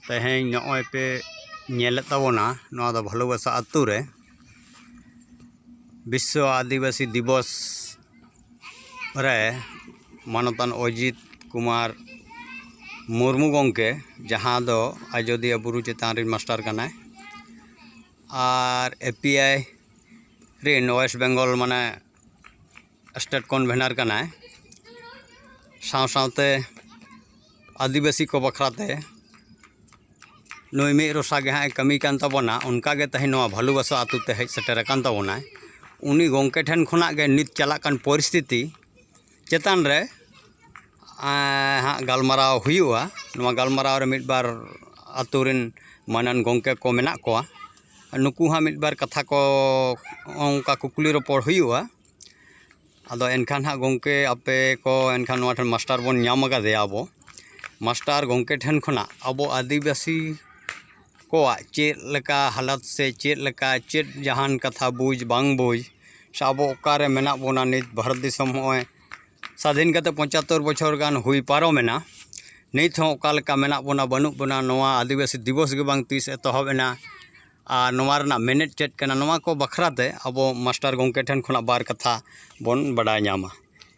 ᱛᱮᱦᱮᱧ ᱱᱚᱜᱼᱚᱭ ᱯᱮ ᱧᱮᱞᱮᱫ ᱛᱟᱵᱚᱱᱟ ᱱᱚᱣᱟ ᱫᱚ ᱵᱷᱟᱞᱳᱵᱟᱥᱟ ᱟᱛᱳ ᱨᱮ ᱵᱤᱥᱥᱚ ᱟᱹᱫᱤᱵᱟᱹᱥᱤ ᱫᱤᱵᱚᱥ ᱨᱮ ᱢᱟᱱᱚᱛᱟᱱ ᱚᱡᱤᱛ ᱠᱩᱢᱟᱨ ᱢᱩᱨᱢᱩ ᱜᱚᱢᱠᱮ ᱡᱟᱦᱟᱸ ᱫᱚ ᱟᱡᱚᱫᱤᱭᱟᱹ ᱵᱩᱨᱩ ᱪᱮᱛᱟᱱ ᱨᱮᱱ ᱢᱟᱥᱴᱟᱨ ᱠᱟᱱᱟᱭ ᱟᱨ ᱮ ᱯᱤ ᱟᱭ ᱨᱮᱱ ᱳᱭᱮᱥᱴ ᱵᱮᱝᱜᱚᱞ ᱢᱟᱱᱮ ᱥᱴᱮᱴ ᱠᱚᱱᱵᱷᱮᱱᱟᱨ ᱠᱟᱱᱟᱭ ᱥᱟᱶ ᱥᱟᱶᱛᱮ ᱟᱹᱫᱤᱵᱟᱹᱥᱤ ᱠᱚ ᱵᱟᱠᱷᱨᱟᱛᱮ ᱱᱩᱭ ᱢᱤᱫ ᱨᱚᱥᱟ ᱜᱮ ᱦᱟᱸᱜ ᱮ ᱠᱟᱹᱢᱤ ᱠᱟᱱ ᱛᱟᱵᱚᱱᱟ ᱚᱱᱠᱟ ᱜᱮ ᱛᱮᱦᱮᱧ ᱱᱚᱣᱟ ᱵᱷᱟᱞᱩᱵᱟᱥᱟ ᱟᱛᱳ ᱛᱮ ᱦᱮᱡ ᱥᱮᱴᱮᱨ ᱟᱠᱟᱱ ᱛᱟᱵᱚᱱᱟᱭ ᱩᱱᱤ ᱜᱚᱢᱠᱮ ᱴᱷᱮᱱ ᱠᱷᱚᱱᱟᱜ ᱜᱮ ᱱᱤᱛ ᱪᱟᱞᱟᱜ ᱠᱟᱱ ᱯᱚᱨᱤᱥᱛᱷᱤᱛᱤ ᱪᱮᱛᱟᱱ ᱨᱮ ᱦᱟᱸᱜ ᱜᱟᱞᱢᱟᱨᱟᱣ ᱦᱩᱭᱩᱜᱼᱟ ᱱᱚᱣᱟ ᱜᱟᱞᱢᱟᱨᱟᱣ ᱨᱮ ᱢᱤᱫ ᱵᱟᱨ ᱟᱹᱛᱩ ᱨᱮᱱ ᱢᱟᱹᱱᱟᱱ ᱜᱚᱢᱠᱮ ᱠᱚ ᱢᱮᱱᱟᱜ ᱠᱚᱣᱟ ᱱᱩᱠᱩ ᱦᱚᱸ ᱢᱤᱫ ᱵᱟᱨ ᱠᱟᱛᱷᱟ ᱠᱚ ᱚᱱᱠᱟ ᱠᱩᱠᱞᱤ ᱨᱚᱯᱚᱲ ᱦᱩᱭᱩᱜᱼᱟ ᱟᱫᱚ ᱮᱱᱠᱷᱟᱱ ᱦᱟᱸᱜ ᱜᱚᱢᱠᱮ ᱟᱯᱮ ᱠᱚ ᱮᱱᱠᱷᱟᱱ ᱱᱚᱣᱟ ᱴᱷᱮᱱ ᱢᱟᱥᱴᱟᱨ ᱵᱚᱱ ᱧᱟᱢ ᱠᱟᱫᱮᱭᱟ ᱟᱵᱚ ᱢᱟᱥᱴᱟᱨ ᱜᱚᱢᱠᱮ ᱴᱷᱮᱱ ᱠᱷᱚᱱᱟᱜ ᱟᱵᱚ ᱟᱹᱫᱤᱵᱟᱹᱥᱤ ᱠᱚᱣᱟᱜ ᱪᱮᱫ ᱞᱮᱠᱟ ᱦᱟᱞᱚᱛ ᱥᱮ ᱪᱮᱫ ᱞᱮᱠᱟ ᱪᱮᱫ ᱡᱟᱦᱟᱱ ᱠᱟᱛᱷᱟ ᱵᱩᱡᱽ ᱵᱟᱝ ᱵᱩᱡᱽ ᱥᱮ ᱟᱵᱚ ᱚᱠᱟᱨᱮ ᱢᱮᱱᱟᱜ ᱵᱚᱱᱟ ᱱᱤᱛ ᱵᱷᱟᱨᱚᱛ ᱫᱤᱥᱚᱢ ᱱᱚᱜᱼᱚᱭ ᱥᱟᱹᱫᱷᱤᱱ ᱠᱟᱛᱮᱫ ᱯᱚᱪᱟᱛᱛᱳᱨ ᱵᱚᱪᱷᱚᱨ ᱜᱟᱱ ᱦᱩᱭ ᱯᱟᱨᱚᱢᱮᱱᱟ ᱱᱤᱛ ᱦᱚᱸ ᱚᱠᱟ ᱞᱮᱠᱟ ᱢᱮᱱᱟᱜ ᱵᱚᱱᱟ ᱵᱟᱹᱱᱩᱜ ᱵᱚᱱᱟ ᱱᱚᱣᱟ ᱟᱹᱫᱤᱵᱟᱹᱥᱤ ᱫᱤᱵᱚᱥ ᱜᱮ ᱵᱟᱝ ᱛᱤᱥ ᱮᱛᱚᱦᱚᱵ ᱮᱱᱟ ᱟᱨ ᱱᱚᱣᱟ ᱨᱮᱱᱟᱜ ᱢᱮᱱᱮᱛ ᱪᱮᱫ ᱠᱟᱱᱟ ᱱᱚᱣᱟ ᱠᱚ ᱵᱟᱠᱷᱨᱟ ᱛᱮ ᱟᱵᱚ ᱢᱟᱥᱴᱟᱨ ᱜᱚᱢᱠᱮ ᱴᱷᱮᱱ ᱠᱷᱚᱱᱟᱜ ᱵᱟᱨ ᱠᱟᱛᱷᱟ ᱵᱚᱱ ᱵᱟᱰᱟᱭ ᱧᱟᱢᱟ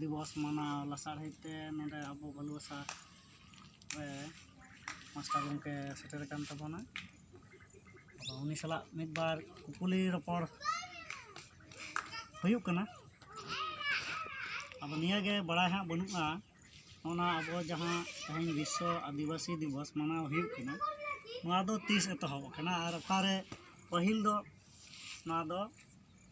ᱫᱤᱵᱚᱥ ᱢᱟᱱᱟᱣ ᱞᱟᱥᱟᱲᱦᱮᱫ ᱛᱮ ᱱᱚᱰᱮ ᱟᱵᱚ ᱵᱷᱟᱞᱩᱣᱟᱥᱟ ᱨᱮ ᱢᱟᱥᱴᱟᱨ ᱜᱚᱢᱠᱮ ᱥᱮᱴᱮᱨ ᱟᱠᱟᱱ ᱛᱟᱵᱚᱱᱟ ᱟᱫᱚ ᱩᱱᱤ ᱥᱟᱞᱟᱜ ᱢᱤᱫ ᱵᱟᱨ ᱠᱩᱠᱞᱤ ᱨᱚᱯᱚᱲ ᱦᱩᱭᱩᱜ ᱠᱟᱱᱟ ᱟᱫᱚ ᱱᱤᱭᱟᱹᱜᱮ ᱵᱟᱲᱟᱭ ᱦᱟᱸᱜ ᱵᱟᱹᱱᱩᱜᱼᱟ ᱚᱱᱟ ᱟᱵᱚ ᱡᱟᱦᱟᱸ ᱛᱮᱦᱮᱧ ᱵᱤᱥᱥᱚ ᱟᱹᱫᱤᱵᱟᱹᱥᱤ ᱫᱤᱵᱚᱥ ᱢᱟᱱᱟᱣ ᱦᱩᱭᱩᱜ ᱠᱟᱱᱟ ᱱᱚᱣᱟ ᱫᱚ ᱛᱤᱥ ᱮᱛᱚᱦᱚᱵ ᱟᱠᱟᱱᱟ ᱟᱨ ᱚᱠᱟᱨᱮ ᱯᱟᱹᱦᱤᱞ ᱫᱚ ᱱᱚᱣᱟ ᱫᱚ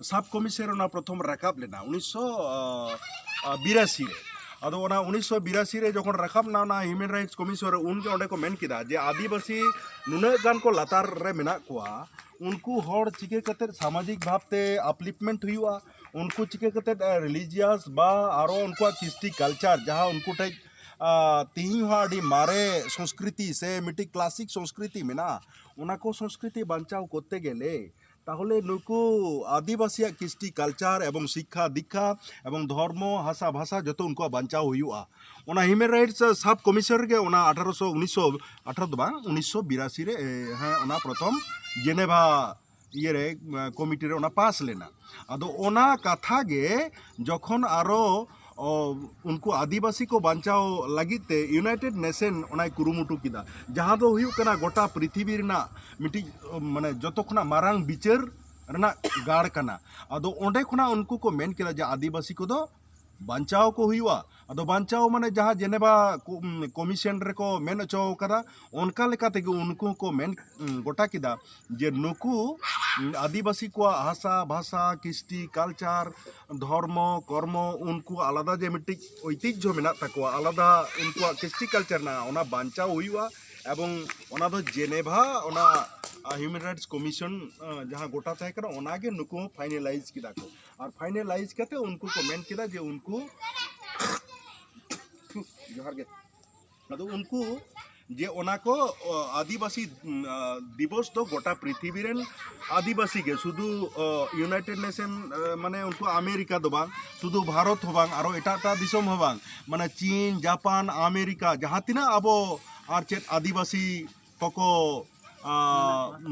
ᱥᱟᱵ ᱠᱚᱢᱤᱥᱚᱱ ᱚᱱᱟ ᱯᱨᱚᱛᱷᱚᱢ ᱨᱟᱠᱟᱵ ᱞᱮᱱᱟ ᱩᱱᱤᱥᱥᱚ ᱵᱤᱨᱟᱥᱤ ᱨᱮ ᱟᱫᱚ ᱚᱱᱟ ᱩᱱᱤᱥᱥᱚ ᱵᱤᱨᱟᱥᱤ ᱨᱮ ᱡᱚᱠᱷᱚᱱ ᱨᱟᱠᱟᱵ ᱮᱱᱟ ᱚᱱᱟ ᱦᱤᱭᱩᱢᱮᱱ ᱨᱟᱭᱤᱴᱥ ᱠᱚᱢᱤᱥᱚᱱ ᱨᱮ ᱩᱱᱜᱮ ᱚᱸᱰᱮ ᱠᱚ ᱢᱮᱱ ᱠᱮᱫᱟ ᱡᱮ ᱟᱹᱫᱤᱵᱟᱹᱥᱤ ᱱᱩᱱᱟᱹᱜ ᱜᱟᱱ ᱠᱚ ᱞᱟᱛᱟᱨ ᱨᱮ ᱢᱮᱱᱟᱜ ᱠᱚᱣᱟ ᱩᱱᱠᱩ ᱦᱚᱲ ᱪᱤᱠᱟᱹ ᱠᱟᱛᱮᱫ ᱥᱟᱢᱟᱡᱤᱠ ᱵᱷᱟᱵᱽᱛᱮ ᱟᱯᱞᱤᱯᱢᱮᱱᱴ ᱦᱩᱭᱩᱜᱼᱟ ᱩᱱᱠᱩ ᱪᱤᱠᱟᱹ ᱠᱟᱛᱮᱫ ᱨᱤᱞᱤᱡᱤᱭᱟᱥ ᱵᱟ ᱟᱨᱚ ᱩᱱᱠᱩᱣᱟᱜ ᱠᱤᱥᱴᱤ ᱠᱟᱞᱪᱟᱨ ᱡᱟᱦᱟᱸ ᱩᱱᱠᱩ ᱴᱷᱮᱡ ᱛᱮᱦᱮᱧ ᱦᱚᱸ ᱟᱹᱰᱤ ᱢᱟᱨᱮ ᱥᱚᱝᱥᱠᱨᱤᱛᱤ ᱥᱮ ᱢᱤᱫᱴᱤᱡ ᱠᱞᱟᱥᱤᱠ ᱥᱚᱝᱥᱠᱨᱤᱛᱤ ᱢᱮᱱᱟᱜᱼᱟ ᱚᱱᱟ ᱠᱚ ᱥᱚᱝᱥᱠᱨᱤᱛᱤ ᱵᱟᱧᱪᱟᱣ ᱠᱚᱨᱛᱮ ᱜᱮᱞᱮ ᱛᱟᱦᱚᱞᱮ ᱱᱩᱠᱩ ᱟᱹᱫᱤᱵᱟᱹᱥᱤᱭᱟᱜ ᱠᱤᱥᱴᱤ ᱠᱟᱞᱪᱟᱨ ᱮᱵᱚᱝ ᱥᱤᱠᱠᱷᱟ ᱫᱤᱠᱠᱷᱟ ᱮᱵᱚᱝ ᱫᱷᱚᱨᱢᱚ ᱦᱟᱥᱟ ᱵᱷᱟᱥᱟ ᱡᱚᱛᱚ ᱩᱱᱠᱩᱣᱟᱜ ᱵᱟᱧᱪᱟᱣ ᱦᱩᱭᱩᱜᱼᱟ ᱚᱱᱟ ᱦᱤᱭᱩᱢᱮᱱ ᱨᱟᱭᱤᱴᱥ ᱥᱟᱵ ᱠᱚᱢᱤᱥᱚᱱ ᱨᱮᱜᱮ ᱚᱱᱟ ᱟᱴᱷᱟᱨᱚ ᱥᱚ ᱩᱱᱤᱥᱥᱚ ᱟᱴᱷᱟᱨᱚ ᱫᱚ ᱵᱟᱝ ᱩᱱᱤᱥᱥᱚ ᱵᱤᱨᱟᱥᱤ ᱨᱮ ᱦᱮᱸ ᱚᱱᱟ ᱯᱨᱚᱛᱷᱚᱢ ᱡᱮᱱᱮᱵᱷᱟ ᱤᱭᱟᱹ ᱨᱮ ᱠᱚᱢᱤᱴᱤ ᱨᱮ ᱚᱱᱟ ᱯᱟᱥ ᱞᱮᱱᱟ ᱟᱫᱚ ᱚᱱᱟ ᱠᱟᱛᱷᱟ ᱜᱮ ᱡᱚᱠᱷᱚᱱ ᱟᱨᱚ ᱩᱱᱠᱩ ᱟᱹᱫᱤᱵᱟᱹᱥᱤ ᱠᱚ ᱵᱟᱧᱪᱟᱣ ᱞᱟᱹᱜᱤᱫ ᱛᱮ ᱤᱭᱩᱱᱟᱭᱴᱮᱰ ᱱᱮᱥᱮᱱ ᱚᱱᱟᱭ ᱠᱩᱨᱩᱢᱩᱴᱩ ᱠᱮᱫᱟ ᱡᱟᱦᱟᱸ ᱫᱚ ᱦᱩᱭᱩᱜ ᱠᱟᱱᱟ ᱜᱚᱴᱟ ᱯᱨᱤᱛᱷᱤᱵᱤ ᱨᱮᱱᱟᱜ ᱢᱤᱫᱴᱤᱡ ᱢᱟᱱᱮ ᱡᱚᱛᱚ ᱠᱷᱚᱱᱟᱜ ᱢᱟᱨᱟᱝ ᱵᱤᱪᱟᱹᱨ ᱨᱮᱱᱟᱜ ᱜᱟᱲ ᱠᱟᱱᱟ ᱟᱫᱚ ᱚᱸᱰᱮ ᱠᱷᱚᱱᱟᱜ ᱩᱱᱠᱩ ᱠᱚ ᱢᱮᱱ ᱠᱮᱫᱟ ᱡᱮ ᱟᱹᱫᱤᱵᱟᱹᱥᱤ ᱠᱚᱫᱚ ᱵᱟᱧᱪᱟᱣ ᱠᱚ ᱦᱩᱭᱩᱜᱼᱟ ᱟᱫᱚ ᱵᱟᱧᱪᱟᱣ ᱢᱟᱱᱮ ᱡᱟᱦᱟᱸ ᱡᱮᱱᱮᱵᱟ ᱠᱚᱢᱤᱥᱮᱱ ᱨᱮᱠᱚ ᱢᱮᱱ ᱦᱚᱪᱚ ᱟᱠᱟᱫᱟ ᱚᱱᱠᱟ ᱞᱮᱠᱟ ᱛᱮᱜᱮ ᱩᱱᱠᱩ ᱦᱚᱸᱠᱚ ᱢᱮᱱ ᱜᱚᱴᱟ ᱠᱮᱫᱟ ᱡᱮ ᱱᱩᱠᱩ ᱟᱹᱫᱤᱵᱟᱹᱥᱤ ᱠᱚᱣᱟᱜ ᱦᱟᱥᱟ ᱵᱷᱟᱥᱟ ᱠᱤᱥᱴᱤ ᱠᱟᱞᱪᱟᱨ ᱫᱷᱚᱨᱢᱚ ᱠᱚᱨᱢᱚ ᱩᱱᱠᱩ ᱟᱞᱟᱫᱟ ᱡᱮ ᱢᱤᱫᱴᱤᱡ ᱳᱭᱛᱤᱡᱡᱷᱚ ᱢᱮᱱᱟᱜ ᱛᱟᱠᱚᱣᱟ ᱟᱞᱟᱫᱟ ᱩᱱᱠᱩᱣᱟᱜ ᱠᱤᱥᱴᱤ ᱠᱟᱞᱪᱟᱨ ᱢᱮᱱᱟᱜᱼᱟ ᱚᱱᱟ ᱵᱟᱧᱪᱟᱣ ᱦᱩᱭᱩᱜᱼᱟ ᱮᱵᱚᱝ ᱚᱱᱟ ᱫᱚ ᱡᱮᱱᱮᱵᱷᱟ ᱚᱱᱟ ᱦᱤᱭᱩᱢᱮᱱ ᱨᱟᱭᱤᱴᱥ ᱠᱚᱢᱤᱥᱚᱱ ᱡᱟᱦᱟᱸ ᱜᱚᱴᱟ ᱛᱟᱦᱮᱸ ᱠᱟᱱᱟ ᱚᱱᱟ ᱜᱮ ᱱᱩᱠᱩ ᱦᱚᱸ ᱯᱷᱟᱭᱱᱮᱞᱟᱭᱤᱡᱽ ᱠᱮᱫᱟ ᱠᱚ ᱟᱨ ᱯᱷᱟᱭᱱᱮᱞᱟᱭᱤᱡᱽ ᱠᱟᱛᱮ ᱩᱱᱠᱩ ᱠᱚ ᱢᱮᱱ ᱠᱮᱫᱟ ᱡᱮ ᱩᱱᱠᱩ ᱡᱚᱦᱟᱨ ᱜᱮ ᱟᱫᱚ ᱩᱱᱠᱩ ᱡᱮ ᱚᱱᱟ ᱠᱚ ᱟᱹᱫᱤᱵᱟᱹᱥᱤ ᱫᱤᱵᱚᱥ ᱫᱚ ᱜᱚᱴᱟ ᱯᱨᱤᱛᱷᱤᱵᱤ ᱨᱮᱱ ᱟᱹᱫᱤᱵᱟᱹᱥᱤ ᱜᱮ ᱥᱩᱫᱷᱩ ᱤᱭᱩᱱᱟᱭᱴᱮᱰ ᱱᱮᱥᱮᱱ ᱢᱟᱱᱮ ᱩᱱᱠᱩ ᱟᱢᱮᱨᱤᱠᱟ ᱫᱚ ᱵᱟᱝ ᱥᱩᱫᱷᱩ ᱵᱷᱟᱨᱚᱛ ᱦᱚᱸ ᱵᱟᱝ ᱟᱨᱚ ᱮᱴᱟᱜ ᱮᱴᱟᱜ ᱫᱤᱥᱚᱢ ᱦᱚᱸ ᱵᱟᱝ ᱢᱟᱱᱮ ᱪᱤᱱ ᱡᱟᱯᱟᱱ ᱟᱢᱮᱨᱤᱠᱟ ᱡᱟᱦᱟᱸ ᱛᱤᱱᱟᱹᱜ ᱟᱵᱚ ᱟᱨ ᱪᱮᱫ ᱟᱹᱫᱤᱵᱟᱹᱥᱤ ᱠᱚᱠᱚ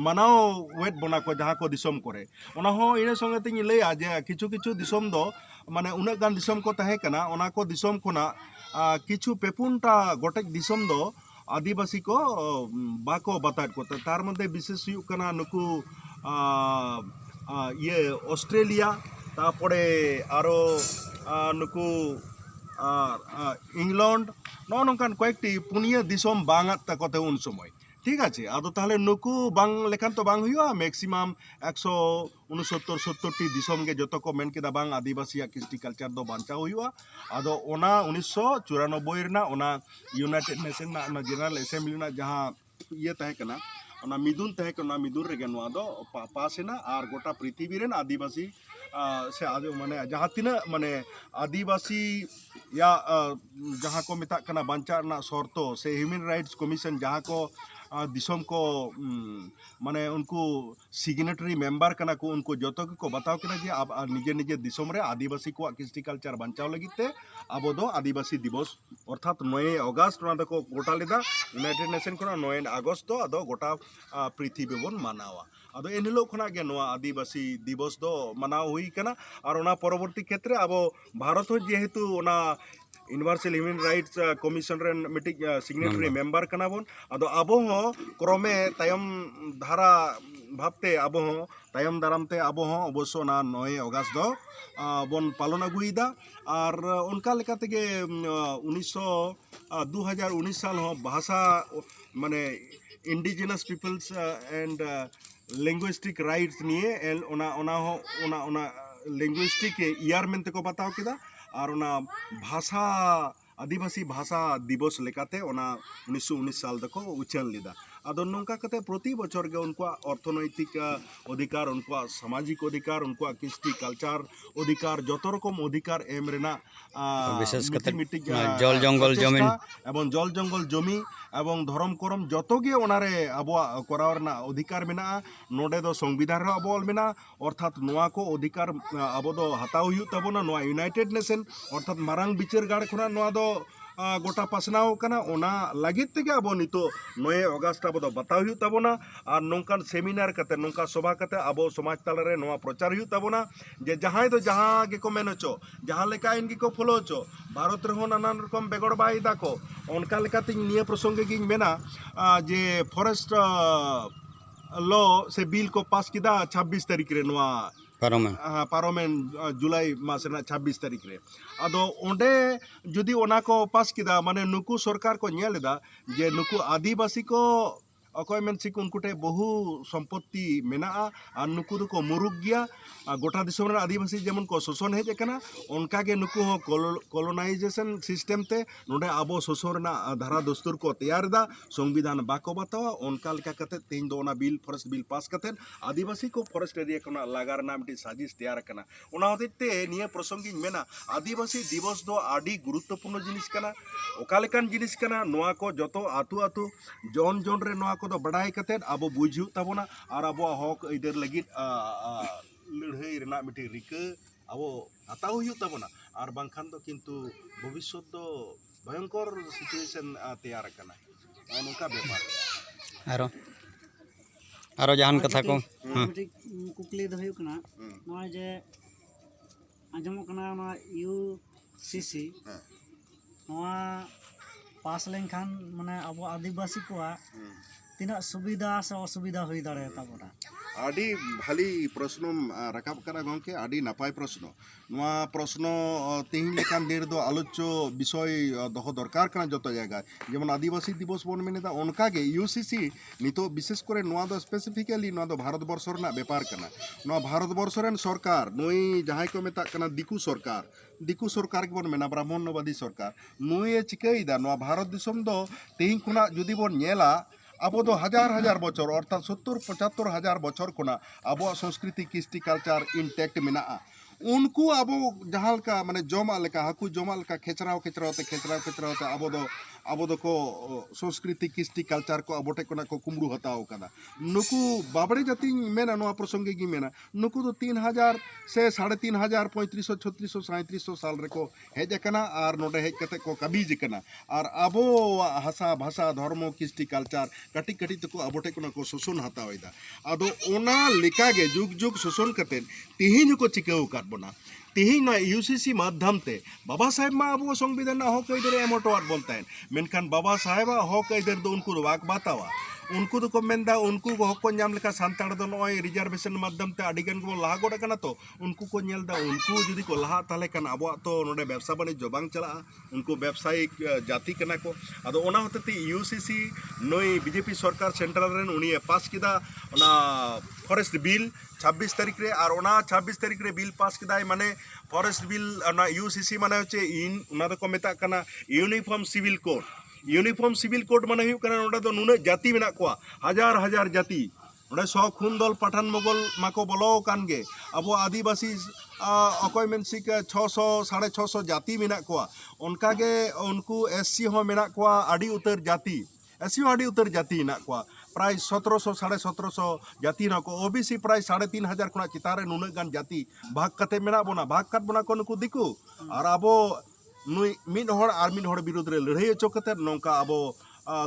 ᱢᱟᱱᱟᱣ ᱣᱮᱫ ᱵᱚᱱᱟ ᱠᱚ ᱡᱟᱦᱟᱸ ᱠᱚ ᱫᱤᱥᱚᱢ ᱠᱚᱨᱮ ᱚᱱᱟ ᱦᱚᱸ ᱤᱱᱟᱹ ᱥᱚᱸᱜᱮ ᱛᱤᱧ ᱞᱟᱹᱭᱟ ᱡᱮ ᱠᱤᱪᱷᱩ ᱠᱤᱪᱷᱩ ᱫᱤᱥᱚᱢ ᱫᱚ ᱢᱟᱱᱮ ᱩᱱᱟᱹᱜ ᱜᱟᱱ ᱫᱤᱥᱚᱢ ᱠᱚ ᱛᱟᱦᱮᱸ ᱠᱟᱱᱟ ᱚᱱᱟ ᱠᱚ ᱫᱤᱥᱚᱢ ᱠᱷᱚᱱᱟᱜ ᱠᱤᱪᱷᱩ ᱯᱮ ᱯᱩᱱᱴᱟ ᱜᱚᱴᱮᱡ ᱫᱤᱥᱚᱢ ᱫᱚ ᱟᱹᱫᱤᱵᱟᱹᱥᱤ ᱠᱚ ᱵᱟᱠᱚ ᱵᱟᱛᱟᱣᱮᱫ ᱠᱚ ᱛᱟᱨ ᱢᱚᱫᱽᱫᱷᱮ ᱵᱤᱥᱮᱥ ᱦᱩᱭᱩᱜ ᱠᱟᱱᱟ ᱱᱩᱠᱩ ᱤᱭᱟᱹ ᱚᱥᱴᱨᱮᱞᱤᱭᱟ ᱛᱟᱨᱯᱚᱨᱮ ᱟᱨᱚ ᱱᱩᱠᱩ ᱤᱝᱞᱚᱱᱰ ᱱᱚᱜᱼᱚ ᱱᱚᱝᱠᱟᱱ ᱠᱚᱭᱮᱠᱴᱤ ᱯᱩᱱᱭᱟᱹ ᱫᱤᱥᱚᱢ ᱵᱟᱝ ᱟᱫ ᱛᱟᱠᱚ ᱛᱮ ᱩᱱ ᱥᱚᱢᱚᱭ ᱴᱷᱤᱠ ᱟᱪᱷᱮ ᱟᱫᱚ ᱛᱟᱦᱚᱞᱮ ᱱᱩᱠᱩ ᱵᱟᱝ ᱞᱮᱠᱷᱟᱱ ᱛᱚ ᱵᱟᱝ ᱦᱩᱭᱩᱜᱼᱟ ᱢᱮᱠᱥᱤᱢᱟᱢ ᱮᱠᱥᱚ ᱩᱱᱩᱥᱚᱛᱛᱚᱨ ᱥᱚᱛᱛᱚᱨ ᱴᱤ ᱫᱤᱥᱚᱢ ᱜᱮ ᱡᱚᱛᱚ ᱠᱚ ᱢᱮᱱ ᱠᱮᱫᱟ ᱵᱟᱝ ᱟᱹᱫᱤᱵᱟᱹᱥᱤᱭᱟᱜ ᱠᱨᱤᱥᱴᱤ ᱠᱟᱞᱪᱟᱨ ᱫᱚ ᱵᱟᱧᱪᱟᱣ ᱦᱩᱭᱩᱜᱼᱟ ᱟᱫᱚ ᱚᱱᱟ ᱩᱱᱤᱥᱥᱚ ᱪᱩᱨᱟᱱᱚᱵᱵᱚᱭ ᱨᱮᱱᱟᱜ ᱚᱱᱟ ᱤᱭᱩᱱᱟᱭᱴᱮᱰ ᱱᱮᱥᱮᱱ ᱨᱮᱱᱟᱜ ᱚᱱᱟ ᱡᱮᱱᱟᱨᱮᱞ ᱮᱥᱮᱢᱵᱞᱤ ᱨᱮᱱᱟᱜ ᱡᱟᱦᱟᱸ ᱤᱭᱟᱹ ᱛᱟᱦᱮᱸ ᱠᱟᱱᱟ ᱚᱱᱟ ᱢᱤᱫᱩᱱ ᱛᱟᱦᱮᱸ ᱠᱟᱱᱟ ᱢᱤᱫᱩᱱ ᱨᱮᱜᱮ ᱱᱚᱣᱟ ᱫᱚ ᱯᱟᱥ ᱮᱱᱟ ᱟᱨ ᱜᱚᱴᱟ ᱯᱨᱤᱛᱷᱤᱵᱤ ᱨᱮᱱ ᱟᱹᱫᱤᱵᱟᱹᱥᱤ ᱥᱮ ᱢᱟᱱᱮ ᱡᱟᱦᱟᱸ ᱛᱤᱱᱟᱹᱜ ᱢᱟᱱᱮ ᱟᱹᱫᱤᱵᱟᱹᱥᱤ ᱭᱟᱜ ᱡᱟᱦᱟᱸ ᱠᱚ ᱢᱮᱛᱟᱜ ᱠᱟᱱᱟ ᱵᱟᱧᱪᱟᱜ ᱨᱮᱱᱟᱜ ᱥᱚᱨᱛᱚ ᱥᱮ ᱦᱤᱭᱩᱢᱮᱱ ᱨᱟᱭᱤᱴᱥ ᱠᱚᱢᱤᱥᱚᱱ ᱡᱟᱦᱟᱸ ᱠᱚ ᱫᱤᱥᱚᱢ ᱠᱚ ᱢᱟᱱᱮ ᱩᱱᱠᱩ ᱥᱤᱜᱽᱱᱮᱴᱟᱨᱤ ᱢᱮᱢᱵᱟᱨ ᱠᱟᱱᱟ ᱠᱚ ᱩᱱᱠᱩ ᱡᱚᱛᱚ ᱜᱮᱠᱚ ᱵᱟᱛᱟᱣ ᱠᱮᱫᱟ ᱡᱮ ᱱᱤᱡᱮ ᱱᱤᱡᱮ ᱫᱤᱥᱚᱢ ᱨᱮ ᱟᱹᱫᱤᱵᱟᱹᱥᱤ ᱠᱚᱣᱟᱜ ᱠᱨᱤᱥᱴᱤ ᱠᱟᱞᱪᱟᱨ ᱵᱟᱧᱪᱟᱣ ᱞᱟᱹᱜᱤᱫ ᱛᱮ ᱟᱵᱚ ᱫᱚ ᱟᱹᱫᱤᱵᱟᱹᱥᱤ ᱫᱤᱵᱚᱥ ᱚᱨᱛᱷᱟᱛ ᱱᱚᱭᱮ ᱚᱜᱟᱥᱴ ᱚᱱᱟ ᱫᱚᱠᱚ ᱜᱚᱴᱟ ᱞᱮᱫᱟ ᱤᱭᱩᱱᱟᱭᱴᱮᱰ ᱱᱮᱥᱚᱱ ᱠᱷᱚᱱᱟᱜ ᱱᱚᱭᱮ ᱟᱜᱚᱥᱴ ᱫᱚ ᱟᱫᱚ ᱜᱚᱴᱟ ᱯᱨᱤᱛᱷᱤᱵᱤ ᱵᱚᱱ ᱢᱟᱱᱟᱣᱟ ᱟᱫᱚ ᱮᱱ ᱦᱤᱞᱳᱜ ᱠᱷᱚᱱᱟᱜ ᱜᱮ ᱱᱚᱣᱟ ᱟᱹᱫᱤᱵᱟᱹᱥᱤ ᱫᱤᱵᱚᱥ ᱫᱚ ᱢᱟᱱᱟᱣ ᱦᱩᱭ ᱠᱟᱱᱟ ᱟᱨ ᱚᱱᱟ ᱯᱚᱨᱚᱵᱚᱨᱛᱤ ᱠᱷᱮᱛᱨᱮ ᱟᱵᱚ ᱵᱷᱟᱨᱚᱛ ᱦᱚᱸ ᱡᱮᱦᱮᱛᱩ ᱚᱱᱟ ᱤᱭᱩᱱᱤᱵᱷᱟᱨᱥᱟᱞ ᱦᱤᱭᱩᱢᱮᱱ ᱨᱟᱭᱤᱴᱥ ᱠᱚᱢᱤᱥᱚᱱ ᱨᱮᱱ ᱢᱤᱫᱴᱤᱡ ᱥᱤᱜᱽᱱᱮᱴᱟᱨᱤ ᱢᱮᱢᱵᱟᱨ ᱠᱟᱱᱟ ᱵᱚᱱ ᱟᱫᱚ ᱟᱵᱚ ᱦᱚᱸ ᱠᱨᱚᱢᱮ ᱛᱟᱭᱚᱢ ᱫᱷᱟᱨᱟ ᱵᱷᱟᱵᱽ ᱛᱮ ᱟᱵᱚ ᱦᱚᱸ ᱛᱟᱭᱚᱢ ᱫᱟᱨᱟᱢ ᱛᱮ ᱟᱵᱚ ᱦᱚᱸ ᱚᱵᱚᱥᱥᱳᱭ ᱚᱱᱟ ᱱᱚᱭᱮ ᱚᱜᱟᱥᱴ ᱫᱚ ᱵᱚᱱ ᱯᱟᱞᱚᱱ ᱟᱹᱜᱩᱭᱮᱫᱟ ᱟᱨ ᱚᱱᱠᱟ ᱞᱮᱠᱟ ᱛᱮᱜᱮ ᱩᱱᱤᱥᱥᱚ ᱫᱩ ᱦᱟᱡᱟᱨ ᱩᱱᱤᱥ ᱥᱟᱞ ᱦᱚᱸ ᱵᱷᱟᱥᱟ ᱢᱟᱱᱮ indigenous peoples and linguistic rights ᱱᱤᱭᱮ ᱮᱞ ᱚᱱᱟ ᱚᱱᱟ ᱦᱚᱸ ᱚᱱᱟ ᱚᱱᱟ ᱞᱮᱝᱜᱩᱭᱤᱥᱴᱤᱠ ᱤᱭᱟᱨ ᱢᱮᱱᱛᱮ ᱠᱚ ᱵᱟᱛᱟᱣ ᱠᱮᱫᱟ ᱟᱨ ᱚᱱᱟ ᱵᱷᱟᱥᱟ ᱟᱹᱫᱤᱵᱟᱹᱥᱤ ᱵᱷᱟᱥᱟ ᱫᱤᱵᱚᱥ ᱞᱮᱠᱟᱛᱮ ᱚᱱᱟ ᱩᱱᱤᱥᱥᱚ ᱩᱱᱤᱥ ᱥᱟᱞ ᱫᱚᱠᱚ ᱩᱪᱷᱟᱹᱱ ᱞᱮᱫᱟ ᱟᱫᱚ ᱱᱚᱝᱠᱟ ᱠᱟᱛᱮ ᱯᱨᱚᱛᱤ ᱵᱚᱪᱷᱚᱨ ᱜᱮ ᱩᱱᱠᱩᱣᱟᱜ ᱚᱨᱛᱷᱚᱱᱳᱭᱛᱤᱠ ᱚᱫᱷᱤᱠᱟᱨ ᱩᱱᱠᱩᱣᱟᱜ ᱥᱟᱢᱟᱡᱤᱠ ᱚᱫᱷᱤᱠᱟᱨ ᱩᱱᱠᱩᱣᱟᱜ ᱠᱨᱤᱥᱴᱤ ᱠᱟᱞᱪᱟᱨ ᱚᱫᱷᱤᱠᱟᱨ ᱡᱚᱛᱚ ᱨᱚᱠᱚᱢ ᱚᱫᱷᱤᱠᱟᱨ ᱮᱢ ᱨᱮᱱᱟᱜ ᱵᱤᱥᱮᱥ ᱠᱟᱛᱮ ᱡᱚᱞ ᱡᱚᱝᱜᱚᱞ ᱡᱚᱢᱤᱱ ᱮᱵᱚᱝ ᱡᱚᱞ ᱡᱚᱝᱜᱚᱞ ᱡᱚᱢᱤ ᱮᱵᱚᱝ ᱫᱷᱚᱨᱚᱢ ᱠᱚᱨᱚᱢ ᱡᱚᱛᱚ ᱜᱮ ᱚᱱᱟᱨᱮ ᱟᱵᱚᱣᱟᱜ ᱠᱚᱨᱟᱣ ᱨᱮᱱᱟᱜ ᱚᱫᱷᱤᱠᱟᱨ ᱢᱮᱱᱟᱜᱼᱟ ᱱᱚᱰᱮ ᱫᱚ ᱥᱚᱝᱵᱤᱫᱷᱟᱱ ᱨᱮᱦᱚᱸ ᱟᱵᱚᱣᱟᱜ ᱚᱞ ᱢᱮᱱᱟᱜᱼᱟ ᱚᱨᱛᱷᱟᱛ ᱱᱚᱣᱟ ᱠᱚ ᱚᱫᱷᱤᱠᱟᱨ ᱟᱵᱚ ᱫᱚ ᱦᱟᱛᱟᱣ ᱦᱩᱭᱩᱜ ᱛᱟᱵᱚᱱᱟ ᱱᱚᱣᱟ ᱤᱭᱩᱱᱟᱭᱴᱮᱰ ᱱᱮᱥᱮᱱ ᱚᱨᱛᱷᱟᱛ ᱢᱟᱨᱟᱝ ᱵᱤᱪᱟᱹᱨ ᱜᱟᱲ ᱠᱷᱚᱱᱟᱜ ᱱᱚᱣᱟ ᱫᱚ ᱜᱚᱴᱟ ᱯᱟᱥᱱᱟᱣ ᱠᱟᱱᱟ ᱚᱱᱟ ᱞᱟᱹᱜᱤᱫ ᱛᱮᱜᱮ ᱟᱵᱚ ᱱᱤᱛᱚᱜ ᱱᱚᱭᱮ ᱚᱜᱟᱥᱴ ᱟᱵᱚ ᱫᱚ ᱵᱟᱛᱟᱣ ᱦᱩᱭᱩᱜ ᱛᱟᱵᱚᱱᱟ ᱟᱨ ᱱᱚᱝᱠᱟᱱ ᱥᱮᱢᱤᱱᱟᱨ ᱠᱟᱛᱮ ᱱᱚᱝᱠᱟ ᱥᱚᱵᱷᱟ ᱠᱟᱛᱮ ᱟᱵᱚ ᱥᱚᱢᱟᱡᱽ ᱛᱟᱞᱟᱨᱮ ᱱᱚᱣᱟ ᱯᱨᱚᱪᱟᱨ ᱦᱩᱭᱩᱜ ᱛᱟᱵᱚᱱᱟ ᱡᱮ ᱡᱟᱦᱟᱸᱭ ᱫᱚ ᱡᱟᱦᱟᱸ ᱜᱮᱠᱚ ᱢᱮᱱ ᱦᱚᱪᱚᱜ ᱡᱟᱦᱟᱸ ᱞᱮᱠᱟᱭᱮᱱ ᱜᱮᱠᱚ ᱯᱷᱳᱞᱳ ᱦᱚᱪᱚᱜ ᱵᱷᱟᱨᱚᱛ ᱨᱮᱦᱚᱸ ᱱᱟᱱᱟᱱ ᱨᱚᱠᱚᱢ ᱵᱮᱜᱚᱲ ᱵᱟᱭ ᱫᱟᱠᱚ ᱚᱱᱠᱟ ᱞᱮᱠᱟᱛᱮ ᱱᱤᱭᱟᱹ ᱯᱨᱚᱥᱚᱝᱜᱮ ᱜᱤᱧ ᱢᱮᱱᱟ ᱡᱮ ᱯᱷᱚᱨᱮᱥᱴ ᱞᱚ ᱥᱮ ᱵᱤᱞ ᱠᱚ ᱯᱟᱥ ᱠᱮᱫᱟ ᱪᱷᱟᱵᱵᱤᱥ ᱛᱟᱹᱨᱤᱠᱷ ᱨᱮ ᱱᱚᱣᱟ ᱯᱟᱨᱚᱢᱮᱱ ᱦᱮᱸ ᱯᱟᱨᱚᱢᱮᱱ ᱡᱩᱞᱟᱭ ᱢᱟᱥ ᱨᱮᱱᱟᱜ ᱪᱷᱟᱵᱵᱤᱥ ᱛᱟᱹᱨᱤᱠᱷ ᱨᱮ ᱟᱫᱚ ᱚᱸᱰᱮ ᱡᱩᱫᱤ ᱚᱱᱟ ᱠᱚ ᱯᱟᱥ ᱠᱮᱫᱟ ᱢᱟᱱᱮ ᱱᱩᱠᱩ ᱥᱚᱨᱠᱟᱨ ᱠᱚ ᱧᱮᱞ ᱮᱫᱟ ᱡᱮ ᱱᱩᱠᱩ ᱟᱹᱫᱤᱵᱟᱹᱥᱤ ᱠᱚ ᱚᱠᱚᱭ ᱢᱮᱱ ᱥᱤᱠ ᱩᱱᱠᱩ ᱴᱷᱮᱱ ᱵᱚᱦᱩ ᱥᱚᱢᱯᱚᱛᱛᱤ ᱢᱮᱱᱟᱜᱼᱟ ᱟᱨ ᱱᱩᱠᱩ ᱫᱚᱠᱚ ᱢᱩᱨᱩᱠᱷ ᱜᱮᱭᱟ ᱟᱨ ᱜᱚᱴᱟ ᱫᱤᱥᱚᱢ ᱨᱮᱱ ᱟᱹᱫᱤᱵᱟᱹᱥᱤ ᱡᱮᱢᱚᱱ ᱠᱚ ᱥᱳᱥᱳᱱ ᱦᱮᱡ ᱟᱠᱟᱱᱟ ᱚᱱᱠᱟ ᱜᱮ ᱱᱩᱠᱩ ᱦᱚᱸ ᱠᱚᱞᱳᱱᱟᱭᱤᱡᱮᱥᱚᱱ ᱥᱤᱥᱴᱮᱢ ᱛᱮ ᱱᱚᱰᱮ ᱟᱵᱚ ᱥᱳᱥᱳᱱ ᱨᱮᱱᱟᱜ ᱫᱷᱟᱨᱟ ᱫᱩᱥᱛᱩᱨ ᱠᱚ ᱛᱮᱭᱟᱨ ᱮᱫᱟ ᱥᱚᱝᱵᱤᱫᱷᱟᱱ ᱵᱟᱠᱚ ᱵᱟᱛᱟᱣᱟ ᱚᱱᱠᱟ ᱞᱮᱠᱟ ᱠᱟᱛᱮ ᱛᱮᱦᱮᱧ ᱫᱚ ᱚᱱᱟ ᱵᱤᱞ ᱯᱷᱚᱨᱮᱥᱴ ᱵᱤᱞ ᱯᱟᱥ ᱠᱟᱛᱮ ᱟᱹᱫᱤᱵᱟᱹᱥᱤ ᱠᱚ ᱯᱷᱚᱨᱮᱥᱴ ᱮᱨᱤᱭᱟ ᱠᱷᱚᱱᱟᱜ ᱞᱟᱜᱟ ᱨᱮᱱᱟᱜ ᱢᱤᱫᱴᱤᱡ ᱥᱟᱹᱡᱤᱥ ᱛᱮᱭᱟᱨ ᱟᱠᱟᱱᱟ ᱚᱱᱟ ᱦᱚᱛᱮᱡ ᱛᱮ ᱱᱤᱭᱟᱹ ᱯᱨᱚᱥᱚᱝ ᱜᱤᱧ ᱢᱮᱱᱟ ᱟᱹᱫᱤᱵᱟᱹᱥᱤ ᱫᱤᱵᱚᱥ ᱫᱚ ᱟᱹᱰᱤ ᱜᱩᱨᱩᱛᱛᱚᱯᱩᱨᱱᱚ ᱡᱤᱱᱤᱥ ᱠᱟᱱᱟ ᱚᱠᱟ ᱞᱮᱠᱟᱱ ᱡᱤᱱᱤᱥ ᱠᱟᱱᱟ ᱱᱚᱣᱟ ᱠᱚ ᱡᱚᱛᱚ ᱟᱹᱛᱩ ᱟᱹᱛᱩ ᱡᱚᱱ ᱡᱚᱱ ᱨᱮ ᱱᱚᱣᱟ ᱠᱚᱫᱚ ᱵᱟᱰᱟᱭ ᱠᱟᱛᱮ ᱟᱵᱚ ᱵᱩᱡᱽ ᱦᱩᱭᱩᱜ ᱛᱟᱵᱚᱱᱟ ᱟᱨ ᱟᱵᱚᱣᱟᱜ ᱦᱚᱸᱠ ᱟᱹᱭᱫᱟᱹᱨ ᱞᱟᱹᱜᱤᱫ ᱞᱟᱹᱲᱦᱟᱹᱭ ᱨᱮᱱᱟᱜ ᱢᱤᱫᱴᱤᱡ ᱨᱤᱠᱟᱹ ᱟᱵᱚ ᱦᱟᱛᱟᱣ ᱦᱩᱭᱩᱜ ᱛᱟᱵᱚᱱᱟ ᱟᱨ ᱵᱟᱝᱠᱷᱟᱱ ᱫᱚ ᱠᱤᱱᱛᱩ ᱵᱷᱚᱵᱤᱥᱥᱚᱛ ᱫᱚ ᱵᱷᱚᱭᱚᱝᱠᱚᱨ ᱥᱤᱪᱩᱭᱮᱥᱚᱱ ᱛᱮᱭᱟᱨ ᱟᱠᱟᱱᱟ ᱱᱚᱜᱼᱚ ᱱᱚᱝᱠᱟ ᱵᱮᱯᱟᱨ ᱟᱨᱚ ᱟᱨᱚ ᱡᱟᱦᱟᱱ ᱠᱟᱛᱷᱟ ᱠᱚ ᱦᱮᱸ ᱢᱤᱫᱴᱤᱡ ᱠᱩᱠᱞᱤ ᱫᱚ ᱦᱩᱭᱩᱜ ᱠᱟᱱᱟ ᱱᱚᱜᱼᱚᱭ ᱡᱮ ᱟᱸᱡᱚᱢᱚᱜ ᱠᱟᱱᱟ ᱚᱱᱟ ᱤᱭᱩ ᱥᱤ ᱥᱤ ᱱᱚᱣᱟ ᱯᱟᱥ ᱞᱮᱱᱠᱷᱟᱱ ᱢᱟᱱᱮ ᱟᱵᱚ ᱟᱹᱫᱤᱵᱟᱹᱥᱤ ᱠᱚᱣᱟᱜ ᱛᱤᱱᱟᱹᱜ ᱥᱩᱵᱤᱫᱟ ᱥᱮ ᱚᱥᱩᱵᱤᱫᱟ ᱦᱩᱭ ᱫᱟᱲᱮᱭᱟᱛᱟ ᱵᱚᱱᱟ ᱟᱹᱰᱤ ᱵᱷᱟᱹᱞᱤ ᱯᱨᱚᱥᱱᱚᱢ ᱨᱟᱠᱟᱵ ᱠᱟᱫᱟ ᱜᱚᱢᱠᱮ ᱟᱹᱰᱤ ᱱᱟᱯᱟᱭ ᱯᱨᱚᱥᱱᱚ ᱱᱚᱣᱟ ᱯᱨᱚᱥᱱᱚ ᱛᱮᱦᱮᱧ ᱞᱮᱠᱟᱱ ᱫᱤᱱ ᱨᱮᱫᱚ ᱟᱞᱳᱪᱪᱚ ᱵᱤᱥᱚᱭ ᱫᱚᱦᱚ ᱫᱚᱨᱠᱟᱨ ᱠᱟᱱᱟ ᱡᱚᱛᱚ ᱡᱟᱭᱜᱟ ᱡᱮᱢᱚᱱ ᱟᱹᱫᱤᱵᱟᱹᱥᱤ ᱫᱤᱵᱚᱥ ᱵᱚᱱ ᱢᱮᱱ ᱮᱫᱟ ᱚᱱᱠᱟ ᱜᱮ ᱤᱭᱩ ᱥᱤ ᱥᱤ ᱱᱤᱛᱚᱜ ᱵᱤᱥᱮᱥ ᱠᱚᱨᱮ ᱱᱚᱣᱟ ᱫᱚ ᱥᱯᱮᱥᱤᱯᱷᱤᱠᱟᱞᱤ ᱱᱚᱣᱟ ᱫᱚ ᱵᱷᱟᱨᱚᱛ ᱵᱚᱨᱥᱚ ᱨᱮᱱᱟᱜ ᱵᱮᱯᱟᱨ ᱠᱟᱱᱟ ᱱᱚᱣᱟ ᱵᱷᱟᱨᱚᱛ ᱵᱚᱨᱥᱚ ᱨᱮᱱ ᱥᱚᱨᱠᱟᱨ ᱱᱩᱭ ᱡᱟᱦᱟᱸᱭ ᱠᱚ ᱢᱮᱛᱟᱜ ᱠᱟᱱᱟ ᱫᱤᱠᱩ ᱥᱚᱨᱠᱟᱨ ᱫᱤᱠᱩ ᱥᱚᱨᱠᱟᱨ ᱜᱮᱵᱚᱱ ᱢᱮᱱᱟ ᱵᱨᱟᱦᱢᱚᱱᱱᱚᱵᱟᱫᱤ ᱥᱚᱨᱠᱟᱨ ᱱᱩᱭᱮ ᱪᱤᱠᱟᱹᱭᱮᱫᱟ ᱱᱚᱣᱟ ᱵᱷᱟᱨᱚᱛ ᱫᱤᱥᱚᱢ ᱫᱚ ᱛᱮᱦᱮᱧ ᱠᱷᱚᱱᱟᱜ ᱡᱩᱫᱤ ᱵᱚᱱ ᱧᱮᱞᱟ ᱟᱵᱚ ᱫᱚ ᱦᱟᱡᱟᱨ ᱦᱟᱡᱟᱨ ᱵᱚᱪᱷᱚᱨ ᱚᱨᱛᱷᱟᱛ ᱥᱳᱛᱛᱳᱨ ᱯᱚᱪᱟᱛᱛᱳᱨ ᱦᱟᱡᱟᱨ ᱵᱚᱪᱷᱚᱨ ᱠᱷᱚᱱᱟᱜ ᱟᱵᱚᱣᱟᱜ ᱥᱚᱝᱥᱠᱨᱤᱛᱤ ᱠᱨᱤᱥᱴᱤ ᱠᱟᱞᱪᱟᱨ ᱤᱱᱴᱮᱠᱴ ᱢᱮᱱᱟᱜᱼᱟ ᱩᱱᱠᱩ ᱟᱵᱚ ᱡᱟᱦᱟᱸ ᱞᱮᱠᱟ ᱢᱟᱱᱮ ᱡᱚᱢᱟᱜ ᱞᱮᱠᱟ ᱦᱟᱹᱠᱩ ᱡᱚᱢᱟᱜ ᱞᱮᱠᱟ ᱠᱷᱮᱪᱨᱟᱣ ᱠᱷᱮᱪᱨᱟᱣ ᱛᱮ ᱠᱷᱮᱪᱨᱟᱣ ᱠᱷᱮᱪᱨᱟᱣ ᱛᱮ ᱟᱵᱚ ᱫᱚ ᱟᱵᱚ ᱫᱚᱠᱚ ᱥᱚᱝᱥᱠᱨᱤᱛᱤ ᱠᱨᱤᱥᱴᱤ ᱠᱟᱞᱪᱟᱨ ᱠᱚ ᱟᱵᱚ ᱴᱷᱮᱱ ᱠᱷᱚᱱᱟᱜ ᱠᱚ ᱠᱩᱢᱵᱽᱲᱩ ᱦᱟᱛᱟᱣ ᱟᱠᱟᱫᱟ ᱱᱩᱠᱩ ᱵᱟᱵᱽᱲᱮ ᱡᱟᱹᱛᱤᱧ ᱢᱮᱱᱟ ᱱᱚᱣᱟ ᱯᱨᱚᱥᱚᱝᱜᱮ ᱜᱤᱧ ᱢᱮᱱᱟ ᱱᱩᱠᱩ ᱫᱚ ᱛᱤᱱ ᱦᱟᱡᱟᱨ ᱥᱮ ᱥᱟᱲᱮ ᱛᱤᱱ ᱦᱟᱡᱟᱨ ᱯᱚᱸᱭᱛᱨᱤᱥ ᱥᱚ ᱪᱷᱚᱛᱨᱤᱥ ᱥᱚ ᱥᱟᱸᱭᱛᱨᱤᱥ ᱥᱚ ᱥᱟᱞ ᱨᱮᱠᱚ ᱦᱮᱡ ᱟᱠᱟᱱᱟ ᱟᱨ ᱱᱚᱰᱮ ᱦᱮᱡ ᱠᱟᱛᱮ ᱠᱚ ᱠᱟᱹᱵᱤᱡᱽ ᱟᱠᱟᱱᱟ ᱟᱨ ᱟᱵᱚᱣᱟᱜ ᱦᱟᱥᱟ ᱵᱷᱟᱥᱟ ᱫᱷᱚᱨᱢᱚ ᱠᱤᱥᱴᱤ ᱠᱟᱞᱪᱟᱨ ᱠᱟᱹᱴᱤᱡ ᱠᱟᱹᱴᱤᱡ ᱛᱮᱠᱚ ᱟᱵᱚ ᱴᱷᱮᱱ ᱠᱷᱚᱱᱟᱜ ᱠᱚ ᱥᱳᱥᱳᱱ ᱦᱟᱛᱟᱣ ᱮᱫᱟ ᱟᱫᱚ ᱚᱱᱟ ᱞᱮᱠᱟ ᱜᱮ ᱡᱩᱜᱽ ᱡᱩᱜᱽ ᱥᱳᱥᱳᱱ ᱠᱟᱛᱮ ᱛᱤᱦᱤᱧ ᱦᱚᱸᱠᱚ ᱪᱤᱠᱟᱹᱣ ᱟᱠᱟᱫ ᱵᱚᱱᱟ ᱛᱤᱦᱤᱧ ᱱᱚᱣᱟ ᱤᱭᱩ ᱥᱤ ᱥᱤ ᱢᱟᱫᱷᱟᱢ ᱛᱮ ᱵᱟᱵᱟ ᱥᱟᱦᱮᱵᱽ ᱢᱟ ᱟᱵᱚ ᱥᱚᱝᱵᱤᱫᱷᱟᱱ ᱨᱮᱱᱟᱜ ᱦᱚᱠ ᱟᱹᱭᱫᱟᱹᱨ ᱮᱢ ᱦᱚᱴᱚᱣᱟᱫ ᱵᱚᱱ ᱛᱟᱦᱮᱸᱫ ᱢᱮᱱᱠᱷᱟᱱ ᱵᱟᱵᱟ ᱥᱟᱦᱮᱵᱟᱜ ᱦᱚᱠ ᱟᱹᱭᱫᱟᱹᱨ ᱫᱚ ᱩᱱᱠᱩ ᱫᱚ ᱵᱟᱠᱚ ᱵᱟᱛᱟᱣᱟ ᱩᱱᱠᱩ ᱫᱚᱠᱚ ᱢᱮᱱᱫᱟ ᱩᱱᱠᱩ ᱦᱚᱠ ᱠᱚ ᱧᱟᱢ ᱞᱮᱠᱷᱟᱱ ᱥᱟᱱᱛᱟᱲ ᱫᱚ ᱱᱚᱜᱼᱚᱭ ᱨᱤᱡᱟᱨᱵᱷᱮᱥᱚᱱ ᱢᱟᱫᱷᱟᱢ ᱛᱮ ᱟᱹᱰᱤ ᱜᱟᱱ ᱜᱮᱵᱚᱱ ᱞᱟᱦᱟ ᱜᱚᱫ ᱟᱠᱟᱱᱟ ᱛᱚ ᱩᱱᱠᱩ ᱠᱚ ᱧᱮᱞ ᱮᱫᱟ ᱩᱱᱠᱩ ᱡᱩᱫᱤ ᱠᱚ ᱞᱟᱦᱟᱜ ᱛᱟᱦᱚᱞᱮ ᱠᱷᱟᱱ ᱟᱵᱚᱣᱟᱜ ᱛᱚ ᱱᱚᱰᱮ ᱵᱮᱵᱽᱥᱟ ᱵᱟᱹᱱᱤᱡᱽᱡᱚ ᱵᱟᱝ ᱪᱟᱞᱟᱜᱼᱟ ᱩᱱᱠᱩ ᱵᱮᱵᱽᱥᱟᱭᱤᱠ ᱡᱟᱹᱛᱤ ᱠᱟᱱᱟ ᱠᱚ ᱟᱫᱚ ᱚᱱᱟ ᱦᱚᱛᱮ ᱛᱮ ᱤᱭᱩ ᱥᱤ ᱥᱤ ᱱᱩᱭ ᱵᱤᱡᱮᱯᱤ ᱥᱚᱨᱠᱟᱨ ᱥᱮᱱᱴᱨᱟᱞ ᱨᱮᱱ ᱩᱱᱤᱭ ᱯᱟᱥ ᱠᱮᱫᱟ ᱚᱱᱟ ᱯᱷᱚᱨᱮᱥᱴ ᱵᱤᱞ ᱪᱷᱟᱵᱵᱤᱥ ᱛᱟᱹᱨᱤᱠᱷ ᱨᱮ ᱟᱨ ᱚᱱᱟ ᱪᱷᱟᱵᱵᱤᱥ ᱛᱟᱹᱨᱤᱠᱷ ᱨᱮ ᱵᱤᱞ ᱯᱟᱥ ᱠᱮᱫᱟᱭ ᱢᱟᱱᱮ ᱯᱷᱚᱨᱮᱥᱴ ᱵᱤᱞ ᱚᱱᱟ ᱤᱭᱩ ᱥᱤ ᱥᱤ ᱢᱟᱱᱮ ᱦᱚᱪᱪᱷᱮ ᱤᱱ ᱚᱱᱟ ᱫᱚᱠᱚ ᱢᱮᱛᱟᱜ ᱠᱟᱱᱟ uniform civil code uniform civil code ᱢᱟᱱᱮ ᱦᱩᱭᱩᱜ ᱠᱟᱱᱟ ᱱᱚᱰᱮ ᱫᱚ ᱱᱩᱱᱟᱹᱜ ᱡᱟᱹᱛᱤ ᱢᱮᱱᱟᱜ ᱠᱚᱣᱟ ᱦᱟᱡᱟᱨ ᱦᱟᱡᱟᱨ ᱡᱟᱹᱛᱤ ᱚᱸᱰᱮ ᱥᱚ ᱠᱷᱩᱱ ᱫᱚᱞ ᱯᱟᱴᱷᱟᱱ ᱢᱩᱜᱚᱞ ᱢᱟᱠᱚ ᱵᱚᱞᱚ ᱟᱠᱟᱱ ᱜᱮ ᱟᱵᱚ ᱟᱹᱫᱤᱵᱟᱹᱥᱤ ᱚᱠᱚᱭ ᱢᱮᱱ ᱥᱤ ᱠᱮᱫ ᱪᱷᱚ ᱥᱚ ᱥᱟᱲᱮ ᱪᱷᱚ ᱥᱚ ᱡᱟᱹᱛᱤ ᱢᱮᱱᱟᱜ ᱠᱚᱣᱟ ᱚᱱᱠᱟ ᱜᱮ ᱩᱱᱠᱩ ᱮᱥ ᱥᱤ ᱦᱚᱸ ᱢᱮᱱᱟᱜ ᱠᱚᱣᱟ ᱟᱹᱰᱤ ᱩᱛᱟᱹᱨ ᱡᱟᱹᱛᱤ ᱮᱥ ᱥᱤ ᱦᱚᱸ ᱟᱹᱰᱤ ᱩᱛᱟᱹᱨ ᱡᱟᱹᱛᱤ ᱢᱮᱱᱟᱜ ᱠᱚᱣᱟ ᱯᱨᱟᱭ ᱥᱚᱛᱨᱚ ᱥᱚ ᱥᱟᱲᱮ ᱥᱚᱛᱨᱚ ᱥᱚ ᱡᱟᱹᱛᱤ ᱢᱮᱱᱟᱜ ᱠᱚᱣᱟ ᱳ ᱵᱤ ᱥᱤ ᱯᱨᱟᱭ ᱥᱟᱲᱮ ᱛᱤᱱ ᱦᱟᱡᱟᱨ ᱠᱷᱚᱱᱟᱜ ᱪᱮᱛᱟᱱ ᱨᱮ ᱱᱩᱱᱟᱹᱜ ᱜᱟᱱ ᱡᱟᱹᱛᱤ ᱵᱷᱟᱜᱽ ᱠᱟᱛᱮ ᱢᱮᱱᱟᱜ ᱵᱚᱱᱟ ᱵᱷᱟᱜᱽ ᱠᱟᱫ ᱵᱚᱱᱟ ᱠᱚ ᱱᱩᱠᱩ ᱫᱤᱠᱩ ᱟᱨ ᱟᱵᱚ ᱱᱩᱭ ᱢᱤᱫ ᱦᱚᱲ ᱟᱨ ᱢᱤᱫ ᱦᱚᱲ ᱵᱤᱨᱩᱫᱷ ᱨᱮ ᱞᱟᱹᱲᱦᱟᱹᱭ ᱦᱚᱪᱚ ᱠᱟᱛᱮ ᱱᱚᱝᱠᱟ ᱟᱵᱚ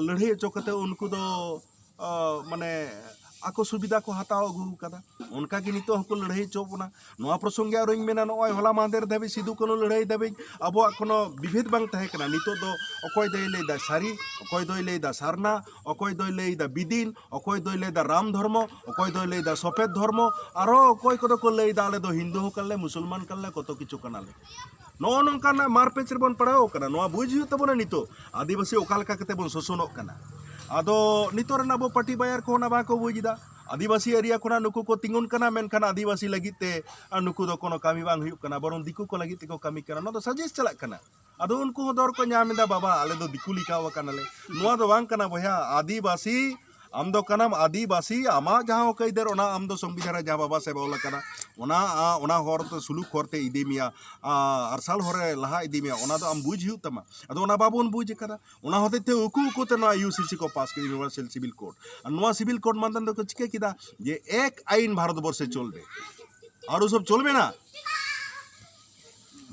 ᱞᱟᱹᱲᱦᱟᱹᱭ ᱦᱚᱪᱚ ᱠᱟᱛᱮ ᱩᱱᱠᱩ ᱫᱚ ᱢᱟᱱᱮ ᱟᱠᱚ ᱥᱩᱵᱤᱫᱟ ᱠᱚ ᱦᱟᱛᱟᱣ ᱟᱹᱜᱩ ᱟᱠᱟᱫᱟ ᱚᱱᱠᱟ ᱜᱮ ᱱᱤᱛᱚᱜ ᱦᱚᱸᱠᱚ ᱞᱟᱹᱲᱦᱟᱹᱭ ᱦᱚᱪᱚ ᱵᱚᱱᱟ ᱱᱚᱣᱟ ᱯᱨᱚᱥᱚᱝᱜᱮ ᱟᱨᱚᱧ ᱢᱮᱱᱟ ᱱᱚᱜᱼᱚᱭ ᱦᱚᱞᱟ ᱢᱟᱦᱫᱮᱨ ᱫᱷᱟᱹᱵᱤᱡ ᱥᱤᱫᱩ ᱠᱟᱹᱱᱩ ᱞᱟᱹᱲᱦᱟᱹᱭ ᱫᱷᱟᱹᱵᱤᱡ ᱟᱵᱚᱣᱟᱜ ᱠᱳᱱᱳ ᱵᱤᱵᱷᱮᱫ ᱵᱟᱝ ᱛᱟᱦᱮᱸ ᱠᱟᱱᱟ ᱱᱤᱛᱚᱜ ᱫᱚ ᱚᱠᱚᱭ ᱫᱚᱭ ᱞᱟᱹᱭᱫᱟ ᱥᱟᱹᱨᱤ ᱚᱠᱚᱭ ᱫᱚᱭ ᱞᱟᱹᱭᱫᱟ ᱥᱟᱨᱱᱟ ᱚᱠᱚᱭ ᱫᱚᱭ ᱞᱟᱹᱭᱫᱟ ᱵᱤᱫᱤᱱ ᱚᱠᱚᱭ ᱫᱚᱭ ᱞᱟᱹᱭᱫᱟ ᱨᱟᱢ ᱫᱷᱚᱨᱢᱚ ᱚᱠᱚᱭ ᱫᱚᱭ ᱞᱟᱹᱭᱫᱟ ᱥᱚᱯᱮᱫ ᱫᱷᱚᱨᱢᱚ ᱟᱨᱚ ᱚᱠᱚᱭ ᱠᱚᱫᱚ ᱠᱚ ᱞᱟᱹᱭᱫᱟ ᱟᱞᱮ ᱫᱚ ᱦᱤᱱᱫᱩ ᱦᱚᱸ ᱠᱟᱱᱟᱞᱮ ᱢᱩᱥᱚᱞᱢᱟᱱ ᱠᱟᱱᱟᱞᱮ ᱠᱚᱛᱚ ᱠᱤᱪᱷᱩ ᱠᱟᱱᱟᱞᱮ ᱱᱚᱜᱼᱚ ᱱᱚᱝᱠᱟᱱᱟᱜ ᱢᱟᱨᱯᱮᱪ ᱨᱮᱵᱚᱱ ᱯᱟᱲᱟᱣ ᱟᱠᱟᱱᱟ ᱱᱚᱣᱟ ᱵᱩᱡᱽ ᱦᱩᱭᱩᱜ ᱛᱟᱵᱚᱱᱟ ᱱᱤᱛᱚᱜ ᱟᱹᱫᱤᱵᱟᱹᱥᱤ ᱚᱠᱟ ᱞᱮᱠᱟ ᱠᱟᱛᱮ ᱵᱚᱱ ᱥᱳᱥᱚᱱᱚᱜ ᱠᱟᱱᱟ ᱟᱫᱚ ᱱᱤᱛᱚᱜ ᱨᱮᱱ ᱟᱵᱚ ᱯᱟᱴᱤ ᱵᱟᱭᱟᱨ ᱠᱚ ᱚᱱᱟ ᱵᱟᱠᱚ ᱵᱩᱡᱽ ᱮᱫᱟ ᱟᱹᱫᱤᱵᱟᱹᱥᱤ ᱮᱨᱤᱭᱟ ᱠᱷᱚᱱᱟᱜ ᱱᱩᱠᱩ ᱠᱚ ᱛᱤᱸᱜᱩᱱ ᱠᱟᱱᱟ ᱢᱮᱱᱠᱷᱟᱱ ᱟᱹᱫᱤᱵᱟᱹᱥᱤ ᱞᱟᱹᱜᱤᱫ ᱛᱮ ᱟᱨ ᱱᱩᱠᱩ ᱫᱚ ᱠᱳᱱᱳ ᱠᱟᱹᱢᱤ ᱵᱟᱝ ᱦᱩᱭᱩᱜ ᱠᱟᱱᱟ ᱵᱚᱨᱚᱝ ᱫᱤᱠᱩ ᱠᱚ ᱞᱟᱹᱜᱤᱫ ᱛᱮᱠᱚ ᱠᱟᱹᱢᱤ ᱠᱟᱱᱟ ᱱᱚᱣᱟ ᱫᱚ ᱥᱟᱡᱮᱥ ᱪᱟᱞᱟᱜ ᱠᱟᱱᱟ ᱟᱫᱚ ᱩᱱᱠᱩ ᱦᱚᱸ ᱫᱚᱨ ᱠᱚ ᱧᱟᱢ ᱮᱫᱟ ᱵᱟᱵᱟ ᱟᱞᱮ ᱫᱚ ᱫᱤᱠᱩ ᱞᱮᱠᱟᱣ ᱟᱠᱟᱱᱟᱞᱮ ᱱᱚᱣᱟ ᱫᱚ ᱵᱟᱝ ᱠᱟᱱᱟ ᱵᱚᱭᱦᱟ ᱟᱹᱫᱤᱵᱟᱹᱥᱤ ᱟᱢ ᱫᱚ ᱠᱟᱱᱟᱢ ᱟᱹᱫᱤᱵᱟᱹᱥᱤ ᱟᱢᱟᱜ ᱡᱟᱦᱟᱸ ᱦᱚᱸᱠ ᱟᱹᱭᱫᱟᱹᱨ ᱚᱱᱟ ᱟᱢ ᱫᱚ ᱥᱚᱝᱵᱤᱫᱷᱟᱱ ᱨᱮ ᱡᱟᱦᱟᱸ ᱵᱟᱵᱟ ᱥᱟᱦᱮᱵᱽ ᱚᱞ ᱟᱠᱟᱫᱟ ᱚᱱᱟ ᱚᱱᱟ ᱦᱚᱨ ᱛᱮ ᱥᱩᱞᱩᱠ ᱦᱚᱨ ᱛᱮ ᱤᱫᱤ ᱢᱮᱭᱟ ᱟᱨᱥᱟᱞ ᱦᱚᱨ ᱨᱮ ᱞᱟᱦᱟ ᱤᱫᱤ ᱢᱮᱭᱟ ᱚᱱᱟ ᱫᱚ ᱟᱢ ᱵᱩᱡᱽ ᱦᱩᱭᱩᱜ ᱛᱟᱢᱟ ᱟᱫᱚ ᱚᱱᱟ ᱵᱟᱵᱚᱱ ᱵᱩᱡᱽ ᱟᱠᱟᱫᱟ ᱚᱱᱟ ᱦᱚᱛᱮᱡ ᱛᱮ ᱩᱠᱩ ᱩᱠᱩ ᱛᱮ ᱱᱚᱣᱟ ᱤᱭᱩ ᱥᱤ ᱥᱤ ᱠᱚ ᱯᱟᱥ ᱠᱮᱫᱟ ᱤᱭᱩᱱᱤᱵᱷᱟᱨᱥᱟᱞ ᱥᱤᱵᱤᱞ ᱠᱳᱰ ᱟᱨ ᱱᱚᱣᱟ ᱥᱤᱵᱤᱞ ᱠᱳᱰ ᱢᱟᱫᱽᱫᱷᱚᱢ ᱛᱮᱠᱚ ᱪᱤᱠᱟᱹ ᱠᱮᱫᱟ ᱡᱮ ᱮᱠ ᱟᱭᱤᱱ ᱵᱷᱟᱨᱚᱛ ᱵᱚᱨᱥᱮ ᱪᱚᱞᱵᱮ ᱟᱨ ᱥᱚᱵ ᱪᱚᱞᱵᱮ ᱱᱟ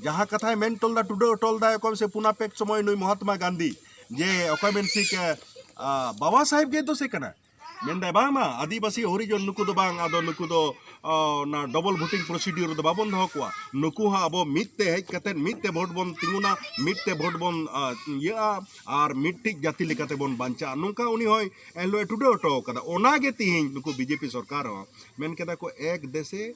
ᱡᱟᱦᱟᱸ ᱠᱟᱛᱷᱟᱭ ᱢᱮᱱ ᱦᱚᱴᱚ ᱞᱮᱫᱟ ᱴᱩᱰᱟᱹᱜ ᱦᱚᱴᱚ ᱞᱮᱫᱟᱭ ᱚᱠᱚᱭ ᱥᱮ ᱯᱩᱱᱟᱯᱮᱠ ᱥᱚᱢᱚᱭ ᱱᱩᱭ ᱢᱚᱦᱟᱛᱢᱟ ᱜᱟᱱᱫᱷᱤ ᱡᱮ ᱚᱠᱚᱭ ᱢᱮᱱ ᱥᱤᱠ ᱵᱟᱵᱟ ᱥᱟᱦᱮᱵ ᱜᱮ ᱫᱚᱥᱮ ᱠᱟᱱᱟ ᱢᱮᱱᱫᱟᱭ ᱵᱟᱝ ᱢᱟ ᱟᱹᱫᱤᱵᱟᱹᱥᱤ ᱦᱚᱨᱤᱡᱚᱱ ᱱᱩᱠᱩ ᱫᱚ ᱵᱟᱝ ᱟᱫᱚ ᱱᱩᱠᱩ ᱫᱚ ᱚᱱᱟ ᱰᱚᱵᱚᱞ ᱵᱷᱳᱴᱤᱝ ᱯᱨᱚᱥᱤᱰᱤᱭᱳᱨ ᱫᱚ ᱵᱟᱵᱚᱱ ᱫᱚᱦᱚ ᱠᱚᱣᱟ ᱱᱩᱠᱩ ᱦᱚᱸ ᱟᱵᱚ ᱢᱤᱫ ᱛᱮ ᱦᱮᱡ ᱠᱟᱛᱮ ᱢᱤᱫ ᱛᱮ ᱵᱷᱳᱴ ᱵᱚᱱ ᱛᱤᱸᱜᱩᱱᱟ ᱢᱤᱫ ᱛᱮ ᱵᱷᱳᱴ ᱵᱚᱱ ᱤᱭᱟᱹᱜᱼᱟ ᱟᱨ ᱢᱤᱫᱴᱤᱡ ᱡᱟᱹᱛᱤ ᱞᱮᱠᱟᱛᱮ ᱵᱚᱱ ᱵᱟᱧᱪᱟᱜᱼᱟ ᱱᱚᱝᱠᱟ ᱩᱱᱤ ᱦᱚᱸᱭ ᱮᱱᱦᱤᱞᱳᱜ ᱴᱩᱰᱟᱹ ᱦᱚᱴᱚ ᱠᱟᱫᱟ ᱚᱱᱟᱜᱮ ᱛᱤᱦᱤᱧ ᱱᱩᱠᱩ ᱵᱤᱡᱮᱯᱤ ᱥᱚᱨᱠᱟᱨ ᱦᱚᱸ ᱢᱮᱱ ᱠᱮᱫᱟ ᱠᱚ ᱮᱠ ᱫᱮᱥᱮ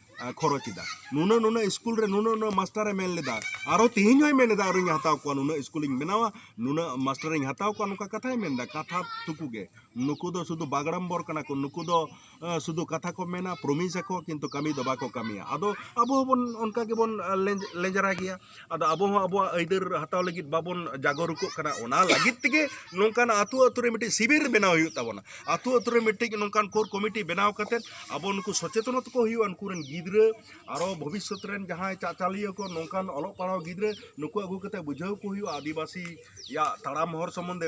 ᱠᱷᱚᱨᱚᱪ ᱮᱫᱟ ᱱᱩᱱᱟᱹᱜ ᱱᱩᱱᱟᱹᱜ ᱤᱥᱠᱩᱞ ᱨᱮ ᱱᱩᱱᱟᱹᱜ ᱱᱩᱱᱟᱹᱜ ᱢᱟᱥᱴᱟᱨ ᱮ ᱢᱮᱱ ᱞᱮᱫᱟ ᱟᱨᱚ ᱛᱮᱦᱮᱧ ᱦᱚᱸᱭ ᱢᱮᱱ ᱮᱫᱟ ᱟᱨᱚᱧ ᱦᱟᱛᱟᱣ ᱠᱚᱣᱟ ᱱᱩᱱᱟᱹᱜ ᱤᱥᱠᱩᱞ ᱤᱧ ᱵᱮᱱᱟᱣᱟ ᱱᱩᱱᱟᱹᱜ ᱢᱟᱥᱴᱟᱨ ᱤᱧ ᱦᱟᱛᱟᱣ ᱠᱚᱣᱟ ᱱᱚᱝᱠᱟ ᱠᱟᱛᱷᱟᱭ ᱢᱮᱱ ᱮᱫᱟ ᱠᱟᱛᱷᱟ ᱴᱩᱠᱩ ᱜᱮ ᱱᱩᱠᱩ ᱫᱚ ᱥᱩᱫᱷᱩ ᱵᱟᱜᱲᱟᱢᱵᱚᱨ ᱠᱟᱱᱟ ᱠᱚ ᱱᱩᱠᱩ ᱫᱚ ᱥᱩᱫᱷᱩ ᱠᱟᱛᱷᱟ ᱠᱚ ᱢᱮᱱᱟ ᱯᱨᱚᱢᱤᱥ ᱟᱠᱚ ᱠᱤᱱᱛᱩ ᱠᱟᱹᱢᱤ ᱫᱚ ᱵᱟᱠᱚ ᱠᱟᱹᱢᱤᱭᱟ ᱟᱫᱚ ᱟᱵᱚ ᱦᱚᱸᱵᱚᱱ ᱚᱱᱠᱟ ᱜᱮᱵᱚᱱ ᱞᱮᱸᱡᱽᱨᱟ ᱜᱮᱭᱟ ᱟᱫᱚ ᱟᱵᱚ ᱦᱚᱸ ᱟᱵᱚᱣᱟᱜ ᱟᱹᱭᱫᱟᱹᱨ ᱦᱟᱛᱟᱣ ᱞᱟᱹᱜᱤᱫ ᱵᱟᱵᱚᱱ ᱡᱟᱜᱚᱨᱩᱠᱚᱜ ᱠᱟᱱᱟ ᱚᱱᱟ ᱞᱟᱹᱜᱤᱫ ᱛᱮᱜᱮ ᱱᱚᱝᱠᱟᱱᱟᱜ ᱟᱹᱛᱩ ᱟᱹᱛᱩ ᱨᱮ ᱢᱤᱫᱴᱤᱡ ᱥᱤᱵᱤᱨ ᱵᱮᱱᱟᱣ ᱦᱩᱭᱩᱜ ᱛᱟᱵᱚᱱᱟ ᱟᱹᱛᱩ ᱟᱹᱛᱩ ᱨᱮ ᱢᱤᱫᱴᱤᱡ ᱱᱚᱝᱠᱟᱱ ᱠᱳᱨ ᱠᱚᱢᱤᱴᱤ ᱵᱮᱱᱟᱣ ᱠᱟᱛᱮ ᱟᱵᱚ ᱱᱩᱠᱩ ᱥᱚᱪᱮᱛᱚᱱᱚᱛ ᱠᱚ ᱦᱩᱭᱩᱜᱼᱟ ᱩᱱᱠᱩ ᱨᱮᱱ ᱜᱤᱫᱽᱨᱟᱹ ᱟᱨᱚ ᱵᱷᱚᱵᱤᱥᱥᱚᱛ ᱨᱮᱱ ᱡᱟᱦᱟᱸᱭ ᱪᱟᱪᱟᱞᱤᱭᱟᱹ ᱠᱚ ᱱᱚᱝᱠᱟᱱ ᱚᱞᱚᱜ ᱯᱟᱲᱦᱟᱣ ᱜᱤᱫᱽᱨᱟᱹ ᱱᱩᱠᱩ ᱟᱹᱜᱩ ᱠᱟᱛᱮ ᱵᱩᱡᱷᱟᱹᱣ ᱠᱚ ᱦᱩᱭᱩᱜᱼᱟ ᱟᱹᱫᱤᱵᱟᱹᱥᱤ ᱭᱟᱜ ᱛᱟᱲᱟᱢ ᱦᱚᱨ ᱥᱚᱢᱚᱱᱫᱷᱮ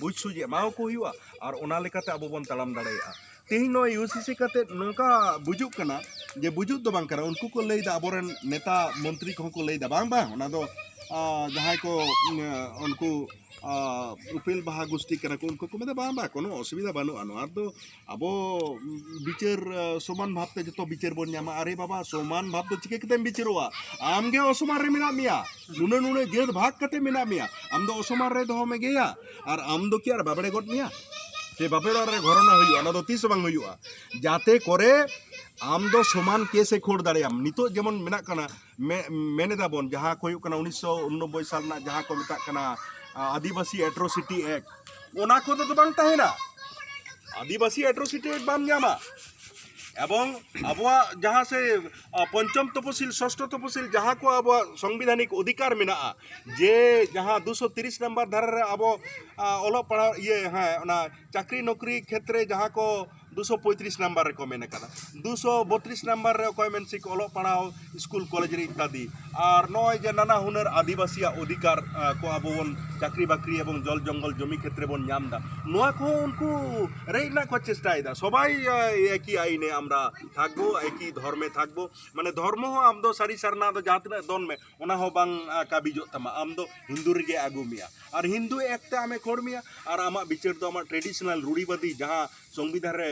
ᱵᱩᱡᱽ ᱥᱩᱡᱽ ᱮᱢᱟᱣᱟᱠᱚ ᱦᱩᱭᱩᱜᱼᱟ ᱟᱨ ᱚᱱᱟ ᱞᱮᱠᱟᱛᱮ ᱟᱵᱚ ᱵᱚᱱ ᱛᱟᱲᱟᱢ ᱫᱟᱲᱮᱭᱟᱜᱼᱟ ᱛᱮᱦᱮᱧ ᱱᱚᱣᱟ ᱤᱭᱩᱥᱤᱥᱤ ᱠᱟᱛᱮ ᱱᱚᱝᱠᱟ ᱵᱩᱡᱩᱜ ᱠᱟᱱᱟ ᱡᱮ ᱵᱩᱡᱩᱜ ᱫᱚ ᱵᱟᱝ ᱠᱟᱱᱟ ᱩᱱᱠᱩ ᱠᱚ ᱞᱟᱹᱭᱫᱟ ᱟᱵᱚᱨᱮᱱ ᱱᱮᱛᱟ ᱢᱚᱱᱛᱨᱤ ᱠᱚᱦᱚᱸ ᱠᱚ ᱞᱟᱹᱭᱫᱟ ᱵᱟᱝ ᱵᱟᱝ ᱚᱱᱟ ᱫᱚ ᱡᱟᱦᱟᱸᱭ ᱠᱚ ᱩᱱᱠᱩ ᱩᱯᱮᱞ ᱵᱟᱦᱟ ᱜᱩᱥᱴᱤ ᱠᱟᱱᱟ ᱠᱚ ᱩᱱᱠᱩ ᱠᱚ ᱢᱮᱱᱫᱟ ᱵᱟᱝ ᱵᱟᱝ ᱠᱳᱱᱳ ᱚᱥᱩᱵᱤᱫᱷᱟ ᱵᱟᱹᱱᱩᱜᱼᱟ ᱱᱚᱣᱟ ᱫᱚ ᱟᱵᱚ ᱵᱤᱪᱟᱹᱨ ᱥᱚᱢᱟᱱ ᱵᱷᱟᱵ ᱛᱮ ᱡᱚᱛᱚ ᱵᱤᱪᱟᱹᱨ ᱵᱚᱱ ᱧᱟᱢᱟ ᱟᱨᱮ ᱵᱟᱵᱟ ᱥᱚᱢᱟᱱ ᱵᱷᱟᱵ ᱫᱚ ᱪᱤᱠᱟᱹ ᱠᱟᱛᱮᱢ ᱵᱤᱪᱟᱹᱨᱚᱜᱼᱟ ᱟᱢ ᱜᱮ ᱚᱥᱚᱢᱟᱱ ᱨᱮ ᱢᱮᱱᱟᱜ ᱢᱮᱭᱟ ᱱᱩᱱᱟᱹᱜ ᱱᱩᱱᱟᱹᱜ ᱡᱟᱹᱛ ᱵᱷᱟᱜᱽ ᱠᱟᱛᱮ ᱢᱮᱱᱟᱜ ᱢᱮᱭᱟ ᱟᱢ ᱫᱚ ᱚᱥᱚᱢᱟᱱ ᱨᱮ ᱫᱚᱦᱚ ᱢᱮᱜᱮᱭᱟ ᱟᱨ ᱟᱢ ᱫᱚ ᱠᱤ ᱟᱨ ᱵᱟᱵᱲᱮ ᱜᱚᱫ ᱢᱮᱭᱟ ᱥᱮ ᱵᱟᱯᱮ ᱚᱲᱟᱜ ᱨᱮ ᱜᱷᱚᱨᱚᱱᱟ ᱦᱩᱭᱩᱜᱼᱟ ᱚᱱᱟ ᱫᱚ ᱛᱤᱥ ᱵᱟᱝ ᱦᱩᱭᱩᱜᱼᱟ ᱡᱟᱛᱮ ᱠᱚᱨᱮ ᱟᱢ ᱫᱚ ᱥᱚᱢᱟᱱ ᱠᱮᱥ ᱮ ᱠᱷᱳᱲ ᱫᱟᱲᱮᱭᱟᱢ ᱱᱤᱛᱚᱜ ᱡᱮᱢᱚᱱ ᱢᱮᱱᱟᱜ ᱠᱟᱱᱟ ᱢᱮᱱ ᱮᱫᱟ ᱵᱚᱱ ᱡᱟᱦᱟᱸ ᱠᱚ ᱦᱩᱭᱩᱜ ᱠᱟᱱᱟ ᱩᱱᱤᱥᱥᱚ ᱩᱱᱱᱚᱵᱵᱳᱭ ᱥᱟᱞ ᱨᱮᱱᱟᱜ ᱡᱟᱦᱟᱸ ᱠᱚ ᱢᱮᱛᱟᱜ ᱠᱟᱱᱟ ᱟᱹᱫᱤᱵᱟᱹᱥᱤ ᱮᱴᱨᱳᱥᱤᱴᱤ ᱮᱠᱴ ᱚᱱᱟ ᱠᱚᱫᱚ ᱫᱚ ᱵᱟᱝ ᱛᱟᱦᱮᱱᱟ ᱟᱹᱫᱤᱵᱟᱹᱥᱤ ᱮᱴᱨᱳᱥᱤᱴᱤ ᱮᱠᱴ ᱵᱟᱢ ᱧᱟᱢᱟ ᱮᱵᱚᱝ ᱟᱵᱚᱣᱟᱜ ᱡᱟᱦᱟᱸ ᱥᱮ ᱯᱚᱧᱪᱚᱢ ᱛᱚᱯᱚᱥᱤᱞ ᱥᱚᱥᱴᱷᱚ ᱛᱚᱯᱚᱥᱤᱞ ᱡᱟᱦᱟᱸ ᱠᱚ ᱟᱵᱚᱣᱟᱜ ᱥᱚᱝᱵᱤᱫᱷᱟᱱᱤᱠ ᱚᱫᱷᱤᱠᱟᱨ ᱢᱮᱱᱟᱜᱼᱟ ᱡᱮ ᱡᱟᱦᱟᱸ ᱫᱩ ᱥᱚ ᱛᱤᱨᱤᱥ ᱱᱟᱢᱵᱟᱨ ᱫᱷᱟᱨᱟ ᱨᱮ ᱟᱵᱚ ᱚᱞᱚᱜ ᱯᱟᱲᱦᱟᱣ ᱤᱭᱟᱹ ᱦᱮᱸ ᱚᱱᱟ ᱪᱟᱹᱠᱨᱤ ᱱᱚᱠᱨᱤ ᱠᱷᱮᱛᱨᱮ ᱡᱟᱦᱟᱸ ᱠᱚ ᱫᱩ ᱥᱚ ᱯᱚᱸᱭᱛᱨᱤᱥ ᱱᱟᱢᱵᱟᱨ ᱨᱮᱠᱚ ᱢᱮᱱ ᱟᱠᱟᱫᱟ ᱫᱩ ᱥᱚ ᱵᱚᱛᱨᱤᱥ ᱱᱟᱢᱵᱟᱨ ᱨᱮ ᱚᱠᱚᱭ ᱢᱮᱱ ᱥᱮ ᱚᱞᱚᱜ ᱯᱟᱲᱦᱟᱣ ᱥᱠᱩᱞ ᱠᱚᱞᱮᱡᱽ ᱨᱮ ᱤᱛᱛᱟᱫᱤ ᱟᱨ ᱱᱚᱜᱼᱚᱭ ᱡᱮ ᱱᱟᱱᱟ ᱦᱩᱱᱟᱹᱨ ᱟᱹᱫᱤᱵᱟᱹᱥᱤᱭᱟᱜ ᱚᱫᱷᱤᱠᱟᱨ ᱠᱚ ᱟᱵᱚ ᱵᱚᱱ ᱪᱟᱹᱠᱨᱤ ᱵᱟᱹᱠᱨᱤ ᱮᱵᱚᱝ ᱡᱚᱞ ᱡᱚᱝᱜᱚᱞ ᱡᱚᱢᱤ ᱠᱷᱮᱛᱨᱮ ᱵᱚᱱ ᱧᱟᱢ ᱮᱫᱟ ᱱᱚᱣᱟ ᱠᱚᱦᱚᱸ ᱩᱱᱠᱩ ᱨᱮᱡ ᱨᱮᱱᱟᱜ ᱠᱚ ᱪᱮᱥᱴᱟᱭᱮᱫᱟ ᱥᱚᱵᱟᱭ ᱮᱠᱤ ᱟᱭᱤᱱᱮ ᱟᱢᱨᱟ ᱛᱷᱟᱠᱵᱚ ᱮᱠᱤ ᱫᱷᱚᱨᱢᱮ ᱛᱷᱟᱠᱵᱚ ᱢᱟᱱᱮ ᱫᱷᱚᱨᱢᱚ ᱦᱚᱸ ᱟᱢ ᱫᱚ ᱥᱟᱹᱨᱤ ᱥᱟᱨᱱᱟ ᱫᱚ ᱡᱟᱦᱟᱸ ᱛᱤᱱᱟᱹᱜ ᱫᱚᱱ ᱢᱮ ᱚᱱᱟ ᱦᱚᱸ ᱵᱟᱝ ᱠᱟᱹᱵᱤᱡᱚᱜ ᱛᱟᱢᱟ ᱟᱢ ᱫᱚ ᱦᱤᱱᱫᱩ ᱨᱮᱜᱮ ᱟᱹᱜᱩ ᱢᱮᱭᱟ ᱟᱨ ᱦᱤᱱᱫᱩ ᱮᱠᱛᱮ ᱟᱢᱮ ᱠᱷᱚᱲ ᱢᱮᱭᱟ ᱟᱨ ᱟᱢᱟᱜ ᱵᱤᱪᱟᱹᱨ ᱫᱚ ᱟᱢᱟᱜ ᱴᱨᱮᱰᱤᱥᱚᱱᱟᱞ ᱨᱩᱲᱤᱵᱟᱫᱤ ᱡᱟᱦᱟᱸ ᱥᱚᱝᱵᱤᱫᱷᱟᱱ ᱨᱮ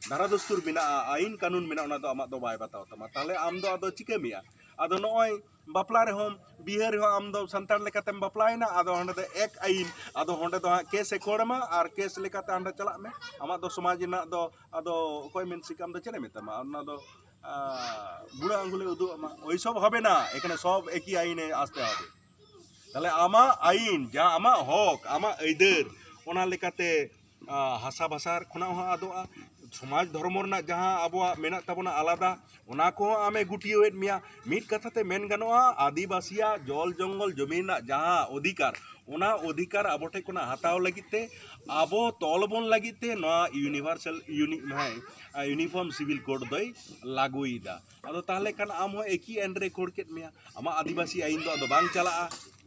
ᱫᱷᱟᱨᱟ ᱫᱚᱥᱛᱩᱨ ᱢᱮᱱᱟᱜᱼᱟ ᱟᱭᱤᱱ ᱠᱟᱹᱱᱩᱱ ᱢᱮᱱᱟᱜᱼᱟ ᱚᱱᱟ ᱫᱚ ᱟᱢᱟᱜ ᱫᱚ ᱵᱟᱭ ᱵᱟᱛᱟᱣ ᱛᱟᱢᱟ ᱛᱟᱦᱞᱮ ᱟᱢ ᱫᱚ ᱟᱫᱚ ᱪᱤᱠᱟᱹ ᱢᱮᱭᱟ ᱟᱫᱚ ᱱᱚᱜᱼᱚᱭ ᱵᱟᱯᱞᱟ ᱨᱮᱦᱚᱸ ᱵᱤᱦᱟᱹ ᱨᱮᱦᱚᱸ ᱟᱢ ᱫᱚ ᱥᱟᱱᱛᱟᱲ ᱞᱮᱠᱟᱛᱮᱢ ᱵᱟᱯᱞᱟᱭᱮᱱᱟ ᱟᱫᱚ ᱦᱟᱸᱰᱮ ᱫᱚ ᱮᱠ ᱟᱹᱭᱤᱱ ᱟᱫᱚ ᱦᱟᱸᱰᱮ ᱫᱚ ᱦᱟᱸᱜ ᱠᱮᱥᱮ ᱠᱷᱟᱹᱲ ᱟᱢᱟ ᱟᱨ ᱠᱮᱥ ᱞᱮᱠᱟᱛᱮ ᱦᱟᱸᱰᱮ ᱪᱟᱞᱟᱜ ᱢᱮ ᱟᱢᱟᱜ ᱫᱚ ᱥᱚᱢᱟᱡᱽ ᱨᱮᱱᱟᱜ ᱫᱚ ᱟᱫᱚ ᱚᱠᱚᱭ ᱢᱮᱱ ᱥᱤᱠ ᱟᱢ ᱫᱚ ᱪᱮᱫ ᱮ ᱢᱮᱛᱟᱢᱟ ᱚᱱᱟ ᱫᱚ ᱵᱩᱲᱟᱹ ᱟᱝᱜᱩᱞᱮ ᱩᱫᱩᱜ ᱟᱢᱟ ᱳᱭ ᱥᱚᱵ ᱦᱚᱵᱮ ᱱᱟ ᱮᱠᱷᱟᱱᱮ ᱥᱚᱵ ᱮᱠᱤ ᱟᱹᱭᱤᱱᱮ ᱟᱥᱛᱮ ᱦᱚᱵᱮ ᱛᱟᱦᱚᱞᱮ ᱟᱢᱟᱜ ᱟᱹᱭᱤᱱ ᱡᱟᱦᱟᱸ ᱟᱢᱟᱜ ᱦᱚᱸᱠ ᱟᱢᱟᱜ ᱟᱹᱭᱫᱟᱹᱨ ᱚᱱᱟ ᱞᱮᱠᱟᱛᱮ ᱦᱟᱥᱟ ᱵᱷᱟᱥᱟ ᱠᱷᱚᱱᱟᱜ ᱦᱚᱸ ᱟᱫᱚᱜᱼᱟ ᱥᱚᱢᱟᱡᱽ ᱫᱷᱚᱨᱢᱚ ᱨᱮᱱᱟᱜ ᱡᱟᱦᱟᱸ ᱟᱵᱚᱣᱟᱜ ᱢᱮᱱᱟᱜ ᱛᱟᱵᱚᱱᱟ ᱟᱞᱟᱫᱟ ᱚᱱᱟ ᱠᱚᱦᱚᱸ ᱟᱢᱮᱭ ᱜᱩᱴᱭᱟᱹᱣᱮᱫ ᱢᱮᱭᱟ ᱢᱤᱫ ᱠᱟᱛᱷᱟ ᱛᱮ ᱢᱮᱱ ᱜᱟᱱᱚᱜᱼᱟ ᱟᱹᱫᱤᱵᱟᱹᱥᱤᱭᱟᱜ ᱡᱚᱞ ᱡᱚᱝᱜᱚᱞ ᱡᱩᱢᱤ ᱨᱮᱱᱟᱜ ᱡᱟᱦᱟᱸ ᱚᱫᱷᱤᱠᱟᱨ ᱚᱱᱟ ᱚᱫᱷᱤᱠᱟᱨ ᱟᱵᱚ ᱴᱷᱮᱱ ᱠᱷᱚᱱᱟᱜ ᱦᱟᱛᱟᱣ ᱞᱟᱹᱜᱤᱫ ᱛᱮ ᱟᱵᱚ ᱛᱚᱞ ᱵᱚᱱ ᱞᱟᱹᱜᱤᱫ ᱛᱮ ᱱᱚᱣᱟ ᱤᱭᱩᱱᱤᱵᱷᱟᱨᱥᱟᱞ ᱤᱭᱩᱱᱤᱯᱷᱚᱨᱢ ᱥᱤᱵᱤᱞ ᱠᱳᱰ ᱫᱚᱭ ᱞᱟᱹᱜᱩᱭᱮᱫᱟ ᱟᱫᱚ ᱛᱟᱦᱚᱞᱮ ᱠᱷᱟᱱ ᱟᱢ ᱦᱚᱸ ᱮᱠᱤ ᱟᱹᱭᱤᱱ ᱨᱮᱭ ᱠᱷᱟᱹᱲ ᱠᱮᱫ ᱢᱮᱭᱟ ᱟᱢᱟᱜ ᱟᱹᱫᱤᱵᱟᱹᱥᱤ ᱟᱹᱭᱤᱱ ᱫᱚ ᱟᱫᱚ ᱵᱟᱝ ᱪᱟᱞᱟᱜᱼᱟ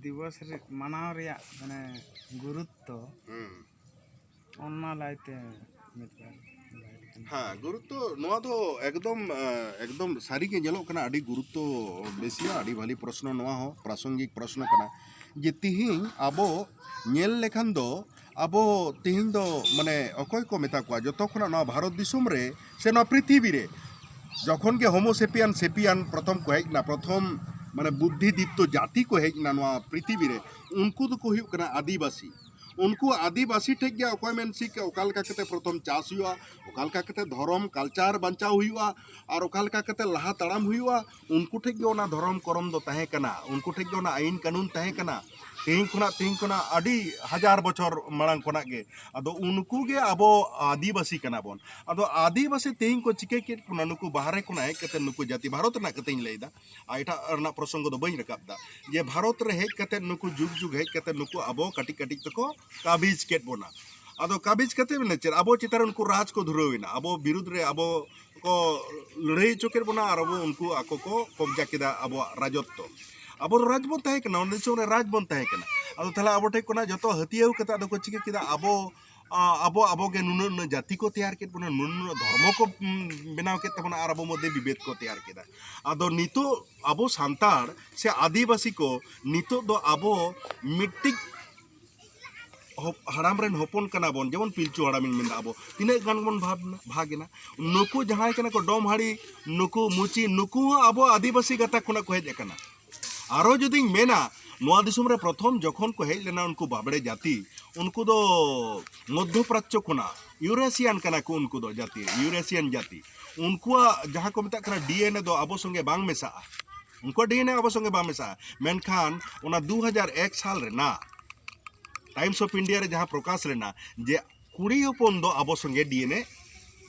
ᱫᱤᱵᱚᱥ ᱨᱮ ᱢᱟᱱᱟᱣ ᱨᱮᱭᱟᱜ ᱢᱟᱱᱮ ᱜᱩᱨᱩᱛᱛᱚ ᱦᱩᱸ ᱚᱱᱟ ᱞᱟᱭᱛᱮ ᱢᱤᱫ ᱵᱟᱨ ᱞᱟᱹᱭ ᱞᱮᱠᱷᱟᱱ ᱦᱮᱸ ᱜᱩᱨᱩᱛᱛᱚ ᱱᱚᱣᱟ ᱫᱚ ᱮᱠᱫᱚᱢ ᱮᱸ, ᱮᱠᱫᱚᱢ ᱥᱟᱹᱨᱤᱜᱮ ᱧᱮᱞᱚᱜ ᱠᱟᱱᱟ ᱟᱹᱰᱤ ᱜᱩᱨᱩᱛᱛᱚ ᱵᱮᱥᱤᱭᱟ ᱟᱹᱰᱤ ᱵᱷᱟᱹᱞᱤ ᱯᱨᱚᱥᱱᱚ ᱱᱚᱣᱟ ᱦᱚᱸ ᱯᱨᱟᱥᱚᱝᱜᱤᱠ ᱯᱨᱚᱥᱱᱚ ᱠᱟᱱᱟ ᱡᱮ ᱛᱤᱦᱤᱧ ᱟᱵᱚ ᱧᱮᱞ ᱞᱮᱠᱷᱟᱱ ᱫᱚ ᱟᱵᱚ ᱛᱤᱦᱤᱧ ᱫᱚ ᱢᱟᱱᱮ ᱚᱠᱚᱭ ᱠᱚ ᱢᱮᱛᱟ ᱠᱚᱣᱟ ᱡᱚᱛᱚ ᱠᱷᱚᱱᱟᱜ ᱱᱚᱣᱟ ᱵᱷᱟᱨᱚᱛ ᱫᱤᱥᱚᱢ ᱨᱮ ᱥᱮ ᱱᱚᱣᱟ ᱯᱨᱤᱛᱷᱤᱵᱤ ᱨᱮ ᱡᱚᱠᱷᱚᱱ ᱜᱮ ᱦᱳᱢᱳᱥᱮᱯᱤᱭᱟᱱ ᱥᱮᱯᱤᱭᱟᱱ ᱯᱨᱚᱛᱷᱚᱢ ᱠᱚ ᱦᱮᱡ ᱮᱱᱟ ᱯᱨᱚᱛᱷᱚᱢ ᱢᱟᱱᱮ ᱵᱩᱫᱽᱫᱷᱤ ᱫᱤᱯᱛᱚ ᱡᱟᱹᱛᱤ ᱠᱚ ᱦᱮᱡ ᱮᱱᱟ ᱱᱚᱣᱟ ᱯᱨᱤᱛᱷᱤᱵᱤ ᱨᱮ ᱩᱱᱠᱩ ᱫᱚᱠᱚ ᱦᱩᱭᱩᱜ ᱠᱟᱱᱟ ᱟᱹᱫᱤᱵᱟᱹᱥᱤ ᱩᱱᱠᱩ ᱟᱹᱫᱤᱵᱟᱹᱥᱤ ᱴᱷᱮᱡ ᱜᱮ ᱚᱠᱚᱭ ᱢᱮᱱ ᱥᱤᱠ ᱚᱠᱟ ᱞᱮᱠᱟ ᱠᱟᱛᱮ ᱯᱨᱚᱛᱷᱚᱢ ᱪᱟᱥ ᱦᱩᱭᱩᱜᱼᱟ ᱚᱠᱟ ᱞᱮᱠᱟ ᱠᱟᱛᱮ ᱫᱷᱚᱨᱚᱢ ᱠᱟᱞᱪᱟᱨ ᱵᱟᱧᱪᱟᱣ ᱦᱩᱭᱩᱜᱼᱟ ᱟᱨ ᱚᱠᱟ ᱞᱮᱠᱟ ᱠᱟᱛᱮ ᱞᱟᱦᱟ ᱛᱟᱲᱟᱢ ᱦᱩᱭᱩᱜᱼᱟ ᱩᱱᱠᱩ ᱴᱷᱮᱡ ᱜᱮ ᱚᱱᱟ ᱫᱷᱚᱨᱚᱢ ᱠᱚᱨᱚᱢ ᱫᱚ ᱛᱟᱦᱮᱸ ᱠᱟᱱᱟ ᱩᱱᱠᱩ ᱴᱷᱮᱡ ᱜᱮ ᱚᱱᱟ ᱟᱹᱭᱤᱱ ᱠᱟᱹᱱᱩᱱ ᱛᱟᱦᱮᱸ ᱠᱟᱱᱟ ᱛᱮᱦᱮᱧ ᱠᱷᱚᱱᱟᱜ ᱛᱮᱦᱮᱧ ᱠᱷᱚᱱᱟᱜ ᱟᱹᱰᱤ ᱦᱟᱡᱟᱨ ᱵᱚᱪᱷᱚᱨ ᱢᱟᱲᱟᱝ ᱠᱷᱚᱱᱟᱜ ᱜᱮ ᱟᱫᱚ ᱩᱱᱠᱩ ᱜᱮ ᱟᱵᱚ ᱟᱹᱫᱤᱵᱟᱹᱥᱤ ᱠᱟᱱᱟ ᱵᱚᱱ ᱟᱫᱚ ᱟᱹᱫᱤᱵᱟᱹᱥᱤ ᱛᱮᱦᱮᱧ ᱠᱚ ᱪᱤᱠᱟᱹ ᱠᱮᱫ ᱵᱚᱱᱟ ᱱᱩᱠᱩ ᱵᱟᱦᱨᱮ ᱠᱷᱚᱱᱟᱜ ᱦᱮᱡ ᱠᱟᱛᱮ ᱱᱩᱠᱩ ᱡᱟᱹᱛᱤ ᱵᱷᱟᱨᱚᱛ ᱨᱮᱱᱟᱜ ᱠᱟᱛᱷᱟᱧ ᱞᱟᱹᱭᱫᱟ ᱟᱨ ᱮᱴᱟᱜ ᱨᱮᱱᱟᱜ ᱯᱨᱚᱥᱚᱝᱜᱚ ᱫᱚ ᱵᱟᱹᱧ ᱨᱟᱠᱟᱵ ᱫᱟ ᱡᱮ ᱵᱷᱟᱨᱚᱛ ᱨᱮ ᱦᱮᱡ ᱠᱟᱛᱮ ᱱᱩᱠᱩ ᱡᱩᱜᱽ ᱡᱩᱜᱽ ᱦᱮᱡ ᱠᱟᱛᱮ ᱱᱩᱠᱩ ᱟᱵᱚ ᱠᱟᱹᱴᱤᱡ ᱠᱟᱹᱴᱤᱡ ᱛᱮᱠᱚ ᱠᱟᱵᱤᱡ ᱠᱮᱫ ᱵᱚᱱᱟ ᱟᱫᱚ ᱠᱟᱵᱤᱡ ᱠᱟᱛᱮ ᱢᱟᱱᱮ ᱪᱮᱫ ᱟᱵᱚ ᱪᱮᱛᱟᱱ ᱨᱮ ᱩᱱᱠᱩ ᱨᱟᱡᱽ ᱠᱚ ᱫᱷᱩᱨᱟᱹᱣ ᱮᱱᱟ ᱟᱵᱚ ᱵᱤᱨᱩᱫᱷ ᱨᱮ ᱟᱵᱚ ᱠᱚ ᱞᱟᱹᱲᱦᱟᱹᱭ ᱦᱚᱪᱚ ᱠᱮᱫ ᱵᱚᱱᱟ ᱟᱨ ᱟᱵᱚ ᱩᱱᱠᱩ ᱟᱠᱚ ᱠᱚ ᱠᱚᱵᱡᱟ ᱠᱮᱫᱟ ᱟᱵᱚᱣᱟᱜ ᱨᱟᱡᱚᱛᱛᱚ ᱟᱵᱚ ᱫᱚ ᱨᱟᱡᱽ ᱵᱚᱱ ᱛᱟᱦᱮᱸ ᱠᱟᱱᱟ ᱚᱱᱟ ᱫᱤᱥᱚᱢ ᱨᱮ ᱨᱟᱡᱽ ᱵᱚᱱ ᱛᱟᱦᱮᱸ ᱠᱟᱱᱟ ᱟᱫᱚ ᱛᱟᱦᱚᱞᱮ ᱟᱵᱚ ᱴᱷᱮᱱ ᱠᱷᱚᱱᱟᱜ ᱡᱚᱛᱚ ᱦᱟᱹᱛᱭᱟᱹᱣ ᱠᱟᱛᱮ ᱟᱫᱚ ᱠᱚ ᱪᱤᱠᱟᱹ ᱠᱮᱫᱟ ᱟᱵᱚ ᱟᱵᱚ ᱟᱵᱚ ᱜᱮ ᱱᱩᱱᱟᱹᱜ ᱱᱩᱱᱟᱹᱜ ᱡᱟᱹᱛᱤ ᱠᱚ ᱛᱮᱭᱟᱨ ᱠᱮᱫ ᱵᱚᱱᱟ ᱱᱩᱱᱟᱹᱜ ᱱᱩᱱᱟᱹᱜ ᱫᱷᱚᱨᱢᱚ ᱠᱚ ᱵᱮᱱᱟᱣ ᱠᱮᱫ ᱛᱟᱵᱚᱱᱟ ᱟᱨ ᱟᱵᱚ ᱢᱚᱫᱽᱫᱷᱮ ᱵᱤᱵᱮᱫ ᱠᱚ ᱛᱮᱭᱟᱨ ᱠᱮᱫᱟ ᱟᱫᱚ ᱱᱤᱛᱚᱜ ᱟᱵᱚ ᱥᱟᱱᱛᱟᱲ ᱥᱮ ᱟᱹᱫᱤᱵᱟᱹᱥᱤ ᱠᱚ ᱱᱤᱛᱚᱜ ᱫᱚ ᱟᱵᱚ ᱢᱤᱫᱴᱤᱡ ᱦᱟᱲᱟᱢ ᱨᱮᱱ ᱦᱚᱯᱚᱱ ᱠᱟᱱᱟ ᱵᱚᱱ ᱡᱮᱢᱚᱱ ᱯᱤᱞᱪᱩ ᱦᱟᱲᱟᱢ ᱤᱧ ᱢᱮᱱᱫᱟ ᱟᱵᱚ ᱛᱤᱱᱟᱹᱜ ᱜᱟᱱ ᱵᱚᱱ ᱵᱷᱟᱜᱽ ᱵᱷᱟᱜᱽ ᱮᱱᱟ ᱱᱩᱠᱩ ᱡᱟᱦᱟᱸᱭ ᱠᱟᱱᱟ ᱠᱚ ᱰᱚᱢ ᱦᱟᱹᱲᱤ ᱱᱩᱠᱩ ᱢᱩᱪᱤ ᱱᱩᱠᱩ ᱦᱚᱸ ᱟᱵᱚ ᱟᱹᱫᱤᱵᱟᱹᱥᱤ ᱜᱟᱛᱟᱠ ᱠᱷᱚᱱᱟᱜ ᱠᱚ ᱦᱮᱡ ᱟᱠᱟᱱᱟ ᱟᱨᱚ ᱡᱩᱫᱤᱧ ᱢᱮᱱᱟ ᱱᱚᱣᱟ ᱫᱤᱥᱚᱢ ᱨᱮ ᱯᱨᱚᱛᱷᱚᱢ ᱡᱚᱠᱷᱚᱱ ᱠᱚ ᱦᱮᱡ ᱞᱮᱱᱟ ᱩᱱᱠᱩ ᱵᱟᱵᱲᱮ ᱡᱟᱹᱛᱤ ᱩᱱᱠᱩ ᱫᱚ ᱢᱚᱫᱽᱫᱷᱚ ᱯᱨᱟᱪᱪᱚ ᱠᱷᱚᱱᱟᱜ ᱤᱭᱩᱨᱮᱥᱤᱭᱟᱱ ᱠᱟᱱᱟ ᱠᱚ ᱩᱱᱠᱩ ᱫᱚ ᱡᱟᱹᱛᱤ ᱤᱭᱩᱨᱮᱥᱤᱭᱟᱱ ᱡᱟᱹᱛᱤ ᱩᱱᱠᱩᱣᱟᱜ ᱡᱟᱦᱟᱸ ᱠᱚ ᱢᱮᱛᱟᱜ ᱠᱟᱱᱟ ᱰᱤᱮᱱᱮ ᱫᱚ ᱟᱵᱚ ᱥᱚᱸᱜᱮ ᱵᱟᱝ ᱢᱮᱥᱟᱜᱼᱟ ᱩᱱᱠᱩᱣᱟᱜ ᱰᱤ ᱮᱱ ᱮ ᱟᱵᱚ ᱥᱚᱸᱜᱮ ᱵᱟᱝ ᱢᱮᱥᱟᱜᱼᱟ ᱢᱮᱱᱠᱷᱟᱱ ᱚᱱᱟ ᱫᱩ ᱦᱟᱡᱟᱨ ᱮᱠ ᱥᱟᱞ ᱨᱮᱱᱟᱜ ᱴᱟᱭᱤᱢᱥ ᱚᱯᱷ ᱤᱱᱰᱤᱭᱟ ᱨᱮ ᱡᱟᱦᱟᱸ ᱯᱨᱚᱠᱟᱥ ᱞᱮᱱᱟ ᱡᱮ ᱠᱩᱲᱤ ᱦᱚᱯᱚᱱ ᱫᱚ ᱟᱵᱚ ᱥᱚᱸᱜᱮ ᱰᱤ ᱮᱱ ᱮ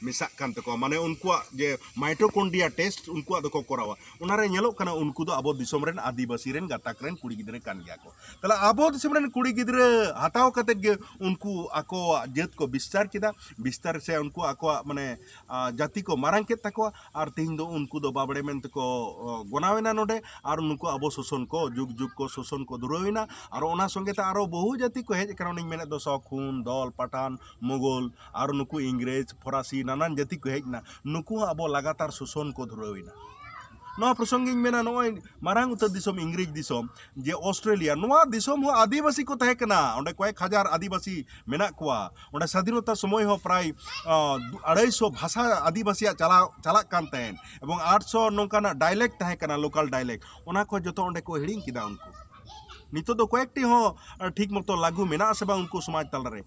ᱢᱮᱥᱟᱜ ᱠᱟᱱ ᱛᱟᱠᱚᱣᱟ ᱢᱟᱱᱮ ᱩᱱᱠᱩᱣᱟᱜ ᱡᱮ ᱢᱟᱭᱴᱳᱠᱚᱱᱰᱨᱤᱭᱟ ᱴᱮᱥᱴ ᱩᱱᱠᱩᱣᱟᱜ ᱫᱚᱠᱚ ᱠᱚᱨᱟᱣᱟ ᱚᱱᱟᱨᱮ ᱧᱮᱞᱚᱜ ᱠᱟᱱᱟ ᱩᱱᱠᱩ ᱫᱚ ᱟᱵᱚ ᱫᱤᱥᱚᱢ ᱨᱮᱱ ᱟᱹᱫᱤᱵᱟᱹᱥᱤ ᱨᱮᱱ ᱜᱟᱛᱟᱠ ᱨᱮᱱ ᱠᱩᱲᱤ ᱜᱤᱫᱽᱨᱟᱹ ᱠᱟᱱ ᱜᱮᱭᱟ ᱠᱚ ᱛᱟᱦᱞᱮ ᱟᱵᱚ ᱫᱤᱥᱚᱢ ᱨᱮᱱ ᱠᱩᱲᱤ ᱜᱤᱫᱽᱨᱟᱹ ᱦᱟᱛᱟᱣ ᱠᱟᱛᱮ ᱜᱮ ᱩᱱᱠᱩ ᱟᱠᱚᱣᱟᱜ ᱡᱟᱹᱛ ᱠᱚ ᱵᱤᱥᱛᱟᱨ ᱠᱮᱫᱟ ᱵᱤᱥᱛᱟᱨ ᱥᱮ ᱩᱱᱠᱩ ᱟᱠᱚᱣᱟᱜ ᱢᱟᱱᱮ ᱡᱟᱹᱛᱤ ᱠᱚ ᱢᱟᱨᱟᱝ ᱠᱮᱫ ᱛᱟᱠᱚᱣᱟ ᱟᱨ ᱛᱮᱦᱮᱧ ᱫᱚ ᱩᱱᱠᱩ ᱫᱚ ᱵᱟᱵᱽᱲᱮ ᱢᱮᱱᱛᱮ ᱠᱚ ᱜᱚᱱᱟᱣ ᱮᱱᱟ ᱱᱚᱰᱮ ᱟᱨ ᱱᱩᱠᱩ ᱟᱵᱚ ᱥᱳᱥᱳᱱ ᱠᱚ ᱡᱩᱜᱽ ᱡᱩᱜᱽ ᱠᱚ ᱥᱳᱥᱳᱱ ᱠᱚ ᱫᱷᱩᱨᱟᱹᱣ ᱮᱱᱟ ᱟᱨ ᱚᱱᱟ ᱥᱚᱸᱜᱮ ᱛᱮ ᱟᱨᱚ ᱵᱚᱦᱩ ᱡᱟᱹᱛᱤ ᱠᱚ ᱦᱮᱡ ᱟᱠᱟᱱᱟ ᱚᱱᱮᱧ ᱢᱮᱱᱮᱫ ᱫᱚ ᱥᱚᱠ ᱦᱩᱱ ᱫᱚᱞ ᱯᱟᱴᱷᱟᱱ ᱢᱩᱜᱷᱚᱞ ᱟᱨ ᱱᱩᱠᱩ ᱤᱝᱨᱮᱡᱽ ᱯᱷᱚᱨᱟᱥᱤ ᱱᱟᱱᱟᱱ ᱡᱟᱹᱛᱤ ᱠᱚ ᱦᱮᱡ ᱮᱱᱟ ᱱᱩᱠᱩ ᱦᱚᱸ ᱟᱵᱚ ᱞᱟᱜᱟᱛᱟᱨ ᱥᱳᱥᱳᱱ ᱠᱚ ᱫᱷᱩᱨᱟᱹᱣ ᱮᱱᱟ ᱱᱚᱣᱟ ᱯᱨᱚᱥᱚᱝᱜᱤᱧ ᱢᱮᱱᱟ ᱱᱚᱜᱼᱚᱭ ᱢᱟᱨᱟᱝ ᱩᱛᱟᱹᱨ ᱫᱤᱥᱚᱢ ᱤᱝᱨᱮᱡᱽ ᱫᱤᱥᱚᱢ ᱡᱮ ᱚᱥᱴᱨᱮᱞᱤᱭᱟ ᱱᱚᱣᱟ ᱫᱤᱥᱚᱢ ᱦᱚᱸ ᱟᱹᱫᱤᱵᱟᱹᱥᱤ ᱠᱚ ᱛᱟᱦᱮᱸ ᱠᱟᱱᱟ ᱚᱸᱰᱮ ᱠᱚᱭᱮᱠ ᱦᱟᱡᱟᱨ ᱟᱹᱫᱤᱵᱟᱹᱥᱤ ᱢᱮᱱᱟᱜ ᱠᱚᱣᱟ ᱚᱸᱰᱮ ᱥᱟᱫᱷᱤᱱᱚᱛᱟ ᱥᱚᱢᱚᱭ ᱦᱚᱸ ᱯᱨᱟᱭ ᱟᱲᱟᱭᱥᱚ ᱵᱷᱟᱥᱟ ᱟᱹᱫᱤᱵᱟᱹᱥᱤᱭᱟᱜ ᱪᱟᱞᱟᱣ ᱪᱟᱞᱟᱜ ᱠᱟᱱ ᱛᱟᱦᱮᱸᱫ ᱮᱵᱚᱝ ᱟᱴᱥᱚ ᱱᱚᱝᱠᱟᱱᱟᱜ ᱰᱟᱭᱞᱮᱠᱴ ᱛᱟᱦᱮᱸ ᱠᱟᱱᱟ ᱞᱳᱠᱟᱞ ᱰᱟᱭᱞᱮᱠᱴ ᱚᱱᱟ ᱠᱚ ᱡᱚᱛᱚ ᱚᱸᱰᱮ ᱠᱚ ᱦᱤᱲᱤᱧ ᱠᱮᱫᱟ ᱩᱱᱠᱩ ᱱᱤᱛᱚᱜ ᱫᱚ ᱠᱚᱭᱮᱠᱴᱤ ᱦᱚᱸ ᱴᱷᱤᱠ ᱢᱚᱛᱚ ᱞᱟᱹᱜᱩ ᱢᱮᱱᱟᱜᱼᱟ ᱥᱮ ᱵᱟᱝ ᱩᱱᱠᱩ ᱥᱚᱢᱟᱡᱽ ᱛᱟᱞᱟᱨᱮ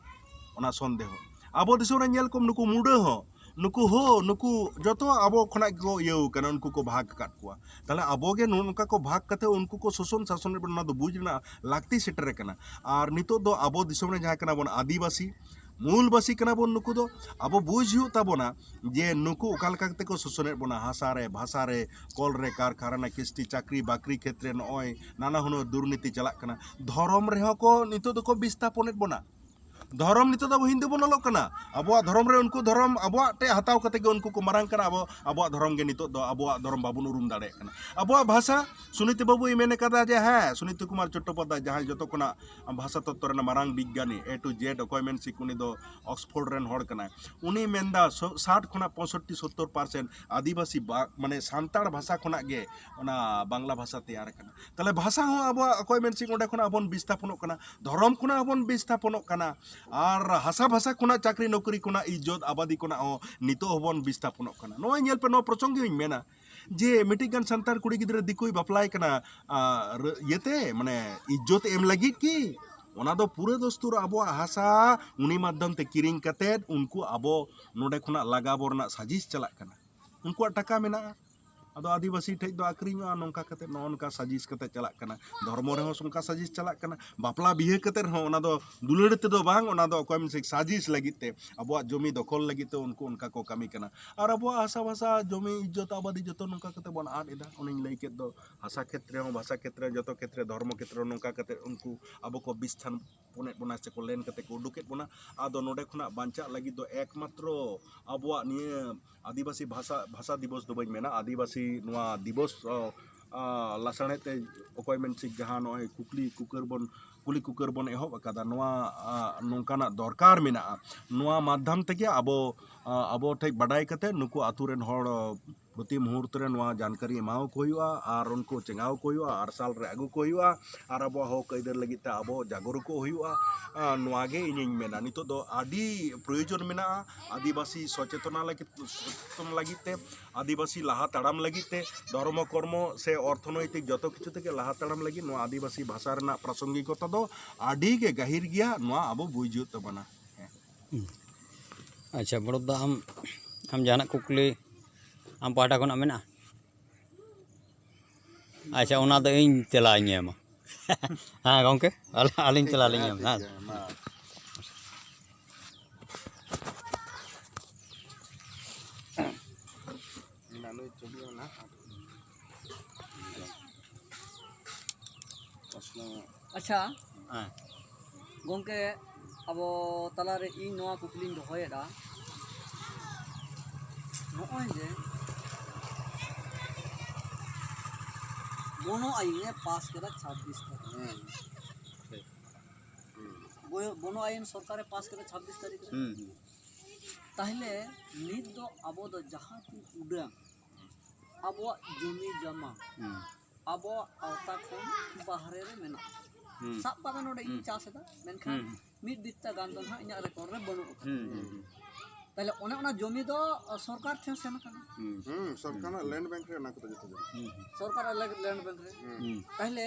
ᱚᱱᱟ ᱥᱚᱱᱫᱮᱦᱚ ᱟᱵᱚ ᱫᱤᱥᱚᱢ ᱨᱮ ᱧᱮᱞ ᱠᱚᱢ ᱱᱩᱠᱩ ᱢᱩᱰᱟᱹ ᱦᱚᱸ ᱱᱩᱠᱩ ᱦᱳ ᱱᱩᱠᱩ ᱡᱚᱛᱚ ᱟᱵᱚ ᱠᱷᱚᱱᱟᱜ ᱜᱮᱠᱚ ᱤᱭᱟᱹ ᱟᱠᱟᱱᱟ ᱩᱱᱠᱩ ᱠᱚ ᱵᱷᱟᱜᱽ ᱟᱠᱟᱫ ᱠᱚᱣᱟ ᱛᱟᱦᱞᱮ ᱟᱵᱚ ᱜᱮ ᱱᱚᱝᱠᱟ ᱠᱚ ᱵᱷᱟᱜᱽ ᱠᱟᱛᱮ ᱩᱱᱠᱩ ᱠᱚ ᱥᱳᱥᱚᱱ ᱥᱟᱥᱚᱱ ᱮᱫ ᱵᱚᱱᱟ ᱚᱱᱟ ᱫᱚ ᱵᱩᱡᱽ ᱨᱮᱱᱟᱜ ᱞᱟᱹᱠᱛᱤ ᱥᱮᱴᱮᱨ ᱟᱠᱟᱱᱟ ᱟᱨ ᱱᱤᱛᱚᱜ ᱫᱚ ᱟᱵᱚ ᱫᱤᱥᱚᱢ ᱨᱮ ᱡᱟᱦᱟᱸ ᱠᱟᱱᱟ ᱵᱚᱱ ᱟᱹᱫᱤᱵᱟᱹᱥᱤ ᱢᱩᱞ ᱵᱟᱹᱥᱤ ᱠᱟᱱᱟ ᱵᱚᱱ ᱱᱩᱠᱩ ᱫᱚ ᱟᱵᱚ ᱵᱩᱡᱽ ᱦᱩᱭᱩᱜ ᱛᱟᱵᱚᱱᱟ ᱡᱮ ᱱᱩᱠᱩ ᱚᱠᱟ ᱞᱮᱠᱟ ᱠᱟᱛᱮ ᱠᱚ ᱥᱳᱥᱚᱱ ᱮᱫ ᱵᱚᱱᱟ ᱦᱟᱥᱟ ᱨᱮ ᱵᱷᱟᱥᱟ ᱨᱮ ᱠᱚᱞ ᱨᱮ ᱠᱟᱨᱠᱷᱟᱱᱟ ᱠᱤᱥᱛᱤ ᱪᱟᱹᱠᱨᱤ ᱵᱟᱹᱠᱨᱤ ᱠᱷᱮᱛᱨᱮ ᱱᱚᱜᱼᱚᱭ ᱱᱟᱱᱟ ᱦᱩᱱᱟᱹᱨ ᱫᱩᱨᱱᱤᱛᱤ ᱪᱟᱞᱟᱜ ᱠᱟᱱᱟ ᱫᱷᱚᱨᱚᱢ ᱨᱮᱦᱚᱸ ᱠᱚ ᱱᱤᱛᱚᱜ ᱫᱚᱠᱚ ᱵᱤᱥᱛᱷᱟᱯᱚᱱ ᱮᱫ ᱵᱚᱱᱟ ᱫᱷᱚᱨᱚᱢ ᱱᱤᱛᱚᱜ ᱫᱚ ᱟᱵᱚ ᱦᱤᱱᱫᱩ ᱵᱚᱱ ᱚᱞᱚᱜ ᱠᱟᱱᱟ ᱟᱵᱚᱣᱟᱜ ᱫᱷᱚᱨᱚᱢ ᱨᱮ ᱩᱱᱠᱩ ᱫᱷᱚᱨᱚᱢ ᱟᱵᱚᱣᱟᱜ ᱴᱷᱮᱱ ᱦᱟᱛᱟᱣ ᱠᱟᱛᱮ ᱜᱮ ᱩᱱᱠᱩ ᱠᱚ ᱢᱟᱨᱟᱝ ᱠᱟᱱᱟ ᱟᱵᱚ ᱟᱵᱚᱣᱟᱜ ᱫᱷᱚᱨᱚᱢ ᱜᱮ ᱱᱤᱛᱚᱜ ᱫᱚ ᱟᱵᱚᱣᱟᱜ ᱫᱷᱚᱨᱚᱢ ᱵᱟᱵᱚᱱ ᱩᱨᱩᱢ ᱫᱟᱲᱮᱭᱟᱜ ᱠᱟᱱᱟ ᱟᱵᱚᱣᱟᱜ ᱵᱷᱟᱥᱟ ᱥᱩᱱᱤᱛ ᱵᱟᱹᱵᱩᱭ ᱢᱮᱱ ᱠᱟᱫᱟ ᱡᱮ ᱦᱮᱸ ᱥᱩᱱᱤᱛ ᱠᱩᱢᱟᱨ ᱪᱚᱴᱴᱳᱯᱟᱫᱽᱫᱷᱟᱭ ᱡᱟᱦᱟᱸᱭ ᱡᱚᱛᱚ ᱠᱷᱚᱱᱟᱜ ᱵᱷᱟᱥᱟ ᱛᱚᱛᱛᱚ ᱨᱮᱱᱟᱜ ᱢᱟᱨᱟᱝ ᱵᱤᱜᱽᱜᱟᱱᱤ ᱮ ᱴᱩ ᱡᱮᱰ ᱚᱠᱚᱭ ᱢᱮᱱ ᱥᱤᱠ ᱩᱱᱤ ᱫᱚ ᱚᱠᱥᱯᱷᱳᱨᱰ ᱨᱮᱱ ᱦᱚᱲ ᱠᱟᱱᱟᱭ ᱩᱱᱤ ᱢᱮᱱᱫᱟ ᱥᱟᱴ ᱠᱷᱚᱱᱟᱜ ᱯᱚᱸᱭᱥᱚᱴᱴᱤ ᱥᱚᱛᱛᱚᱨ ᱯᱟᱨᱥᱮᱱᱴ ᱟᱹᱫᱤᱵᱟᱹᱥᱤ ᱢᱟᱱᱮ ᱥᱟᱱᱛᱟᱲ ᱵᱷᱟᱥᱟ ᱠᱷᱚᱱᱟᱜ ᱜᱮ ᱚᱱᱟ ᱵᱟᱝᱞᱟ ᱵᱷᱟᱥᱟ ᱛᱮᱭᱟᱨ ᱠᱟᱱᱟ ᱛᱟᱦᱚᱞᱮ ᱵᱷᱟᱥᱟ ᱦᱚᱸ ᱟᱵᱚᱣᱟᱜ ᱚᱠᱚᱭ ᱢᱮᱱ ᱥᱤᱝ ᱚᱸᱰᱮ ᱠᱷᱚᱱᱟᱜ ᱦᱚᱸ ᱵᱚᱱ ᱵᱤᱥᱛᱷᱟᱯᱚᱱᱚᱜ ᱠᱟᱱᱟ ᱫᱷᱚᱨᱚᱢ ᱠᱷᱚᱱᱟᱜ ᱦᱚᱸ ᱵᱚᱱ ᱵᱤᱥᱛᱷᱟᱯᱚᱱᱚᱜ ᱠᱟᱱᱟ ᱟᱨ ᱦᱟᱥᱟ ᱵᱷᱟᱥᱟ ᱠᱷᱚᱱᱟᱜ ᱪᱟᱹᱠᱨᱤ ᱱᱚᱠᱨᱤ ᱠᱷᱚᱱᱟᱜ ᱤᱡᱽᱡᱚᱛ ᱟᱵᱟᱫᱤ ᱠᱷᱚᱱᱟᱜ ᱦᱚᱸ ᱱᱤᱛᱚᱜ ᱦᱚᱸ ᱵᱚᱱ ᱵᱤᱥᱛᱷᱟᱯᱚᱱᱚᱜ ᱠᱟᱱᱟ ᱱᱚᱜᱼᱚᱭ ᱧᱮᱞ ᱯᱮ ᱱᱚᱣᱟ ᱯᱨᱚᱥᱚᱝ ᱜᱮᱧ ᱢᱮᱱᱟ ᱡᱮ ᱢᱤᱫᱴᱤᱡ ᱜᱟᱱ ᱥᱟᱱᱛᱟᱲ ᱠᱩᱲᱤ ᱜᱤᱫᱽᱨᱟᱹ ᱫᱤᱠᱩᱭ ᱵᱟᱯᱞᱟᱭ ᱠᱟᱱᱟ ᱤᱭᱟᱹᱛᱮ ᱢᱟᱱᱮ ᱤᱡᱽᱡᱚᱛ ᱮᱢ ᱞᱟᱹᱜᱤᱫ ᱠᱤ ᱚᱱᱟ ᱫᱚ ᱯᱩᱨᱟᱹ ᱫᱚᱥᱛᱩᱨ ᱟᱵᱚᱣᱟᱜ ᱦᱟᱥᱟ ᱩᱱᱤ ᱢᱟᱫᱽᱫᱷᱚᱢ ᱛᱮ ᱠᱤᱨᱤᱧ ᱠᱟᱛᱮ ᱩᱱᱠᱩ ᱟᱵᱚ ᱱᱚᱰᱮ ᱠᱷᱚᱱᱟᱜ ᱞᱟᱜᱟ ᱵᱚ ᱨᱮᱱᱟᱜ ᱥᱟᱡᱤᱥ ᱪᱟᱞᱟᱜ ᱠᱟᱱᱟ ᱩᱱᱠᱩᱣᱟᱜ ᱴᱟᱠᱟ ᱢᱮᱱᱟᱜᱼᱟ ᱟᱫᱚ ᱟᱹᱫᱤᱵᱟᱹᱥᱤ ᱴᱷᱮᱡ ᱫᱚ ᱟᱹᱠᱷᱨᱤᱧᱚᱜᱼᱟ ᱱᱚᱝᱠᱟ ᱠᱟᱛᱮ ᱱᱚᱜᱼᱚ ᱱᱚᱝᱠᱟ ᱥᱟᱡᱤᱥ ᱠᱟᱛᱮ ᱪᱟᱞᱟᱜ ᱠᱟᱱᱟ ᱫᱷᱚᱨᱢᱚ ᱨᱮᱦᱚᱸ ᱚᱱᱠᱟ ᱥᱟᱡᱤᱥ ᱪᱟᱞᱟᱜ ᱠᱟᱱᱟ ᱵᱟᱯᱞᱟ ᱵᱤᱦᱟᱹ ᱠᱟᱛᱮ ᱨᱮᱦᱚᱸ ᱚᱱᱟ ᱫᱚ ᱫᱩᱞᱟᱹᱲ ᱛᱮᱫᱚ ᱵᱟᱝ ᱚᱱᱟ ᱫᱚ ᱚᱠᱚᱭ ᱢᱮᱱᱟᱥᱮ ᱥᱟᱡᱤᱥ ᱞᱟᱹᱜᱤᱫ ᱛᱮ ᱟᱵᱚᱣᱟᱜ ᱡᱚᱢᱤ ᱫᱚᱠᱷᱚᱞ ᱞᱟᱹᱜᱤᱫ ᱛᱮ ᱩᱱᱠᱩ ᱚᱱᱠᱟ ᱠᱚ ᱠᱟᱹᱢᱤ ᱠᱟᱱᱟ ᱟᱨ ᱟᱵᱚᱣᱟᱜ ᱦᱟᱥᱟ ᱵᱷᱟᱥᱟ ᱡᱚᱢᱤ ᱤᱡᱽᱡᱚᱛ ᱟᱵᱟᱫᱤ ᱡᱚᱛᱚ ᱱᱚᱝᱠᱟ ᱠᱟᱛᱮ ᱵᱚᱱ ᱟᱫ ᱮᱫᱟ ᱚᱱᱮᱧ ᱞᱟᱹᱭ ᱠᱮᱫ ᱫᱚ ᱦᱟᱥᱟ ᱠᱷᱮᱛᱨᱮ ᱦᱚᱸ ᱵᱷᱟᱥᱟ ᱠᱷᱮᱛᱨᱮ ᱡᱚᱛᱚ ᱠᱷᱮᱛᱨᱮ ᱫᱷᱚᱨᱢᱚ ᱠᱷᱮᱛᱨᱮ ᱱᱚᱝᱠᱟ ᱠᱟᱛᱮ ᱩᱱᱠᱩ ᱟᱵᱚ ᱠᱚ ᱵᱤᱥᱛᱷᱟᱱ ᱯᱩᱱᱮᱫ ᱵᱚᱱᱟ ᱥᱮᱠᱚ ᱞᱮᱱ ᱠᱟᱛᱮ ᱠᱚ ᱩᱰᱩᱠᱮᱫ ᱵᱚᱱᱟ ᱟᱫᱚ ᱱᱚᱰᱮ ᱠᱷᱚᱱᱟᱜ ᱵᱟᱧᱪᱟᱜ ᱞᱟᱹᱜᱤᱫ ᱫᱚ ᱮᱠᱢᱟᱛᱨᱚ ᱟᱵᱚᱣᱟᱜ ᱱᱤᱭᱟᱹ ᱟᱹᱫᱤᱵᱟᱹᱥᱤ ᱵᱷᱟᱥᱟ ᱵᱷᱟᱥᱟ ᱫᱤᱵᱚᱥ ᱫᱚ ᱵᱟᱹᱧ ᱢᱮᱱᱟ ᱟᱹᱫᱤᱵᱟᱹᱥᱤ ᱱᱚᱣᱟ ᱫᱤᱵᱚᱥ ᱞᱟᱥᱟᱬᱦᱮᱫ ᱛᱮ ᱚᱠᱚᱭ ᱢᱮᱱ ᱥᱤᱠ ᱡᱟᱦᱟᱸ ᱱᱚᱜᱼᱚᱭ ᱠᱩᱠᱞᱤ ᱠᱩᱠᱟᱹᱨ ᱵᱚᱱ ᱠᱩᱞᱤ ᱠᱩᱠᱟᱹᱨ ᱵᱚᱱ ᱮᱦᱚᱵ ᱟᱠᱟᱫᱟ ᱱᱚᱣᱟ ᱱᱚᱝᱠᱟᱱᱟᱜ ᱫᱚᱨᱠᱟᱨ ᱢᱮᱱᱟᱜᱼᱟ ᱱᱚᱣᱟ ᱢᱟᱫᱽᱫᱷᱚᱢ ᱛᱮᱜᱮ ᱟᱵᱚ ᱟᱵᱚ ᱴᱷᱮᱱ ᱵᱟᱰᱟᱭ ᱠᱟᱛᱮ ᱱᱩᱠᱩ ᱟᱛᱳ ᱨᱮᱱ ᱦᱚᱲ ᱯᱨᱚᱛᱤ ᱢᱩᱦᱩᱨᱛ ᱨᱮ ᱱᱚᱣᱟ ᱡᱟᱱᱠᱟᱨᱤ ᱮᱢᱟᱣ ᱠᱚ ᱦᱩᱭᱩᱜᱼᱟ ᱟᱨ ᱩᱱᱠᱩ ᱪᱮᱸᱜᱟᱣ ᱠᱚ ᱦᱩᱭᱩᱜᱼᱟ ᱟᱨ ᱥᱟᱞ ᱨᱮ ᱟᱹᱜᱩ ᱠᱚ ᱦᱩᱭᱩᱜᱼᱟ ᱟᱨ ᱟᱵᱚᱣᱟᱜ ᱦᱚᱸᱠ ᱟᱹᱭᱫᱟᱹᱨ ᱞᱟᱹᱜᱤᱫ ᱛᱮ ᱟᱵᱚ ᱡᱟᱜᱚᱨᱩ ᱠᱚᱜ ᱦᱩᱭᱩᱜᱼᱟ ᱱᱚᱣᱟ ᱜᱮ ᱤᱧᱤᱧ ᱢᱮᱱᱟ ᱱᱤᱛᱚᱜ ᱫᱚ ᱟᱹᱰᱤ ᱯᱨᱚᱭᱳᱡᱚᱱ ᱢᱮᱱᱟᱜᱼᱟ ᱟᱹᱫᱤᱵᱟᱹᱥᱤ ᱥᱚᱪᱮᱛᱚᱱᱟ ᱞᱟᱹᱜᱤᱫ ᱥᱚᱪᱮᱛᱚᱱ ᱞᱟᱹᱜᱤᱫ ᱛᱮ ᱟᱹᱫᱤᱵᱟᱹᱥᱤ ᱞᱟᱦᱟ ᱛᱟᱲᱟᱢ ᱞᱟᱹᱜᱤᱫ ᱛᱮ ᱫᱷᱚᱨᱢᱚ ᱠᱚᱨᱢᱚ ᱥᱮ ᱚᱨᱛᱷᱚᱱᱚᱭᱛᱤᱠ ᱡᱚᱛᱚ ᱠᱤᱪᱷᱩ ᱛᱮᱜᱮ ᱞᱟᱦᱟ ᱛᱟᱲᱟᱢ ᱞᱟᱹᱜᱤᱫ ᱱᱚᱣᱟ ᱟᱹᱫᱤᱵᱟᱹᱥᱤ ᱵᱷᱟᱥᱟ ᱨᱮᱱᱟᱜ ᱯᱨᱟᱥᱚᱝᱜᱤᱠᱚᱛᱟ ᱫᱚ ᱟᱹᱰᱤ ᱜᱮ ᱜᱟᱹᱦᱤᱨ ᱜᱮᱭᱟ ᱱᱚᱣᱟ ᱟᱵᱚ ᱵᱩᱡᱽ ᱦᱩᱭᱩᱜ ᱛᱟᱵᱚᱱᱟ ᱟᱪᱪᱷᱟ ᱵᱚᱲᱚᱫ ᱫᱟ ᱟᱢ ᱟᱢ ᱡᱟᱦᱟᱱᱟᱜ ᱠᱩᱠᱞᱤ ᱟᱢ ᱯᱟᱦᱴᱟ ᱠᱷᱚᱱᱟᱜ ᱢᱮᱱᱟᱜᱼᱟ ᱟᱪᱪᱷᱟ ᱚᱱᱟ ᱫᱚ ᱤᱧ ᱛᱮᱞᱟᱧ ᱮᱢᱟ ᱦᱮᱸ ᱜᱚᱢᱠᱮ ᱟᱹᱞᱤᱧ ᱛᱮᱞᱟ ᱞᱤᱧ ᱮᱢᱟ ᱦᱮᱸ ᱟᱪᱪᱷᱟ ᱜᱚᱢᱠᱮ ᱟᱵᱚ ᱛᱟᱞᱟᱨᱮ ᱤᱧ ᱱᱚᱣᱟ ᱠᱩᱠᱞᱤᱧ ᱫᱚᱦᱚᱭᱮᱫᱟ ᱱᱚᱜᱼᱚᱭ ᱡᱮ ᱵᱚᱱᱚ ᱟᱭᱤᱱᱮ ᱯᱟᱥ ᱠᱮᱫᱟ ᱪᱷᱟᱵᱵᱤᱥ ᱛᱟᱹᱨᱤᱠᱷ ᱵᱚᱱᱚ ᱟᱭᱤᱱ ᱥᱚᱨᱠᱟᱨᱮ ᱯᱟᱥ ᱠᱮᱫᱟ ᱪᱷᱟᱵᱵᱤᱥ ᱛᱟᱹᱨᱤᱠᱷ ᱨᱮ ᱛᱟᱦᱞᱮ ᱱᱤᱛ ᱫᱚ ᱟᱵᱚ ᱫᱚ ᱡᱟᱦᱟᱸ ᱠᱚ ᱩᱰᱟᱹᱝ ᱟᱵᱚᱣᱟᱜ ᱡᱚᱢᱤ ᱡᱚᱢᱟ ᱟᱵᱚᱣᱟᱜ ᱟᱣᱛᱟ ᱠᱷᱚᱱ ᱵᱟᱦᱨᱮ ᱨᱮ ᱢᱮᱱᱟᱜᱼᱟ ᱥᱟᱵ ᱠᱟᱜ ᱢᱮ ᱱᱚᱰᱮ ᱤᱧ ᱪᱟᱥ ᱮᱫᱟ ᱢᱮᱱᱠᱷᱟᱱ ᱢᱤᱫ ᱵᱤᱛᱛᱟ ᱜᱟᱱ ᱫᱚ ᱱᱟᱦᱟᱜ ᱤᱧᱟᱹᱜ ᱨᱮᱠᱚᱨᱰ ᱨᱮ ᱵᱟᱹᱱᱩᱜ ᱟᱠᱟᱫᱟ ᱛᱟᱦᱞᱮ ᱚᱱᱮ ᱚᱱᱟ ᱡᱚᱢᱤ ᱫᱚ ᱥᱚᱨᱠᱟᱨ ᱴᱷᱮᱱ ᱥᱮᱱ ᱟᱠᱟᱱᱟ ᱥᱚᱨᱠᱟᱨᱟᱜ ᱞᱮᱱᱰ ᱵᱮᱝᱠ ᱨᱮ ᱚᱱᱟ ᱠᱚᱫᱚ ᱡᱚᱛᱚ ᱥᱚᱨᱠᱟᱨᱟᱜ ᱞᱮᱱᱰ ᱵᱮᱝᱠ ᱨᱮ ᱛᱟᱦᱞᱮ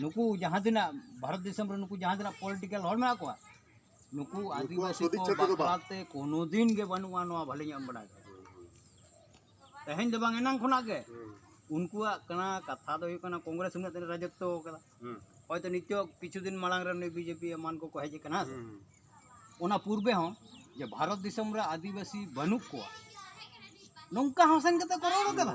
ᱱᱩᱠᱩ ᱡᱟᱦᱟᱸ ᱛᱤᱱᱟᱹᱜ ᱵᱷᱟᱨᱚᱛ ᱫᱤᱥᱚᱢ ᱨᱮ ᱱᱩᱠᱩ ᱡᱟᱦᱟᱸ ᱛᱤᱱᱟᱹᱜ ᱯᱚᱞᱤᱴᱤᱠᱟᱞ ᱦᱚᱲ ᱢᱮᱱᱟᱜ ᱠᱚᱣᱟ ᱱᱩᱠᱩ ᱟᱹᱫᱤᱵᱟᱹᱥᱤ ᱠᱚ ᱵᱟᱠᱷᱨᱟᱛᱮ ᱠᱳᱱᱳ ᱫᱤᱱ ᱜᱮ ᱵᱟᱹᱱᱩᱜᱼᱟ ᱱᱚᱣᱟ ᱵᱷᱟᱞᱮ ᱧᱚᱜ ᱮᱢ ᱵᱟᱲᱟᱭ ᱛᱮᱦᱮᱧ ᱫᱚ ᱵᱟᱝ ᱮᱱᱟᱝ ᱠᱷᱚᱱᱟᱜ ᱜᱮ ᱩᱱᱠᱩᱣᱟᱜ ᱠᱟᱱᱟ ᱠᱟᱛᱷᱟ ᱫᱚ ᱦᱩᱭᱩᱜ ᱠᱟᱱᱟ ᱠᱚᱝᱜᱨᱮᱥ ᱩᱱᱟᱹᱜ ᱫᱤᱱ ᱨᱟᱡᱚᱛᱛᱚ ᱠᱟᱫᱟ ᱦᱚᱭᱛᱚ ᱱᱤᱛᱚᱜ ᱠᱤᱪᱷᱩ ᱫᱤᱱ ᱢᱟᱲᱟᱝ ᱨᱮ ᱱᱩᱭ ᱵᱤᱡᱮᱯᱤ ᱮᱢᱟᱱ ᱠᱚᱠᱚ ᱦᱮᱡ ᱟᱠᱟᱱᱟ ᱚᱱᱟ ᱯᱩᱨᱵᱮ ᱦᱚᱸ ᱡᱮ ᱵᱷᱟᱨᱚᱛ ᱫᱤᱥᱚᱢ ᱨᱮ ᱟᱹᱫᱤᱵᱟᱹᱥᱤ ᱵᱟᱹᱱᱩᱜ ᱠᱚᱣᱟ ᱱᱚᱝᱠᱟ ᱦᱚᱸ ᱥᱮᱱ ᱠᱟᱛᱮ ᱠᱚ ᱨᱚᱲ ᱠᱟᱫᱟ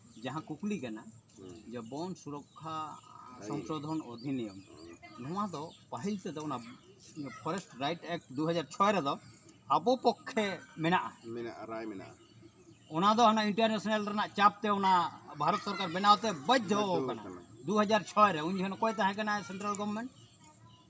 ᱡᱟᱦᱟᱸ ᱠᱩᱠᱞᱤ ᱠᱟᱱᱟ ᱡᱮ ᱵᱚᱱ ᱥᱩᱨᱚᱠᱠᱷᱟ ᱥᱚᱝᱥᱳᱫᱷᱚᱱ ᱚᱫᱷᱤᱱᱤᱭᱚᱢ ᱱᱚᱣᱟ ᱫᱚ ᱯᱟᱹᱦᱤᱞ ᱛᱮᱫᱚ ᱚᱱᱟ ᱯᱷᱚᱨᱮᱥᱴ ᱨᱟᱭᱤᱴ ᱮᱠᱴ ᱫᱩ ᱦᱟᱡᱟᱨ ᱪᱷᱚᱭ ᱨᱮᱫᱚ ᱟᱵᱚ ᱯᱚᱠᱠᱷᱮ ᱢᱮᱱᱟᱜᱼᱟ ᱢᱮᱱᱟᱜᱼᱟ ᱨᱟᱭ ᱢᱮᱱᱟᱜᱼᱟ ᱚᱱᱟ ᱫᱚ ᱦᱟᱱᱟ ᱤᱱᱴᱟᱨᱱᱮᱥᱱᱟᱞ ᱨᱮᱱᱟᱜ ᱪᱟᱯ ᱛᱮ ᱚᱱᱟ ᱵᱷᱟᱨᱚᱛ ᱥᱚᱨᱠᱟᱨ ᱵᱮᱱᱟᱣ ᱛᱮ ᱵᱟᱫᱽᱫᱷᱚ ᱟᱠᱟᱱᱟ ᱫᱩ ᱦᱟᱡᱟᱨ ᱪᱷᱚᱭ ᱨᱮ ᱩᱱ ᱡᱚᱠᱷᱚᱱ ᱚᱠᱚᱭ ᱛᱟᱦᱮᱸ ᱠᱟᱱᱟ ᱥᱮᱱᱴᱨᱟᱞ ᱜᱚᱵᱷᱚᱨᱱᱢᱮᱱᱴ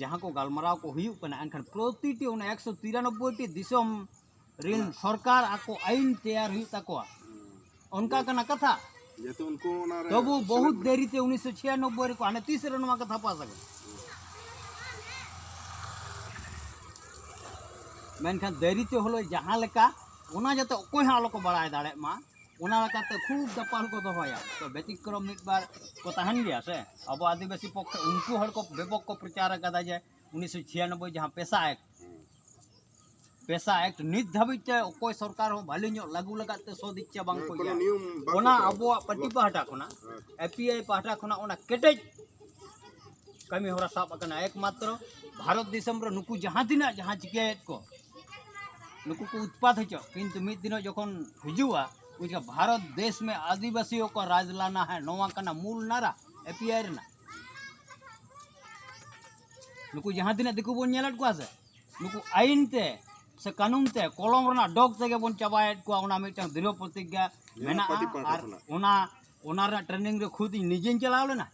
ᱡᱟᱦᱟᱸ ᱠᱚ ᱜᱟᱞᱢᱟᱨᱟᱣ ᱠᱚ ᱦᱩᱭᱩᱜ ᱠᱟᱱᱟ ᱮᱱᱠᱷᱟᱱ ᱯᱨᱚᱛᱤᱴᱤ ᱚᱱᱟ ᱮᱠᱥᱚ ᱛᱤᱨᱟᱱᱚᱵᱵᱳᱭ ᱴᱤ ᱫᱤᱥᱚᱢ ᱨᱮᱱ ᱥᱚᱨᱠᱟᱨ ᱟᱠᱚ ᱟᱹᱭᱤᱱ ᱛᱮᱭᱟᱨ ᱦᱩᱭᱩᱜ ᱛᱟᱠᱚᱣᱟ ᱚᱱᱠᱟ ᱠᱟᱱᱟ ᱠᱟᱛᱷᱟ ᱡᱮᱦᱮᱛᱩ ᱩᱱᱠᱩ ᱚᱱᱟ ᱨᱮ ᱛᱚᱵᱩ ᱵᱚᱦᱩᱛ ᱫᱮᱨᱤ ᱛᱮ ᱩᱱᱤᱥᱥᱚ ᱪᱷᱤᱭᱟᱱᱚᱵᱵᱳᱭ ᱨᱮᱠᱚ ᱦᱟᱱᱮ ᱛᱤᱥ ᱨᱮ ᱱᱚᱣᱟ ᱠᱟᱛᱷᱟ ᱯᱟᱥ ᱟᱠᱟᱱᱟ ᱢᱮᱱᱠᱷᱟᱱ ᱫᱮᱨᱤ ᱛᱮ ᱦᱚᱞᱚ ᱡᱟᱦᱟᱸ ᱞᱮᱠᱟ ᱚᱱᱟ ᱡᱟᱛᱮ ᱚᱠᱚᱭ ᱦᱚᱸ ᱟᱞᱚ ᱠᱚ ᱵᱟᱲᱟᱭ ᱫᱟᱲᱮᱭᱟᱜ ᱢᱟ ᱚᱱᱟ ᱞᱮᱠᱟᱛᱮ ᱠᱷᱩᱵ ᱫᱟᱯᱟᱞ ᱠᱚ ᱫᱚᱦᱚᱭᱟ ᱛᱚ ᱵᱮᱛᱤᱠᱨᱚᱢ ᱢᱤᱫ ᱵᱟᱨ ᱠᱚ ᱛᱟᱦᱮᱱ ᱜᱮᱭᱟ ᱥᱮ ᱟᱵᱚ ᱟᱹᱫᱤᱵᱟᱹᱥᱤ ᱯᱚᱠᱠᱷᱮ ᱩᱱᱠᱩ ᱦᱚᱲ ᱠᱚ ᱵᱮᱯᱚᱠ ᱠᱚ ᱯᱨᱚᱪᱟᱨ ᱟᱠᱟᱫᱟ ᱡᱮ ᱩᱱᱤᱥᱥᱚ ᱪᱷᱤᱭᱟᱱᱚᱵᱵᱳᱭ ᱡᱟᱦᱟᱸ ᱯᱮᱥᱟ ᱮᱠᱴ ᱯᱮᱥᱟ ᱮᱠᱴ ᱱᱤᱛ ᱫᱷᱟᱹᱵᱤᱡ ᱛᱮ ᱚᱠᱚᱭ ᱥᱚᱨᱠᱟᱨ ᱦᱚᱸ ᱵᱷᱟᱹᱞᱤ ᱧᱚᱜ ᱞᱟᱹᱜᱩ ᱞᱟᱜᱟᱫ ᱛᱮ ᱥᱚᱫ ᱤᱪᱪᱷᱟ ᱵᱟᱝ ᱠᱚ ᱤᱭᱟᱹ ᱚᱱᱟ ᱟᱵᱚᱣᱟᱜ ᱯᱟᱹᱴᱤ ᱯᱟᱦᱴᱟ ᱠᱷᱚᱱᱟᱜ ᱮᱯᱤᱟᱭ ᱯᱟᱦᱴᱟ ᱠᱷᱚᱱᱟᱜ ᱚᱱᱟ ᱠᱮᱴᱮᱡ ᱠᱟᱹᱢᱤ ᱦᱚᱨᱟ ᱥᱟᱵ ᱟᱠᱟᱱᱟ ᱮᱠᱢᱟᱛᱨᱚ ᱵᱷᱟᱨᱚᱛ ᱫᱤᱥᱚᱢ ᱨᱮ ᱱᱩᱠᱩ ᱡᱟᱦᱟᱸ ᱛᱤᱱᱟᱹᱜ ᱡᱟᱦᱟᱸ ᱪᱤᱠᱟᱹᱭᱮᱫ ᱠᱚ ᱱᱩᱠᱩ ᱠᱚ ᱩᱛᱯᱟᱛ ᱦᱚᱪᱚ ᱠᱤᱱᱛᱩ ᱢᱤᱫ ᱫᱤᱱᱚᱜ ᱡᱚᱠᱷᱚᱱ ᱦᱤᱡᱩᱜᱼᱟ ᱩᱱ ᱡᱚᱠᱷᱚᱱ ᱵᱷᱟᱨᱚᱛ ᱫᱮᱥ ᱢᱮ ᱟᱹᱫᱤᱵᱟᱹᱥᱤ ᱠᱚ ᱨᱟᱡᱽ ᱞᱟᱱᱟ ᱦᱮᱸ ᱱᱚᱣᱟ ᱠᱟᱱᱟ ᱢᱩᱞ ᱱᱟᱨᱟ ᱮ ᱯᱤ ᱟᱭ ᱨᱮᱱᱟᱜ ᱱᱩᱠᱩ ᱡᱟᱦᱟᱸ ᱛᱤᱱᱟᱹᱜ ᱫᱤᱠᱩ ᱵᱚᱱ ᱧᱮᱞᱮᱫ ᱠᱚᱣᱟ ᱥᱮ ᱱᱩᱠᱩ ᱟᱹᱭᱤᱱ ᱛᱮ ᱥᱮ ᱠᱟᱹᱱᱩᱱ ᱛᱮ ᱠᱚᱞᱚᱢ ᱨᱮᱱᱟᱜ ᱰᱚᱜᱽ ᱛᱮᱜᱮ ᱵᱚᱱ ᱪᱟᱵᱟᱭᱮᱫ ᱠᱚᱣᱟ ᱚᱱᱟ ᱢᱤᱫᱴᱟᱝ ᱫᱨᱤᱲ ᱯᱨᱚᱛᱤᱡᱽᱧᱟ ᱢᱮᱱᱟᱜᱼᱟ ᱟᱨ ᱚᱱᱟ ᱚᱱᱟ ᱨᱮᱱᱟᱜ ᱴᱨᱮᱱᱤᱝ ᱨᱮ ᱠᱷᱩᱫ ᱤᱧ ᱱᱤᱡᱮᱧ ᱪᱟᱞᱟᱣ ᱞᱮᱱᱟ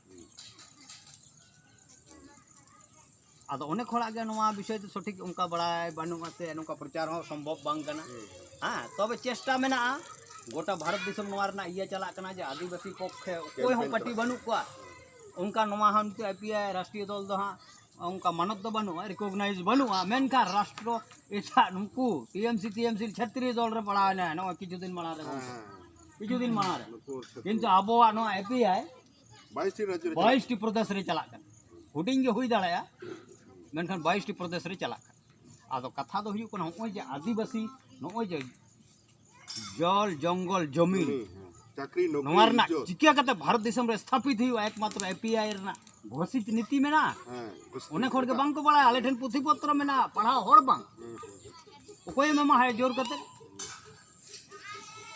ᱟᱫᱚ ᱚᱱᱮᱠ ᱦᱚᱲᱟᱜ ᱜᱮ ᱱᱚᱣᱟ ᱵᱤᱥᱚᱭ ᱛᱮ ᱥᱚᱴᱷᱤᱠ ᱚᱱᱠᱟ ᱵᱟᱲᱟᱭ ᱵᱟᱹᱱᱩᱜᱼᱟ ᱥᱮ ᱱᱚᱝᱠᱟ ᱯᱨᱚᱪᱟᱨ ᱦᱚᱸ ᱥᱚᱢᱵᱷᱚᱵ ᱵᱟᱝ ᱠᱟᱱᱟ ᱦᱮᱸ ᱛᱚᱵᱮ ᱪᱮᱥᱴᱟ ᱢᱮᱱᱟᱜᱼᱟ ᱜᱚᱴᱟ ᱵᱷᱟᱨᱚᱛ ᱫᱤᱥᱚᱢ ᱱᱚᱣᱟ ᱨᱮᱱᱟᱜ ᱤᱭᱟᱹ ᱪᱟᱞᱟᱜ ᱠᱟᱱᱟ ᱡᱮ ᱟᱹᱫᱤᱵᱟᱹᱥᱤ ᱯᱚᱠᱠᱷᱮ ᱚᱠᱚᱭ ᱦᱚᱸ ᱯᱟᱹᱴᱤ ᱵᱟᱹᱱᱩᱜ ᱠᱚᱣᱟ ᱚᱱᱠᱟ ᱱᱚᱣᱟ ᱦᱚᱸ ᱱᱤᱛᱚᱜ ᱟᱭ ᱯᱤ ᱟᱭ ᱨᱟᱥᱴᱨᱤᱭᱚ ᱫᱚᱞ ᱫᱚ ᱦᱟᱸᱜ ᱚᱱᱠᱟ ᱢᱟᱱᱚᱛ ᱫᱚ ᱵᱟᱹᱱᱩᱜᱼᱟ ᱨᱤᱠᱚᱜᱽᱱᱟᱭᱤᱡᱽ ᱵᱟᱹᱱᱩᱜᱼᱟ ᱢᱮᱱᱠᱷᱟᱱ ᱨᱟᱥᱴᱨᱚ ᱮᱴᱟᱜ ᱱᱩᱠᱩ T M C T M ᱥᱤ ᱪᱷᱟᱛᱨᱤ ᱫᱚᱞ ᱨᱮ ᱯᱟᱲᱟᱣᱮᱱᱟ ᱱᱚᱜᱼᱚᱭ ᱠᱤᱪᱷᱩ ᱫᱤᱱ ᱢᱟᱲᱟᱝ ᱨᱮ ᱠᱤᱪᱷᱩ ᱫᱤᱱ ᱢᱟᱲᱟᱝ ᱨᱮ ᱠᱤᱱᱛᱩ ᱟᱵᱚᱣᱟᱜ ᱱᱚᱣᱟ ᱮ ᱯᱤ ᱟᱭ ᱵᱟᱭᱤᱥᱴᱤ ᱯᱨᱚᱫᱮᱥ ᱨᱮ ᱪᱟᱞᱟᱜ ᱠᱟᱱᱟ ᱦᱩᱰᱤᱧ ᱜᱮ ᱦᱩᱭ ᱫᱟᱲᱮᱭᱟᱜᱼᱟ ᱢᱮᱱᱠᱷᱟᱱ ᱵᱟᱭᱤᱥᱴᱤ ᱯᱨᱚᱫᱮᱥ ᱨᱮ ᱪᱟᱞᱟᱜ ᱠᱟᱱᱟ ᱟᱫᱚ ᱠᱟᱛᱷᱟ ᱫᱚ ᱦᱩᱭᱩᱜ ᱠᱟᱱᱟ ᱱᱚᱜᱼᱚᱭ ᱡᱮ ᱟᱹᱫᱤᱵᱟᱹᱥᱤ ᱱᱚᱜᱼᱚᱭ ᱡᱮ ᱡᱚᱞ ᱡᱚᱝᱜᱚᱞ ᱡᱚᱢᱤ ᱱᱚᱣᱟ ᱨᱮᱱᱟᱜ ᱪᱤᱠᱟᱹ ᱠᱟᱛᱮ ᱵᱷᱟᱨᱚᱛ ᱫᱤᱥᱚᱢ ᱨᱮ ᱥᱛᱷᱟᱯᱤᱛ ᱦᱩᱭᱩᱜᱼᱟ ᱮᱠᱢᱟᱛᱨᱚ ᱮᱯᱤᱟᱭ ᱨᱮᱱᱟᱜ ᱜᱷᱳᱥᱤᱛ ᱱᱤᱛᱤ ᱢᱮᱱᱟᱜᱼᱟ ᱚᱱᱮᱠ ᱦᱚᱲ ᱜᱮ ᱵᱟᱝ ᱠᱚ ᱵᱟᱲᱟᱭᱟ ᱟᱞᱮ ᱴᱷᱮᱱ ᱯᱩᱛᱷᱤ ᱯᱚᱛᱨᱚ ᱢᱮᱱᱟᱜᱼᱟ ᱯᱟᱲᱦᱟᱣ ᱦᱚᱲ ᱵᱟᱝ ᱚᱠᱚᱭᱮᱢ ᱮᱢᱟ ᱦᱟᱭ ᱡᱳᱨ ᱠᱟᱛᱮ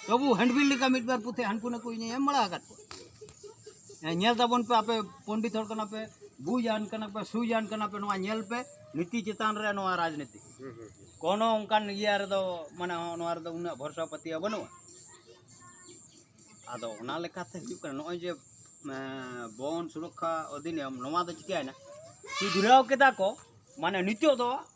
ᱛᱚᱵᱩ ᱦᱮᱱᱰᱵᱤᱞ ᱞᱮᱠᱟ ᱢᱤᱫ ᱵᱟᱨ ᱯᱩᱛᱷᱤ ᱦᱟᱱᱠᱩ ᱱᱟᱠᱩ ᱤᱧ ᱮᱢ ᱵᱟᱲᱟ ᱟᱠᱟᱫ ᱠᱚᱣᱟ ᱧᱮᱞ ᱛᱟᱵᱚᱱ ᱯᱮ ᱟᱯᱮ ᱯᱚᱱᱰᱤᱛ ᱦᱚᱲ ᱠᱟᱱᱟ ᱯᱮ ᱵᱩᱡᱟᱱ ᱠᱟᱱᱟ ᱯᱮ ᱥᱩᱡᱟᱱ ᱠᱟᱱᱟ ᱯᱮ ᱱᱚᱣᱟ ᱧᱮᱞ ᱯᱮ ᱱᱤᱛᱤ ᱪᱮᱛᱟᱱ ᱨᱮ ᱱᱚᱣᱟ ᱨᱟᱡᱽᱱᱤᱛᱤ ᱠᱳᱱᱳ ᱚᱱᱠᱟᱱ ᱤᱭᱟᱹ ᱨᱮᱫᱚ ᱢᱟᱱᱮ ᱱᱚᱣᱟ ᱨᱮᱫᱚ ᱩᱱᱟᱹᱜ ᱵᱷᱚᱨᱥᱟ ᱯᱟᱹᱛᱭᱟᱹᱣ ᱵᱟᱹᱱᱩᱜᱼᱟ ᱟᱫᱚ ᱚᱱᱟ ᱞᱮᱠᱟᱛᱮ ᱦᱩᱭᱩᱜ ᱠᱟᱱᱟ ᱱᱚᱜᱼᱚᱭ ᱡᱮ ᱵᱚᱱ ᱥᱩᱨᱚᱠᱠᱷᱟ ᱚᱫᱷᱤᱱᱤᱭᱚᱢ ᱱᱚᱣᱟ ᱫᱚ ᱪᱤᱠᱟᱹᱭᱮᱱᱟ ᱥᱩᱫᱷᱨᱟᱹᱣ ᱠᱮᱫᱟ ᱠᱚ ᱢᱟᱱᱮ ᱱᱤᱛᱚᱜ ᱫᱚ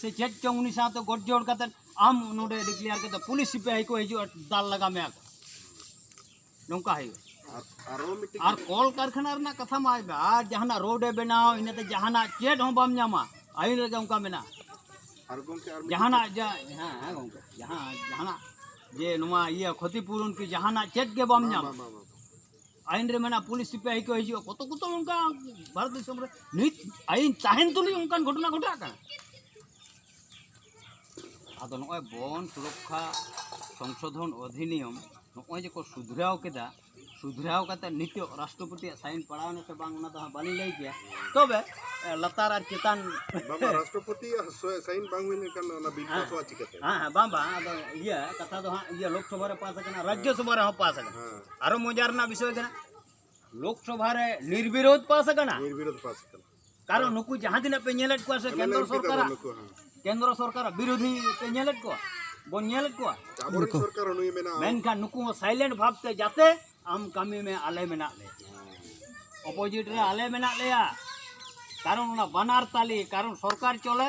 ᱥᱮ ᱪᱮᱫ ᱪᱚᱝ ᱩᱱᱤ ᱥᱟᱶᱛᱮ ᱜᱚᱴ ᱡᱚᱲ ᱠᱟᱛᱮ ᱟᱢ ᱱᱚᱰᱮ ᱰᱤᱠᱞᱮᱭᱟᱨ ᱠᱟᱛᱮ ᱯᱩᱞᱤᱥ ᱥᱤᱯᱟᱹᱦᱤ ᱠᱚ ᱦᱤᱡᱩᱜᱼᱟ ᱫᱟᱞ ᱞᱟᱜᱟ ᱢᱮᱭᱟ ᱠᱚ ᱱᱚᱝᱠᱟ ᱦᱩᱭᱩᱜᱼᱟ ᱟᱨ ᱠᱚᱞ ᱠᱟᱨᱠᱷᱟᱱᱟ ᱨᱮᱱᱟᱜ ᱠᱟᱛᱷᱟ ᱢᱟ ᱟᱭᱢᱟ ᱟᱨ ᱡᱟᱦᱟᱱᱟᱜ ᱨᱳᱰ ᱮ ᱵᱮᱱᱟᱣ ᱤᱱᱟᱹᱛᱮ ᱡᱟᱦᱟᱱᱟᱜ ᱪᱮᱫ ᱦᱚᱸ ᱵᱟᱢ ᱧᱟᱢᱟ ᱟᱹᱭᱤᱱ ᱨᱮᱜᱮ ᱚᱱᱠᱟ ᱢᱮᱱᱟᱜᱼᱟ ᱡᱟᱦᱟᱱᱟᱜ ᱦᱮᱸ ᱜᱚᱢᱠᱮ ᱡᱟᱦᱟᱸ ᱡᱟᱦᱟᱱᱟᱜ ᱡᱮ ᱱᱚᱣᱟ ᱤᱭᱟᱹ ᱠᱷᱚᱛᱤᱯᱩᱨᱚᱱ ᱠᱤ ᱡᱟᱦᱟᱱᱟᱜ ᱪᱮᱫ ᱜᱮ ᱵᱟᱢ ᱧᱟᱢᱟ ᱟᱭᱤᱱ ᱨᱮ ᱢᱮᱱᱟᱜᱼᱟ ᱯᱩᱞᱤᱥ ᱥᱤᱯᱟᱹᱦᱤ ᱠᱚ ᱦᱤᱡᱩᱜᱼᱟ ᱠᱚᱛ ᱠᱚᱛᱚ ᱚᱱᱠᱟ ᱵᱷᱟᱨᱚᱛ ᱫᱤᱥᱚᱢ ᱨᱮ ᱱᱤᱛ ᱟᱭᱤᱱ ᱛᱟᱦᱮᱱ ᱛᱩᱞᱩᱡ ᱚᱱᱠᱟᱱ ᱜᱷᱚᱴᱚᱱᱟ ᱜᱷᱚᱴᱟᱜ ᱠᱟᱱᱟ ᱟᱫᱚ ᱱᱚᱜᱼᱚᱭ ᱵᱚᱱ ᱥᱩᱨᱚᱠᱠᱷᱟ ᱥᱚᱝᱥᱳᱫᱷᱚᱱ ᱚᱫᱷᱤᱱᱤᱭᱚᱢ ᱱᱚᱜᱼᱚᱭ ᱡᱮᱠᱚ ᱥᱩᱫᱷᱨᱟᱣ ᱠᱮᱫᱟ ᱥᱩᱫᱷᱨᱟᱣ ᱠᱟᱛᱮ ᱱᱤᱛᱚᱜ ᱨᱟᱥᱴᱨᱚᱯᱚᱛᱤᱭᱟᱜ ᱥᱟᱭᱤᱱ ᱯᱟᱲᱟᱣᱱᱟ ᱥᱮ ᱵᱟᱝ ᱚᱱᱟ ᱫᱚ ᱦᱟᱸᱜ ᱵᱟᱹᱞᱤᱧ ᱞᱟᱹᱭ ᱠᱮᱭᱟ ᱛᱚᱵᱮ ᱞᱟᱛᱟᱨ ᱟᱨ ᱪᱮᱛᱟᱱ ᱨᱟᱥᱴᱨᱚᱯᱚᱛᱤᱭᱟᱜ ᱥᱟᱭᱤᱱ ᱵᱟᱝ ᱦᱩᱭ ᱞᱮᱱᱠᱷᱟᱱ ᱚᱱᱟ ᱵᱤᱞ ᱯᱟᱥᱚᱜᱼᱟ ᱪᱤᱠᱟᱹᱛᱮ ᱦᱮᱸ ᱦᱮᱸ ᱵᱟᱝ ᱵᱟᱝ ᱟᱫᱚ ᱤᱭᱟᱹ ᱠᱟᱛᱷᱟ ᱫᱚ ᱦᱟᱸᱜ ᱤᱭᱟᱹ ᱞᱳᱠᱥᱚᱵᱷᱟ ᱨᱮ ᱯᱟᱥ ᱟᱠᱟᱱᱟ ᱨᱟᱡᱽᱡᱚᱥᱚᱵᱷᱟ ᱨᱮᱦᱚᱸ ᱯᱟᱥ ᱟᱠᱟᱱᱟ ᱟᱨᱚ ᱢᱚᱡᱟ ᱨᱮᱱᱟᱜ ᱵᱤᱥᱚᱭ ᱠᱟᱱᱟ ᱞᱳᱠᱥᱚᱵᱷᱟ ᱨᱮ ᱱᱤᱨᱵᱤᱨᱳᱫᱷ ᱯᱟᱥ ᱟᱠᱟᱱᱟ ᱱᱤᱨᱵᱤᱨᱳᱫᱷ ᱯᱟᱥ ᱟᱠᱟᱱᱟ ᱠᱟᱨᱚᱱ ᱱᱩᱠᱩ ᱡᱟᱦᱟᱸ ᱛᱤᱱᱟᱹᱜ ᱯᱮ ᱧᱮᱞᱮᱫ ᱠᱚᱣᱟ ᱥᱮ ᱠᱮᱱᱫᱨᱚ ᱥᱚᱨᱠᱟᱨ ᱠᱮᱱᱫᱨᱚ ᱥᱚᱨᱠᱟᱨ ᱵᱤᱨᱳᱫᱷᱤ ᱯᱮ ᱧᱮᱞᱮᱫ ᱠᱚᱣᱟ ᱵᱚᱱ ᱧᱮᱞᱮᱫ ᱠᱚᱣᱟ ᱢᱮᱱᱠᱷᱟᱱ ᱱᱩᱠᱩ ᱦᱚᱸ ᱥᱟᱭᱞᱮᱱᱴ ᱵᱷᱟᱵᱛᱮ ᱡᱟᱛᱮ ᱟᱢ ᱠᱟᱹᱢᱤ ᱢᱮ ᱟᱞᱮ ᱢᱮᱱᱟᱜ ᱞᱮ ᱚᱯᱳᱡᱤᱴ ᱨᱮ ᱟᱞᱮ ᱢᱮᱱᱟᱜ ᱞᱮᱭᱟ ᱠᱟᱨᱚᱱ ᱚᱱᱟ ᱵᱟᱱᱟᱨ ᱛᱟᱞᱮ ᱠᱟᱨᱚᱱ ᱥᱚᱨᱠᱟᱨ ᱪᱚᱞᱮ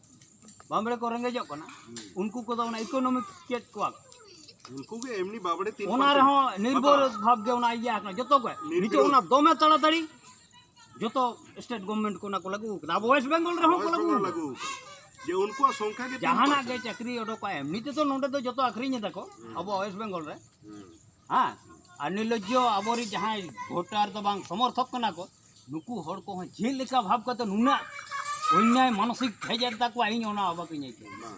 ᱵᱟᱢᱵᱲᱮ ᱠᱚ ᱨᱮᱸᱜᱮᱡᱚᱜ ᱠᱟᱱᱟ ᱩᱱᱠᱩ ᱠᱚᱫᱚ ᱚᱱᱟ ᱤᱠᱳᱱᱚᱢᱤᱠ ᱪᱮᱫ ᱠᱚᱣᱟ ᱩᱱᱠᱩ ᱜᱮ ᱮᱢᱱᱤ ᱵᱟᱵᱲᱮ ᱛᱤᱱ ᱚᱱᱟ ᱨᱮᱦᱚᱸ ᱱᱤᱨᱵᱷᱚᱨ ᱵᱷᱟᱵ ᱜᱮ ᱚᱱᱟ ᱤᱭᱟᱹ ᱟᱠᱟᱱᱟ ᱡᱚᱛᱚ ᱜᱮ ᱱᱤᱛᱚᱜ ᱚᱱᱟ ᱫᱚᱢᱮ ᱛᱟᱲᱟᱛᱟᱲᱤ ᱡᱚᱛᱚ ᱥᱴᱮᱴ ᱜᱚᱵᱷᱢᱮᱱᱴ ᱠᱚ ᱚᱱᱟ ᱠᱚ ᱞᱟᱹᱜᱩ ᱟᱠᱟᱫᱟ ᱟᱵᱚ ᱣᱮᱥᱴ ᱵᱮᱝᱜᱚᱞ ᱨᱮᱦᱚᱸ ᱠᱚ ᱞᱟᱹᱜᱩ ᱞᱟᱹᱜᱩ ᱡᱮ ᱩᱱᱠᱩᱣᱟᱜ ᱥᱚᱝᱠᱷᱟ ᱜᱮ ᱡᱟᱦᱟᱱᱟᱜ ᱜᱮ ᱪᱟᱹᱠᱨᱤ ᱚᱰᱚᱠᱟ ᱮᱢᱱᱤ ᱛᱮᱫᱚ ᱱᱚᱰᱮ ᱫᱚ ᱡᱚᱛᱚ ᱟᱹᱠᱷᱨᱤᱧ ᱮᱫᱟ ᱠᱚ ᱟᱵᱚ ᱣᱮᱥᱴ ᱵᱮᱝᱜᱚᱞ ᱨᱮ ᱦᱮᱸ ᱟᱨ ᱱᱤᱨᱞᱚᱡᱽᱡᱚ ᱟᱵᱚᱨᱤᱡ ᱡᱟᱦᱟᱸᱭ ᱵᱷᱳᱴᱟᱨ ᱫᱚ ᱵᱟᱝ ᱥᱚᱢᱚᱨᱛᱷᱚᱠ ᱠᱟᱱᱟ ᱠᱚ ᱱᱩᱠᱩ ᱦᱚᱲ ᱠᱚᱦᱚᱸ ᱪᱮᱫ ᱞᱮᱠᱟ ᱵᱷᱟᱵᱽ ᱠᱟᱛᱮ ᱱᱩᱱᱟᱹᱜ ᱚᱱᱭᱟᱭ ᱢᱟᱱᱚᱥᱤᱠ ᱦᱮᱡ ᱮᱱ ᱛᱟᱠᱚᱣᱟ ᱤᱧ ᱚᱱᱟ ᱚᱵᱟᱠᱤᱧ ᱟᱹᱭᱠᱟᱹᱣᱟ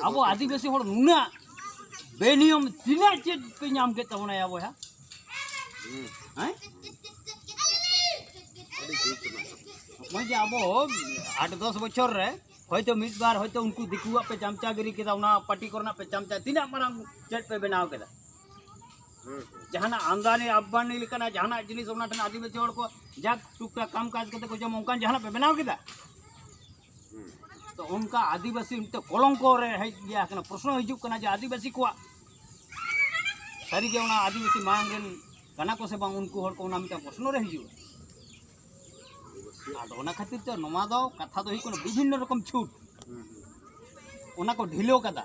ᱟᱵᱚ ᱟᱹᱫᱤᱵᱟᱹᱥᱤ ᱦᱚᱲ ᱱᱩᱱᱟᱹᱜ ᱵᱮᱱᱤᱭᱚᱢ ᱛᱤᱱᱟᱹᱜ ᱪᱮᱫ ᱯᱮ ᱧᱟᱢ ᱠᱮᱫ ᱛᱟᱵᱚᱱᱟ ᱭᱟ ᱵᱚᱭᱦᱟ ᱦᱮᱸ ᱱᱚᱜᱼᱚᱭ ᱡᱮ ᱟᱵᱚ ᱟᱴ ᱫᱚᱥ ᱵᱚᱪᱷᱚᱨ ᱨᱮ ᱦᱚᱭᱛᱳ ᱢᱤᱫ ᱵᱟᱨ ᱦᱚᱭᱛᱳ ᱩᱱᱠᱩ ᱫᱤᱠᱩᱣᱟᱜ ᱯᱮ ᱪᱟᱢᱪᱟᱜᱤᱨᱤ ᱠᱮᱫᱟ ᱚᱱᱟ ᱯᱟᱴᱤ ᱠᱚᱨᱮᱱᱟᱜ ᱯᱮ ᱪᱟᱢᱪᱟ ᱛᱤᱱᱟᱹᱜ ᱢᱟᱨᱟᱝ ᱪᱮᱫ ᱯᱮ ᱵᱮᱱᱟᱣ ᱠᱮᱫᱟ ᱡᱟᱦᱟᱱᱟᱜ ᱟᱢᱫᱟᱱᱤ ᱟᱵᱟᱱᱤ ᱞᱮᱠᱟᱱᱟᱜ ᱡᱟᱦᱟᱱᱟᱜ ᱡᱤᱱᱤᱥ ᱚᱱᱟ ᱴᱷᱮᱱ ᱟᱹᱫᱤᱵᱟᱹᱥᱤ ᱦᱚᱲ ᱠᱚ ᱡᱟᱠ ᱴᱩᱠ ᱴᱟᱠ ᱠᱟᱢ ᱠᱟᱡᱽ ᱠᱟᱛᱮ ᱠᱚ ᱡᱚᱢ ᱚᱱᱠᱟᱱ ᱡᱟᱦᱟᱱᱟᱜ ᱯᱮ ᱵᱮᱱᱟᱣ ᱠᱮᱫᱟ ᱛᱚ ᱚᱱᱠᱟ ᱟᱹᱫᱤᱵᱟᱹᱥᱤ ᱢᱤᱫᱴᱮᱱ ᱠᱚᱞᱚᱝᱠᱚ ᱨᱮ ᱦᱮᱡ ᱜᱮᱭᱟ ᱠᱟᱱᱟ ᱯᱨᱚᱥᱱᱚ ᱦᱤᱡᱩᱜ ᱠᱟᱱᱟ ᱡᱮ ᱟᱹᱫᱤᱵᱟᱹᱥᱤ ᱠᱚᱣᱟᱜ ᱥᱟᱹᱨᱤᱜᱮ ᱚᱱᱟ ᱟᱹᱫᱤᱵᱟᱹᱥᱤ ᱢᱟᱲᱟᱝ ᱨᱮᱱ ᱠᱟᱱᱟ ᱠᱚ ᱥᱮ ᱵᱟᱝ ᱩᱱᱠᱩ ᱦᱚᱲ ᱠᱚ ᱚᱱᱟ ᱢᱤᱫᱴᱟᱝ ᱯᱨᱚᱥᱱᱚ ᱨᱮ ᱦᱤᱡᱩᱜᱼᱟ ᱟᱫᱚ ᱚᱱᱟ ᱠᱷᱟᱹᱛᱤᱨ ᱛᱮ ᱱᱚᱣᱟ ᱫᱚ ᱠᱟᱛᱷᱟ ᱫᱚ ᱦᱩᱭᱩᱜ ᱠᱟᱱᱟ ᱵᱤᱵᱷᱤᱱᱱᱚ ᱨᱚᱠᱚᱢ ᱪᱷᱩᱴ ᱚᱱᱟ ᱠᱚ ᱰᱷᱤᱞᱟᱹᱣ ᱠᱟᱫᱟ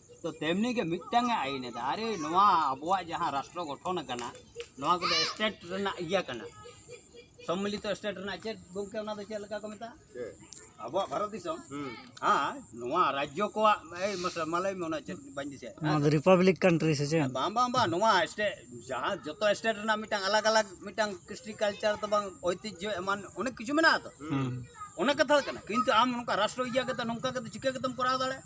ᱛᱚ ᱛᱮᱢᱱᱤ ᱜᱮ ᱢᱤᱫᱴᱟᱝ ᱮ ᱟᱭᱤᱱ ᱮᱫᱟ ᱟᱨᱮ ᱱᱚᱣᱟ ᱟᱵᱚᱣᱟᱜ ᱡᱟᱦᱟᱸ ᱨᱟᱥᱴᱨᱚ ᱜᱚᱴᱷᱚᱱ ᱟᱠᱟᱱᱟ ᱱᱚᱣᱟ ᱠᱚᱫᱚ ᱥᱴᱮᱴ ᱨᱮᱱᱟᱜ ᱤᱭᱟᱹ ᱠᱟᱱᱟ ᱥᱚᱢᱢᱤᱞᱤᱛᱚ ᱥᱴᱮᱴ ᱨᱮᱱᱟᱜ ᱪᱮᱫ ᱜᱚᱢᱠᱮ ᱚᱱᱟ ᱫᱚ ᱪᱮᱫ ᱞᱮᱠᱟ ᱠᱚ ᱢᱮᱛᱟᱜᱼᱟ ᱟᱵᱚᱣᱟᱜ ᱵᱷᱟᱨᱚᱛ ᱫᱤᱥᱚᱢ ᱦᱮᱸ ᱱᱚᱣᱟ ᱨᱟᱡᱽᱡᱚ ᱠᱚᱣᱟᱜ ᱮᱭ ᱢᱟᱥᱮ ᱢᱟ ᱞᱟᱹᱭ ᱢᱮ ᱚᱱᱟ ᱪᱮᱫ ᱵᱟᱹᱧ ᱫᱤᱥᱟᱹᱭᱟ ᱱᱚᱣᱟ ᱫᱚ ᱨᱤᱯᱟᱵᱽᱞᱤᱠ ᱠᱟᱱᱴᱨᱤ ᱥᱮ ᱪᱮᱫ ᱵᱟᱝ ᱵᱟᱝ ᱵᱟᱝ ᱱᱚᱣᱟ ᱥᱴᱮᱴ ᱡᱟᱦᱟᱸ ᱡᱚᱛᱚ ᱥᱴᱮᱴ ᱨᱮᱱᱟᱜ ᱢᱤᱫᱴᱟᱝ ᱟᱞᱟᱜᱽ ᱟᱞᱟᱜᱽ ᱢᱤᱫᱴᱟᱝ ᱠᱨᱤᱥᱴᱤ ᱠᱟᱞᱪᱟᱨ ᱫᱚ ᱵᱟᱝ ᱳᱭᱛᱤᱡᱽᱡᱚ ᱮᱢᱟᱱ ᱚᱱᱮᱠ ᱠᱤᱪᱷᱩ ᱢᱮᱱᱟᱜᱼᱟ ᱛᱚ ᱚᱱᱟ ᱠᱟᱛᱷᱟ ᱠᱟᱱᱟ ᱠᱤᱱᱛᱩ ᱟᱢ ᱱᱚᱝᱠᱟ ᱨᱟᱥᱴᱨᱚ ᱤᱭᱟᱹ ᱠᱟᱛᱮ ᱱᱚᱝᱠᱟ ᱠᱟᱛᱮ ᱪᱤᱠᱟᱹ ᱠᱟᱛᱮᱢ ᱠᱚᱨᱟᱣ ᱫᱟᱲᱮᱭᱟᱜᱼᱟ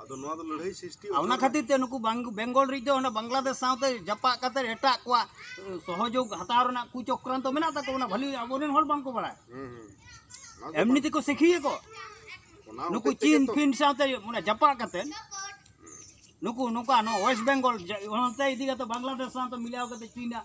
ᱟᱫᱚ ᱱᱚᱣᱟ ᱫᱚ ᱞᱟᱹᱲᱦᱟᱹᱭ ᱥᱨᱤᱥᱴᱤ ᱚᱱᱟ ᱠᱷᱟᱹᱛᱤᱨ ᱛᱮ ᱱᱩᱠᱩ ᱵᱮᱝᱜᱚᱞ ᱨᱤᱡ ᱫᱚ ᱚᱱᱟ ᱵᱟᱝᱞᱟᱫᱮᱥ ᱥᱟᱶᱛᱮ ᱡᱟᱯᱟᱜ ᱠᱟᱛᱮ ᱮᱴᱟᱜ ᱠᱚᱣᱟᱜ ᱥᱚᱦᱚᱡᱳᱜ ᱦᱟᱛᱟᱣ ᱨᱮᱱᱟᱜ ᱠᱩ ᱪᱚᱠᱨᱟᱱᱛᱚ ᱢᱮᱱᱟᱜ ᱛᱟᱠᱚ ᱚᱱᱟ ᱵᱷᱟᱹᱞᱤ ᱟᱵᱚᱨᱮᱱ ᱦᱚᱲ ᱵᱟᱝᱠᱚ ᱵᱟᱲᱟᱭ ᱮᱢᱱᱤ ᱛᱮᱠᱚ ᱥᱤᱠᱷᱤᱭᱟ ᱠᱚ ᱱᱩᱠᱩ ᱪᱤᱱ ᱯᱷᱤᱱ ᱥᱟᱶᱛᱮ ᱢᱟᱱᱮ ᱡᱟᱯᱟᱜ ᱠᱟᱛᱮ ᱱᱩᱠᱩ ᱱᱚᱝᱠᱟ ᱱᱚᱣᱟ ᱳᱭᱮᱥᱴ ᱵᱮᱝᱜᱚᱞ ᱚᱱᱛᱮ ᱤᱫᱤ ᱠᱟᱛᱮ ᱵᱟᱝᱞᱟᱫᱮᱥ ᱥᱟᱶᱛᱮ ᱢᱤᱞᱟᱣ ᱠᱟᱛᱮ ᱪᱤᱱᱟᱜ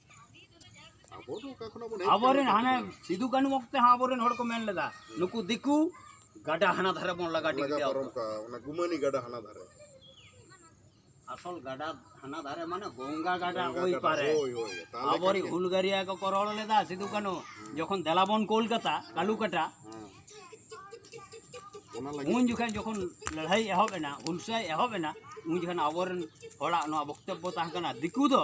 ᱟᱵᱚᱨᱮᱱ ᱦᱟᱱᱮ ᱥᱤᱫᱩ ᱠᱟᱹᱱᱩ ᱚᱠᱛᱮ ᱦᱚᱸ ᱟᱵᱚᱨᱮᱱ ᱦᱚᱲ ᱠᱚ ᱢᱮᱱ ᱞᱮᱫᱟ ᱱᱩᱠᱩ ᱫᱤᱠᱩ ᱜᱟᱰᱟ ᱦᱟᱱᱟ ᱫᱷᱟᱨᱮ ᱵᱚᱱ ᱞᱟᱜᱟ ᱴᱤᱠ ᱠᱮᱭᱟ ᱚᱱᱟ ᱜᱩᱢᱟᱹᱱᱤ ᱜᱟᱰᱟ ᱦᱟᱱᱟ ᱫᱷᱟᱨᱮ ᱟᱥᱚᱞ ᱜᱟᱰᱟ ᱦᱟᱱᱟ ᱫᱷᱟᱨᱮ ᱢᱟᱱᱮ ᱜᱚᱝᱜᱟ ᱜᱟᱰᱟ ᱳᱭ ᱯᱟᱨᱮ ᱟᱵᱚᱨᱤ ᱦᱩᱞᱜᱟᱹᱨᱤᱭᱟ ᱠᱚᱠᱚ ᱨᱚᱲ ᱞᱮᱫᱟ ᱥᱤᱫᱩ ᱠᱟᱹᱱᱩ ᱡᱚᱠᱷᱚᱱ ᱫᱮᱞᱟ ᱵᱚᱱ ᱠᱳᱞᱠᱟᱛᱟ ᱠᱟᱞᱩᱠᱟᱴᱟ ᱩᱱ ᱡᱚᱠᱷᱚᱱ ᱡᱚᱠᱷᱚᱱ ᱞᱟᱹᱲᱦᱟᱹᱭ ᱮᱦᱚᱵ ᱮᱱᱟ ᱦᱩᱞᱥᱟᱹᱭ ᱮᱦᱚᱵ ᱮᱱᱟ ᱩᱱ ᱡᱚᱠᱷᱚᱱ ᱟᱵᱚᱨᱮᱱ ᱦᱚᱲᱟᱜ ᱱᱚᱣᱟ ᱵᱚᱠᱛᱚᱵᱵᱚ ᱛᱟᱦᱮᱸ ᱠᱟᱱᱟ ᱫᱤᱠᱩ ᱫᱚ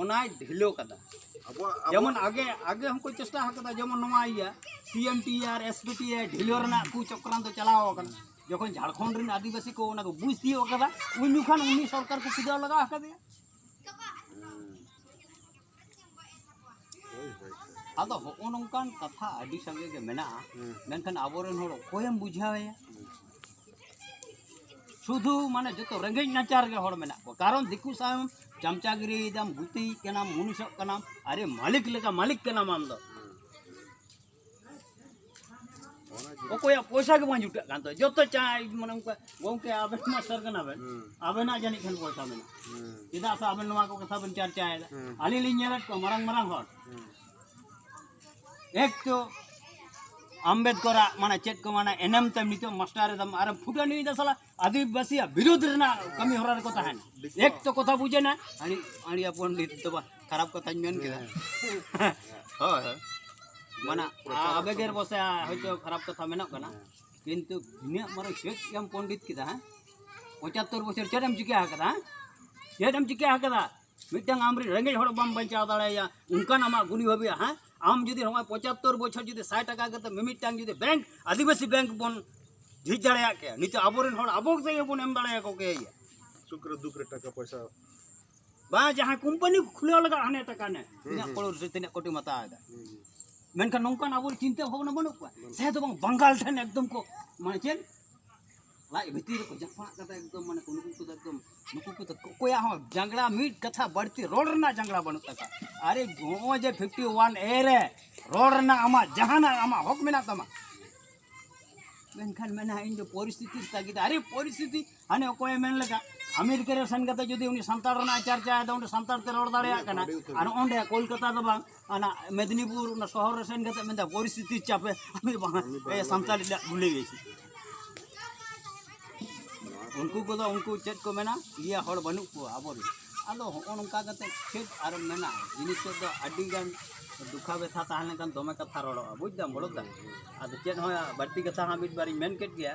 ᱚᱱᱟᱭ ᱰᱷᱤᱞᱟᱹᱣ ᱠᱟᱫᱟ ᱡᱮᱢᱚᱱ ᱟᱜᱮ ᱟᱜᱮ ᱦᱚᱸᱠᱚ ᱪᱮᱥᱴᱟ ᱟᱠᱟᱫᱟ ᱡᱮᱢᱚᱱ ᱱᱚᱣᱟ ᱤᱭᱟᱹ P M T R S P T R ᱰᱷᱤᱞᱟᱹᱣ ᱨᱮᱱᱟᱜ ᱠᱚ ᱪᱚᱠᱨᱟᱱ ᱫᱚ ᱪᱟᱞᱟᱣ ᱟᱠᱟᱱᱟ ᱡᱚᱠᱷᱚᱱ ᱡᱷᱟᱲᱠᱷᱚᱸᱰ ᱨᱮᱱ ᱟᱹᱫᱤᱵᱟᱹᱥᱤ ᱠᱚ ᱚᱱᱟ ᱠᱚ ᱵᱩᱡᱽ ᱛᱤᱭᱳᱜ ᱟᱠᱟᱫᱟ ᱩᱱ ᱡᱚᱠᱷᱚᱱ ᱩᱱᱤ ᱥᱚᱨᱠᱟᱨ ᱠᱚ ᱯᱩᱡᱟᱹᱣ ᱞᱟᱜᱟᱣ ᱟᱠᱟᱫᱮᱭᱟ ᱟᱫᱚ ᱦᱚᱸᱜᱼᱚ ᱱᱚᱝᱠᱟᱱ ᱠᱟᱛᱷᱟ ᱟᱹᱰᱤ ᱥᱟᱸᱜᱮ ᱜᱮ ᱢᱮᱱᱟᱜᱼᱟ ᱢᱮᱱᱠᱷᱟᱱ ᱟᱵᱚᱨᱮᱱ ᱦᱚᱲ ᱚᱠᱚᱭᱮᱢ ᱵᱩᱡᱷᱟᱹᱣᱮᱭᱟ ᱥᱩᱫᱷᱩ ᱢᱟᱱᱮ ᱡᱚᱛᱚ ᱨᱮᱸᱜᱮᱡ ᱱᱟᱪᱟᱨ ᱜᱮ ᱦᱚᱲ ᱢᱮᱱᱟᱜ ᱠᱚᱣᱟ ᱠᱟᱨᱚᱱ ᱫᱤᱠᱩ ᱥᱟᱶ ᱪᱟᱢᱪᱟᱜᱤᱨᱤᱭᱮᱫᱟᱢ ᱜᱩᱛᱤᱭᱮᱫ ᱠᱟᱱᱟᱢ ᱢᱩᱱᱤᱥᱚᱜ ᱠᱟᱱᱟᱢ ᱟᱨᱮ ᱢᱟᱹᱞᱤᱠ ᱞᱮᱠᱟ ᱢᱟᱹᱞᱤᱠ ᱠᱟᱱᱟᱢ ᱟᱢ ᱫᱚ ᱚᱠᱚᱭᱟᱜ ᱯᱚᱭᱥᱟ ᱜᱮ ᱵᱟᱝ ᱡᱩᱴᱟᱹᱜ ᱠᱟᱱ ᱛᱟᱭᱟ ᱡᱚᱛᱚ ᱪᱟᱭ ᱢᱟᱱᱮ ᱚᱱᱠᱟ ᱜᱚᱝᱠᱮ ᱟᱵᱮᱱ ᱢᱟᱥᱴᱟᱨ ᱠᱟᱱᱟᱵᱮᱱ ᱟᱵᱮᱱᱟᱜ ᱡᱟᱹᱱᱤᱡ ᱠᱷᱟᱱ ᱯᱚᱭᱥᱟ ᱢᱮᱱᱟᱜᱼᱟ ᱪᱮᱫᱟᱜ ᱥᱮ ᱟᱵᱮᱱ ᱱᱚᱣᱟ ᱠᱚ ᱠᱟᱛᱷᱟ ᱵᱮᱱ ᱪᱟᱨᱪᱟᱭᱮᱫᱟ ᱟᱹᱞᱤᱧ ᱞᱤᱧ ᱧᱮᱞᱮᱫ ᱠᱚᱣᱟ ᱢᱟᱨᱟᱝ ᱢᱟᱨᱟᱝ ᱦᱚᱲ ᱮᱠᱴᱩ ᱟᱢᱵᱮᱫᱠᱚᱨᱟᱜ ᱢᱟᱱᱮ ᱪᱮᱫ ᱠᱚ ᱢᱟᱱᱮ ᱮᱱᱮᱢ ᱛᱮ ᱱᱤᱛᱚᱜ ᱢᱟᱥᱴᱟᱨ ᱮᱫᱟᱢ ᱟᱨ ᱯᱷᱩᱴᱟᱹᱱᱤ ᱫᱟ ᱥᱟᱞᱟ ᱟᱹᱫᱤᱵᱟᱹᱥᱤᱭᱟᱜ ᱵᱤᱨᱩᱫᱽ ᱨᱮᱱᱟᱜ ᱠᱟᱹᱢᱤ ᱦᱚᱨᱟ ᱨᱮᱠᱚ ᱛᱟᱦᱮᱱ ᱮᱠ ᱛᱚ ᱠᱚᱛᱷᱟ ᱵᱩᱡᱮᱱᱟ ᱟᱹᱰᱤ ᱟᱹᱰᱤ ᱯᱚᱱᱰᱤᱛ ᱫᱚ ᱵᱟ ᱠᱷᱟᱨᱟᱯ ᱠᱟᱛᱷᱟᱧ ᱢᱮᱱ ᱠᱮᱫᱟ ᱦᱳᱭ ᱦᱳᱭ ᱢᱟᱱᱮ ᱟᱵᱮᱜᱮᱨ ᱵᱚᱥᱮ ᱦᱚᱭᱛᱳ ᱠᱷᱟᱨᱟᱯ ᱠᱟᱛᱷᱟ ᱢᱮᱱᱚᱜ ᱠᱟᱱᱟ ᱠᱤᱱᱛᱩ ᱤᱱᱟᱹᱜ ᱢᱟᱨᱟᱝ ᱪᱮᱫ ᱮᱢ ᱯᱚᱱᱰᱤᱛ ᱠᱮᱫᱟ ᱦᱮᱸ ᱯᱚᱸᱪᱟᱛᱛᱳᱨ ᱵᱚᱪᱷᱚᱨ ᱪᱮᱫ ᱮᱢ ᱪᱤᱠᱟᱹ ᱟᱠᱟᱫᱟ ᱪᱮᱫ ᱮᱢ ᱪᱤᱠᱟᱹ ᱟᱠᱟᱫᱟ ᱢᱤᱫᱴᱟᱝ ᱟᱢᱨᱮᱱ ᱨᱮᱸᱜᱮᱡ ᱦᱚᱲ ᱵᱟᱢ ᱵᱟᱧᱪᱟᱣ ᱫᱟᱲᱮᱭᱟᱭᱟ ᱚᱱᱠᱟᱱ ᱟᱢᱟᱜ ᱜᱩᱱᱤ ᱵᱷᱟᱹᱵᱤᱭᱟ ᱦᱮᱸ ᱟᱢ ᱡᱩᱫᱤ ᱱᱚᱜᱼᱚᱭ ᱯᱚᱸᱪᱟᱛᱛᱳᱨ ᱵᱚᱪᱷᱚᱨ ᱡᱩᱫᱤ ᱥᱟᱭ ᱴᱟᱠᱟ ᱠᱟᱛᱮ ᱢᱤᱢᱤᱫᱴᱟᱝ ᱡᱩᱫᱤ ᱵᱮᱝᱠ ᱟᱹᱫᱤᱵᱟᱹᱥᱤ ᱵᱮᱝᱠ ᱵᱚᱱ ᱡᱷᱤᱡ ᱫᱟᱲᱮᱭᱟᱜ ᱠᱮᱭᱟ ᱱᱤᱛᱚᱜ ᱟᱵᱚᱨᱮᱱ ᱦᱚᱲ ᱟᱵᱚ ᱛᱮᱜᱮ ᱵᱚᱱ ᱮᱢ ᱫᱟᱲᱮᱭᱟᱠᱚ ᱠᱮᱭᱟ ᱥᱩᱠ ᱨᱮ ᱫᱩᱠ ᱨᱮ ᱴᱟᱠᱟ ᱯᱚᱭᱥᱟ ᱵᱟᱝ ᱡᱟᱦᱟᱸ ᱠᱳᱢᱯᱟᱱᱤ ᱠᱷᱩᱞᱟᱹᱣ ᱞᱟᱜᱟᱜ ᱦᱟᱱᱮ ᱴᱟᱠᱟ ᱱᱮ ᱛᱤᱱᱟᱹᱜ ᱠᱚᱲᱚᱨ ᱥᱮ ᱛᱤᱱᱟᱹᱜ ᱠᱳᱴᱤᱢ ᱦᱟᱛᱟᱣ ᱮᱫᱟ ᱢᱮᱱᱠᱷᱟᱱ ᱱᱚᱝᱠᱟᱱ ᱟᱵᱚ ᱪᱤᱱᱛᱟᱹ ᱵᱷᱟᱵᱽᱱᱟ ᱵᱟᱹᱱᱩᱜ ᱠᱚᱣᱟ ᱥᱮ ᱫᱚ ᱵᱟᱝ ᱵᱟᱝᱜᱟᱞ ᱴᱷᱮᱱ ᱮᱠᱫᱚᱢ ᱠᱚ ᱢᱟᱱᱮ ᱪᱮᱫ ᱞᱟᱡ ᱵᱷᱤᱛᱤᱨ ᱨᱮᱠᱚ ᱡᱟᱯᱟᱜ ᱠᱟᱫᱟ ᱮᱠᱫᱚᱢ ᱢᱟᱱᱮ ᱱᱩᱠᱩ ᱠᱚᱫᱚ ᱮᱠᱫᱚᱢ ᱱᱩᱠᱩ ᱠᱚᱫᱚ ᱚᱠᱚᱭᱟᱜ ᱦᱚᱸ ᱡᱟᱸᱜᱲᱟ ᱢᱤᱫ ᱠᱟᱛᱷᱟ ᱵᱟᱹᱲᱛᱤ ᱨᱚᱲ ᱨᱮᱱᱟᱜ ᱡᱟᱸᱜᱲᱟ ᱵᱟᱹᱱᱩᱜ ᱛᱟᱠᱚᱣᱟ ᱟᱨᱮ ᱱᱚᱜᱼᱚᱭ ᱡᱮ ᱯᱷᱤᱯᱴᱤ ᱳᱣᱟᱱ ᱮ ᱨᱮ ᱨᱚᱲ ᱨᱮᱱᱟᱜ ᱟᱢᱟᱜ ᱡᱟᱦᱟᱱᱟᱜ ᱟᱢᱟᱜ ᱦᱚᱠ ᱢᱮᱱᱟᱜ ᱛᱟᱢᱟ ᱢᱮᱱᱠᱷᱟᱱ ᱢᱮᱱᱟ ᱤᱧ ᱫᱚ ᱯᱚᱨᱤᱥᱛᱷᱤᱛᱤ ᱛᱟᱹᱜᱤᱫ ᱟᱨᱮ ᱯᱚᱨᱤᱥᱛᱷᱤᱛᱤ ᱦᱟᱱᱮ ᱚᱠᱚᱭᱮ ᱢᱮᱱ ᱞᱮᱠᱟ ᱟᱢᱮᱨᱤᱠᱟ ᱨᱮ ᱥᱮᱱ ᱠᱟᱛᱮ ᱡᱩᱫᱤ ᱩᱱᱤ ᱥᱟᱱᱛᱟᱲ ᱨᱮᱱᱟᱜ ᱪᱟᱨᱪᱟᱭᱮᱫᱟ ᱚᱸᱰᱮ ᱥᱟᱱᱛᱟᱲ ᱛᱮ ᱨᱚᱲ ᱫᱟᱲᱮᱭᱟᱜ ᱠᱟᱱᱟ ᱟᱨ ᱚᱸᱰᱮ ᱠᱳᱞᱠᱟᱛᱟ ᱫᱚ ᱵᱟᱝ ᱚᱱᱟ ᱢᱮᱫᱽᱱᱤᱯᱩᱨ ᱚᱱᱟ ᱥᱚᱦᱚᱨ ᱨᱮ ᱥᱮᱱ ᱠᱟᱛᱮ ᱢᱮᱱᱫᱟ ᱯᱚᱨᱤᱥᱛᱷᱤᱛᱤ ᱪᱟᱯᱮ ᱟᱢᱤ ᱵᱟᱝ ᱥᱟᱱᱛᱟᱲᱤ ᱞᱮ ᱵᱷᱩᱞᱮ ᱜᱮᱭᱟ ᱩᱱᱠᱩ ᱠᱚᱫᱚ ᱩᱱᱠᱩ ᱪᱮᱫ ᱠᱚ ᱢᱮᱱᱟ ᱤᱭᱟᱹ ᱦᱚᱲ ᱵᱟᱹᱱᱩᱜ ᱠᱚᱣᱟ ᱟᱵᱚ ᱨᱮᱱ ᱟᱫᱚ ᱦᱚᱸᱜᱼᱚ ᱱᱚᱝᱠᱟ ᱠᱟᱛᱮ ᱪᱮᱫ ᱟᱨ ᱢᱮᱱᱟ ᱡᱤᱱᱤᱥ ᱛᱮᱫ ᱫᱚ ᱟᱹᱰᱤ ᱜᱟᱱ ᱫᱩᱠᱷᱟ ᱵᱮᱛᱷᱟ ᱛᱟᱦᱮᱸ ᱞᱮᱱᱠᱷᱟᱱ ᱫᱚᱢᱮ ᱠᱟᱛᱷᱟ ᱨᱚᱲᱚᱜᱼᱟ ᱵᱩᱡᱽ ᱫᱟᱢ ᱵᱚᱲᱚ ᱫᱟ ᱟᱫᱚ ᱪᱮᱫ ᱦᱚᱸ ᱵᱟᱹᱲᱛᱤ ᱠᱟᱛᱷᱟ ᱦᱚᱸ ᱢᱤᱫ ᱵᱟᱨᱤᱧ ᱢᱮᱱ ᱠᱮᱫ ᱜᱮᱭᱟ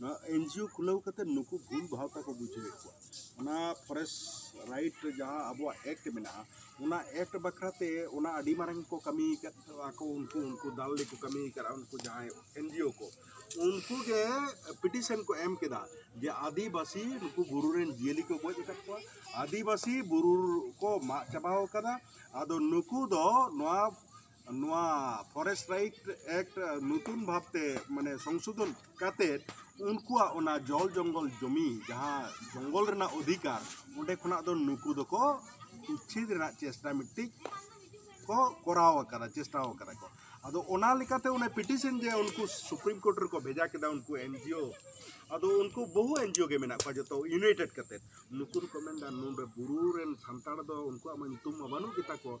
ᱱᱚᱣᱟ ᱮᱱ ᱡᱤ ᱳ ᱠᱷᱩᱞᱟᱹᱣ ᱠᱟᱛᱮᱫ ᱱᱩᱠᱩ ᱵᱷᱩᱞ ᱵᱷᱟᱶᱛᱟ ᱠᱚ ᱵᱩᱡᱷᱟᱹᱣᱮᱫ ᱠᱚᱣᱟ ᱚᱱᱟ ᱯᱷᱚᱨᱮᱥᱴ ᱨᱟᱭᱤᱴ ᱨᱮ ᱡᱟᱦᱟᱸ ᱟᱵᱚᱣᱟᱜ ᱮᱠᱴ ᱢᱮᱱᱟᱜᱼᱟ ᱚᱱᱟ ᱮᱠᱴ ᱵᱟᱠᱷᱨᱟ ᱛᱮ ᱚᱱᱟ ᱟᱹᱰᱤ ᱢᱟᱨᱟᱝ ᱠᱚ ᱠᱟᱹᱢᱤ ᱟᱠᱟᱫ ᱟᱠᱚ ᱩᱱᱠᱩ ᱩᱱᱠᱩ ᱫᱟᱞ ᱞᱮᱠᱚ ᱠᱟᱹᱢᱤ ᱟᱠᱟᱫ ᱩᱱᱠᱩ ᱡᱟᱦᱟᱸᱭ ᱮᱱ ᱡᱤ ᱳ ᱠᱚ ᱩᱱᱠᱩ ᱜᱮ ᱯᱤᱴᱤᱥᱮᱱ ᱠᱚ ᱮᱢ ᱠᱮᱫᱟ ᱡᱮ ᱟᱹᱫᱤᱵᱟᱹᱥᱤ ᱱᱩᱠᱩ ᱵᱩᱨᱩ ᱨᱮᱱ ᱡᱤᱭᱟᱹᱞᱤ ᱠᱚ ᱜᱚᱡ ᱟᱠᱟᱫ ᱠᱚᱣᱟ ᱟᱹᱫᱤᱵᱟᱹᱥᱤ ᱵᱩᱨᱩ ᱠᱚ ᱢᱟᱜ ᱪᱟᱵᱟ ᱟᱠᱟᱫᱟ ᱟᱫᱚ ᱱᱩᱠᱩ ᱫᱚ ᱱᱚᱣᱟ ᱱᱚᱣᱟ ᱯᱷᱚᱨᱮᱥᱴ ᱨᱟᱭᱤᱴ ᱮᱠᱴ ᱱᱚᱛᱩᱱ ᱵᱷᱟᱵᱛᱮ ᱢᱟᱱᱮ ᱥᱚᱝᱥᱳᱫᱷᱚᱱ ᱠᱟᱛᱮ ᱩᱱᱠᱩᱣᱟᱜ ᱚᱱᱟ ᱡᱚᱞ ᱡᱚᱝᱜᱚᱞ ᱡᱚᱢᱤ ᱡᱟᱦᱟᱸ ᱡᱚᱝᱜᱚᱞ ᱨᱮᱱᱟᱜ ᱚᱫᱷᱤᱠᱟᱨ ᱚᱸᱰᱮ ᱠᱷᱚᱱᱟᱜ ᱫᱚ ᱱᱩᱠᱩ ᱫᱚᱠᱚ ᱩᱪᱪᱷᱮᱫ ᱨᱮᱱᱟᱜ ᱪᱮᱥᱴᱟ ᱢᱤᱫᱴᱤᱡ ᱠᱚ ᱠᱚᱨᱟᱣ ᱟᱠᱟᱫᱟ ᱪᱮᱥᱴᱟ ᱟᱠᱟᱫᱟ ᱠᱚ ᱟᱫᱚ ᱚᱱᱟ ᱞᱮᱠᱟᱛᱮ ᱚᱱᱟ ᱯᱤᱴᱤᱥᱮᱱ ᱡᱮ ᱩᱱᱠᱩ ᱥᱩᱯᱨᱤᱢ ᱠᱳᱨᱴ ᱨᱮᱠᱚ ᱵᱷᱮᱡᱟ ᱠᱮᱫᱟ ᱩᱱᱠᱩ ᱮᱱᱡᱤᱭᱳ ᱟᱫᱚ ᱩᱱᱠᱩ ᱵᱚᱦᱩ ᱮᱱᱡᱤᱭᱳ ᱜᱮ ᱢᱮᱱᱟᱜ ᱠᱚᱣᱟ ᱡᱚᱛᱚ ᱤᱭᱩᱱᱟᱭᱴᱮᱰ ᱠᱟᱛᱮ ᱱᱩᱠᱩ ᱫᱚᱠᱚ ᱢᱮᱱᱫᱟ ᱱᱚᱰᱮ ᱵᱩᱨᱩ ᱨᱮᱱ ᱥᱟᱱᱛᱟᱲ ᱫᱚ ᱩᱱᱠᱩᱣᱟᱜ ᱢᱟ ᱧᱩᱛᱩᱢ ᱢᱟ ᱵᱟᱹᱱᱩᱜ ᱜᱮᱛᱟ ᱠᱚ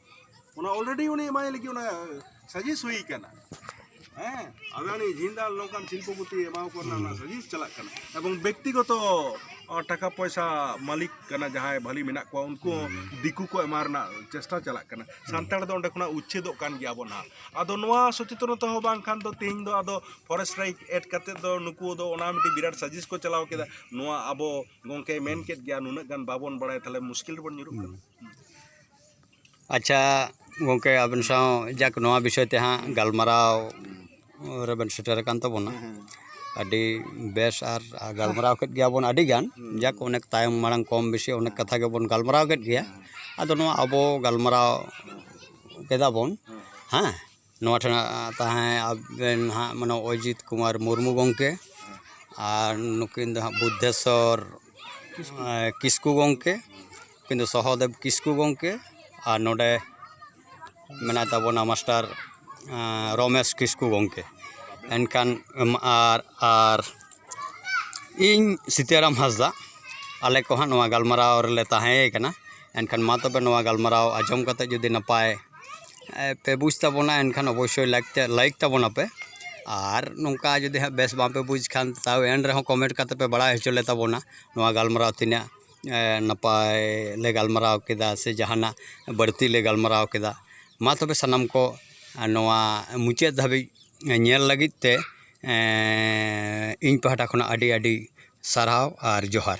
ᱚᱱᱟ ᱚᱞᱨᱮᱰᱤ ᱩᱱᱤ ᱮᱢᱟᱭ ᱞᱟᱹᱜᱤᱫ ᱚᱱᱟ ᱥᱟᱡᱮᱥ ᱦᱩᱭ ᱠᱟᱱᱟ ᱦᱮᱸ ᱟᱫᱟᱱᱤ ᱡᱤᱱᱫᱟᱞ ᱱᱚᱝᱠᱟᱱ ᱥᱤᱞᱯᱚᱯᱚᱛᱤ ᱮᱢᱟᱣ ᱠᱚ ᱨᱮᱱᱟᱜ ᱚᱱᱟ ᱥᱟᱡᱮᱥ ᱪᱟᱞᱟᱜ ᱠᱟᱱᱟ ᱮᱵᱚᱝ ᱵᱮᱠᱛᱤᱜᱚᱛᱚ ᱴᱟᱠᱟ ᱯᱚᱭᱥᱟ ᱢᱟᱹᱞᱤᱠ ᱠᱟᱱᱟ ᱡᱟᱦᱟᱸᱭ ᱵᱷᱟᱹᱞᱤ ᱢᱮᱱᱟᱜ ᱠᱚᱣᱟ ᱩᱱᱠᱩ ᱦᱚᱸ ᱫᱤᱠᱩ ᱠᱚ ᱮᱢᱟ ᱨᱮᱱᱟᱜ ᱪᱮᱥᱴᱟ ᱪᱟᱞᱟᱜ ᱠᱟᱱᱟ ᱥᱟᱱᱛᱟᱲ ᱫᱚ ᱚᱸᱰᱮ ᱠᱷᱚᱱᱟᱜ ᱩᱪᱪᱷᱮᱫᱚᱜ ᱠᱟᱱ ᱜᱮᱭᱟ ᱵᱚᱱ ᱦᱟᱸᱜ ᱟᱫᱚ ᱱᱚᱣᱟ ᱥᱚᱪᱮᱛᱚᱱᱚᱛᱟ ᱦᱚᱸ ᱵᱟᱝᱠᱷᱟᱱ ᱫᱚ ᱛᱮᱦᱮᱧ ᱫᱚ ᱟᱫᱚ ᱯᱷᱚᱨᱮᱥᱴ ᱨᱟᱭᱤᱴ ᱮᱰ ᱠᱟᱛᱮ ᱫᱚ ᱱᱩᱠᱩ ᱫᱚ ᱚᱱᱟ ᱢᱤᱫᱴᱤᱡ ᱵᱤᱨᱟᱴ ᱥᱟᱡᱮᱥ ᱠᱚ ᱪᱟᱞᱟᱣ ᱠᱮᱫᱟ ᱱᱚᱣᱟ ᱟᱵᱚ ᱜᱚᱝᱠᱮᱭ ᱢᱮᱱ ᱠᱮᱫ ᱜᱮᱭᱟ ᱱᱩᱱᱟᱹᱜ ᱜᱟᱱ ᱵᱟᱵᱚᱱ ᱵᱟᱲᱟᱭᱟ ᱛᱟᱦᱚᱞᱮ ᱢᱩᱥᱠᱤᱞ ᱨᱮᱵᱚᱱ ᱧᱩᱨᱩᱜ ᱠᱟᱱᱟ ᱟᱪᱪᱷᱟ ᱜᱚᱢᱠᱮ ᱟᱹᱵᱤᱱ ᱥᱟᱶ ᱡᱟᱠ ᱱᱚᱣᱟ ᱵᱤᱥᱚᱭ ᱛᱮ ᱦᱟᱸᱜ ᱜᱟᱞᱢᱟᱨᱟᱣ ᱨᱮᱵᱮᱱ ᱥᱮᱴᱮᱨ ᱟᱠᱟᱱ ᱛᱟᱵᱚᱱᱟ ᱟᱹᱰᱤ ᱵᱮᱥ ᱟᱨ ᱜᱟᱞᱢᱟᱨᱟᱣ ᱠᱮᱫ ᱜᱮᱭᱟᱵᱚᱱ ᱟᱹᱰᱤᱜᱟᱱ ᱡᱟᱠ ᱚᱱᱮᱠ ᱛᱟᱭᱚᱢ ᱢᱟᱲᱟᱝ ᱠᱚᱢ ᱵᱮᱥᱤ ᱚᱱᱮᱠ ᱠᱟᱛᱷᱟ ᱜᱮᱵᱚᱱ ᱜᱟᱞᱢᱟᱨᱟᱣ ᱠᱮᱫ ᱜᱮᱭᱟ ᱟᱫᱚ ᱱᱚᱣᱟ ᱟᱵᱚ ᱜᱟᱞᱢᱟᱨᱟᱣ ᱠᱮᱫᱟᱵᱚᱱ ᱦᱮᱸ ᱱᱚᱣᱟ ᱴᱷᱮᱱ ᱛᱟᱦᱮᱸ ᱟᱵᱮᱱ ᱦᱟᱸᱜ ᱢᱟᱱᱮ ᱚᱡᱤᱛ ᱠᱩᱢᱟᱨ ᱢᱩᱨᱢᱩ ᱜᱚᱢᱠᱮ ᱟᱨ ᱱᱩᱠᱤᱱ ᱫᱚ ᱦᱟᱸᱜ ᱵᱩᱫᱽᱫᱷᱮᱥᱚᱨ ᱠᱤᱥᱠᱩ ᱜᱚᱢᱠᱮ ᱩᱱᱠᱤᱱ ᱫᱚ ᱥᱚᱦᱚᱫᱮᱵᱽ ᱠᱤᱥᱠᱩ ᱜᱚᱢᱠᱮ ᱟᱨ ᱱᱚᱰᱮ ᱢᱮᱱᱟᱭ ᱛᱟᱵᱚᱱᱟ ᱢᱟᱥᱴᱟᱨ ᱨᱚᱢᱮᱥ ᱠᱤᱥᱠᱩ ᱜᱚᱢᱠᱮ ᱮᱱᱠᱷᱟᱱ ᱟᱨ ᱟᱨ ᱤᱧ ᱥᱤᱛᱟᱹᱨᱟᱢ ᱦᱟᱸᱥᱫᱟ ᱟᱞᱮ ᱠᱚᱦᱚᱸ ᱱᱚᱣᱟ ᱜᱟᱞᱢᱟᱨᱟᱣ ᱨᱮᱞᱮ ᱛᱟᱦᱮᱸᱭ ᱠᱟᱱᱟ ᱮᱱᱠᱷᱟᱱ ᱢᱟ ᱛᱚᱵᱮ ᱱᱚᱣᱟ ᱜᱟᱞᱢᱟᱨᱟᱣ ᱟᱸᱡᱚᱢ ᱠᱟᱛᱮᱫ ᱡᱩᱫᱤ ᱱᱟᱯᱟᱭ ᱯᱮ ᱵᱩᱡᱽ ᱛᱟᱵᱚᱱᱟ ᱮᱱᱠᱷᱟᱱ ᱚᱵᱚᱥᱥᱳᱭ ᱞᱟᱭᱤᱠ ᱛᱮ ᱞᱟᱭᱤᱠ ᱛᱟᱵᱚᱱᱟ ᱯᱮ ᱟᱨ ᱱᱚᱝᱠᱟ ᱡᱩᱫᱤ ᱦᱟᱸᱜ ᱵᱮᱥ ᱵᱟᱝᱯᱮ ᱵᱩᱡᱽ ᱠᱷᱟᱱ ᱛᱟᱣ ᱮᱱ ᱨᱮᱦᱚᱸ ᱠᱚᱢᱮᱱᱴ ᱠᱟᱛᱮᱫ ᱯᱮ ᱵᱟᱲᱟᱭ ᱦᱚᱪᱚ ᱞᱮ ᱛᱟᱵᱚᱱᱟ ᱱᱚᱣᱟ ᱜᱟᱞᱢᱟᱨᱟᱣ ᱛᱤᱱᱟᱹᱜ ᱱᱟᱯᱟᱭ ᱞᱮ ᱜᱟᱞᱢᱟᱨᱟᱣ ᱠᱮᱫᱟ ᱥᱮ ᱡᱟᱦᱟᱱᱟᱜ ᱵᱟᱹᱲᱛᱤ ᱞᱮ ᱜᱟᱞᱢᱟᱨᱟᱣ ᱠᱮᱫᱟ ᱢᱟ ᱛᱚᱵᱮ ᱥᱟᱱᱟᱢ ᱠᱚ ᱱᱚᱣᱟ ᱢᱩᱪᱟᱹᱫ ᱫᱷᱟᱹᱵᱤᱡ ᱧᱮᱞ ᱞᱟᱹᱜᱤᱫ ᱛᱮ ᱤᱧ ᱯᱟᱦᱴᱟ ᱠᱷᱚᱱᱟᱜ ᱟᱹᱰᱤ ᱟᱹᱰᱤ ᱥᱟᱨᱦᱟᱣ ᱟᱨ ᱡᱚᱦᱟᱨ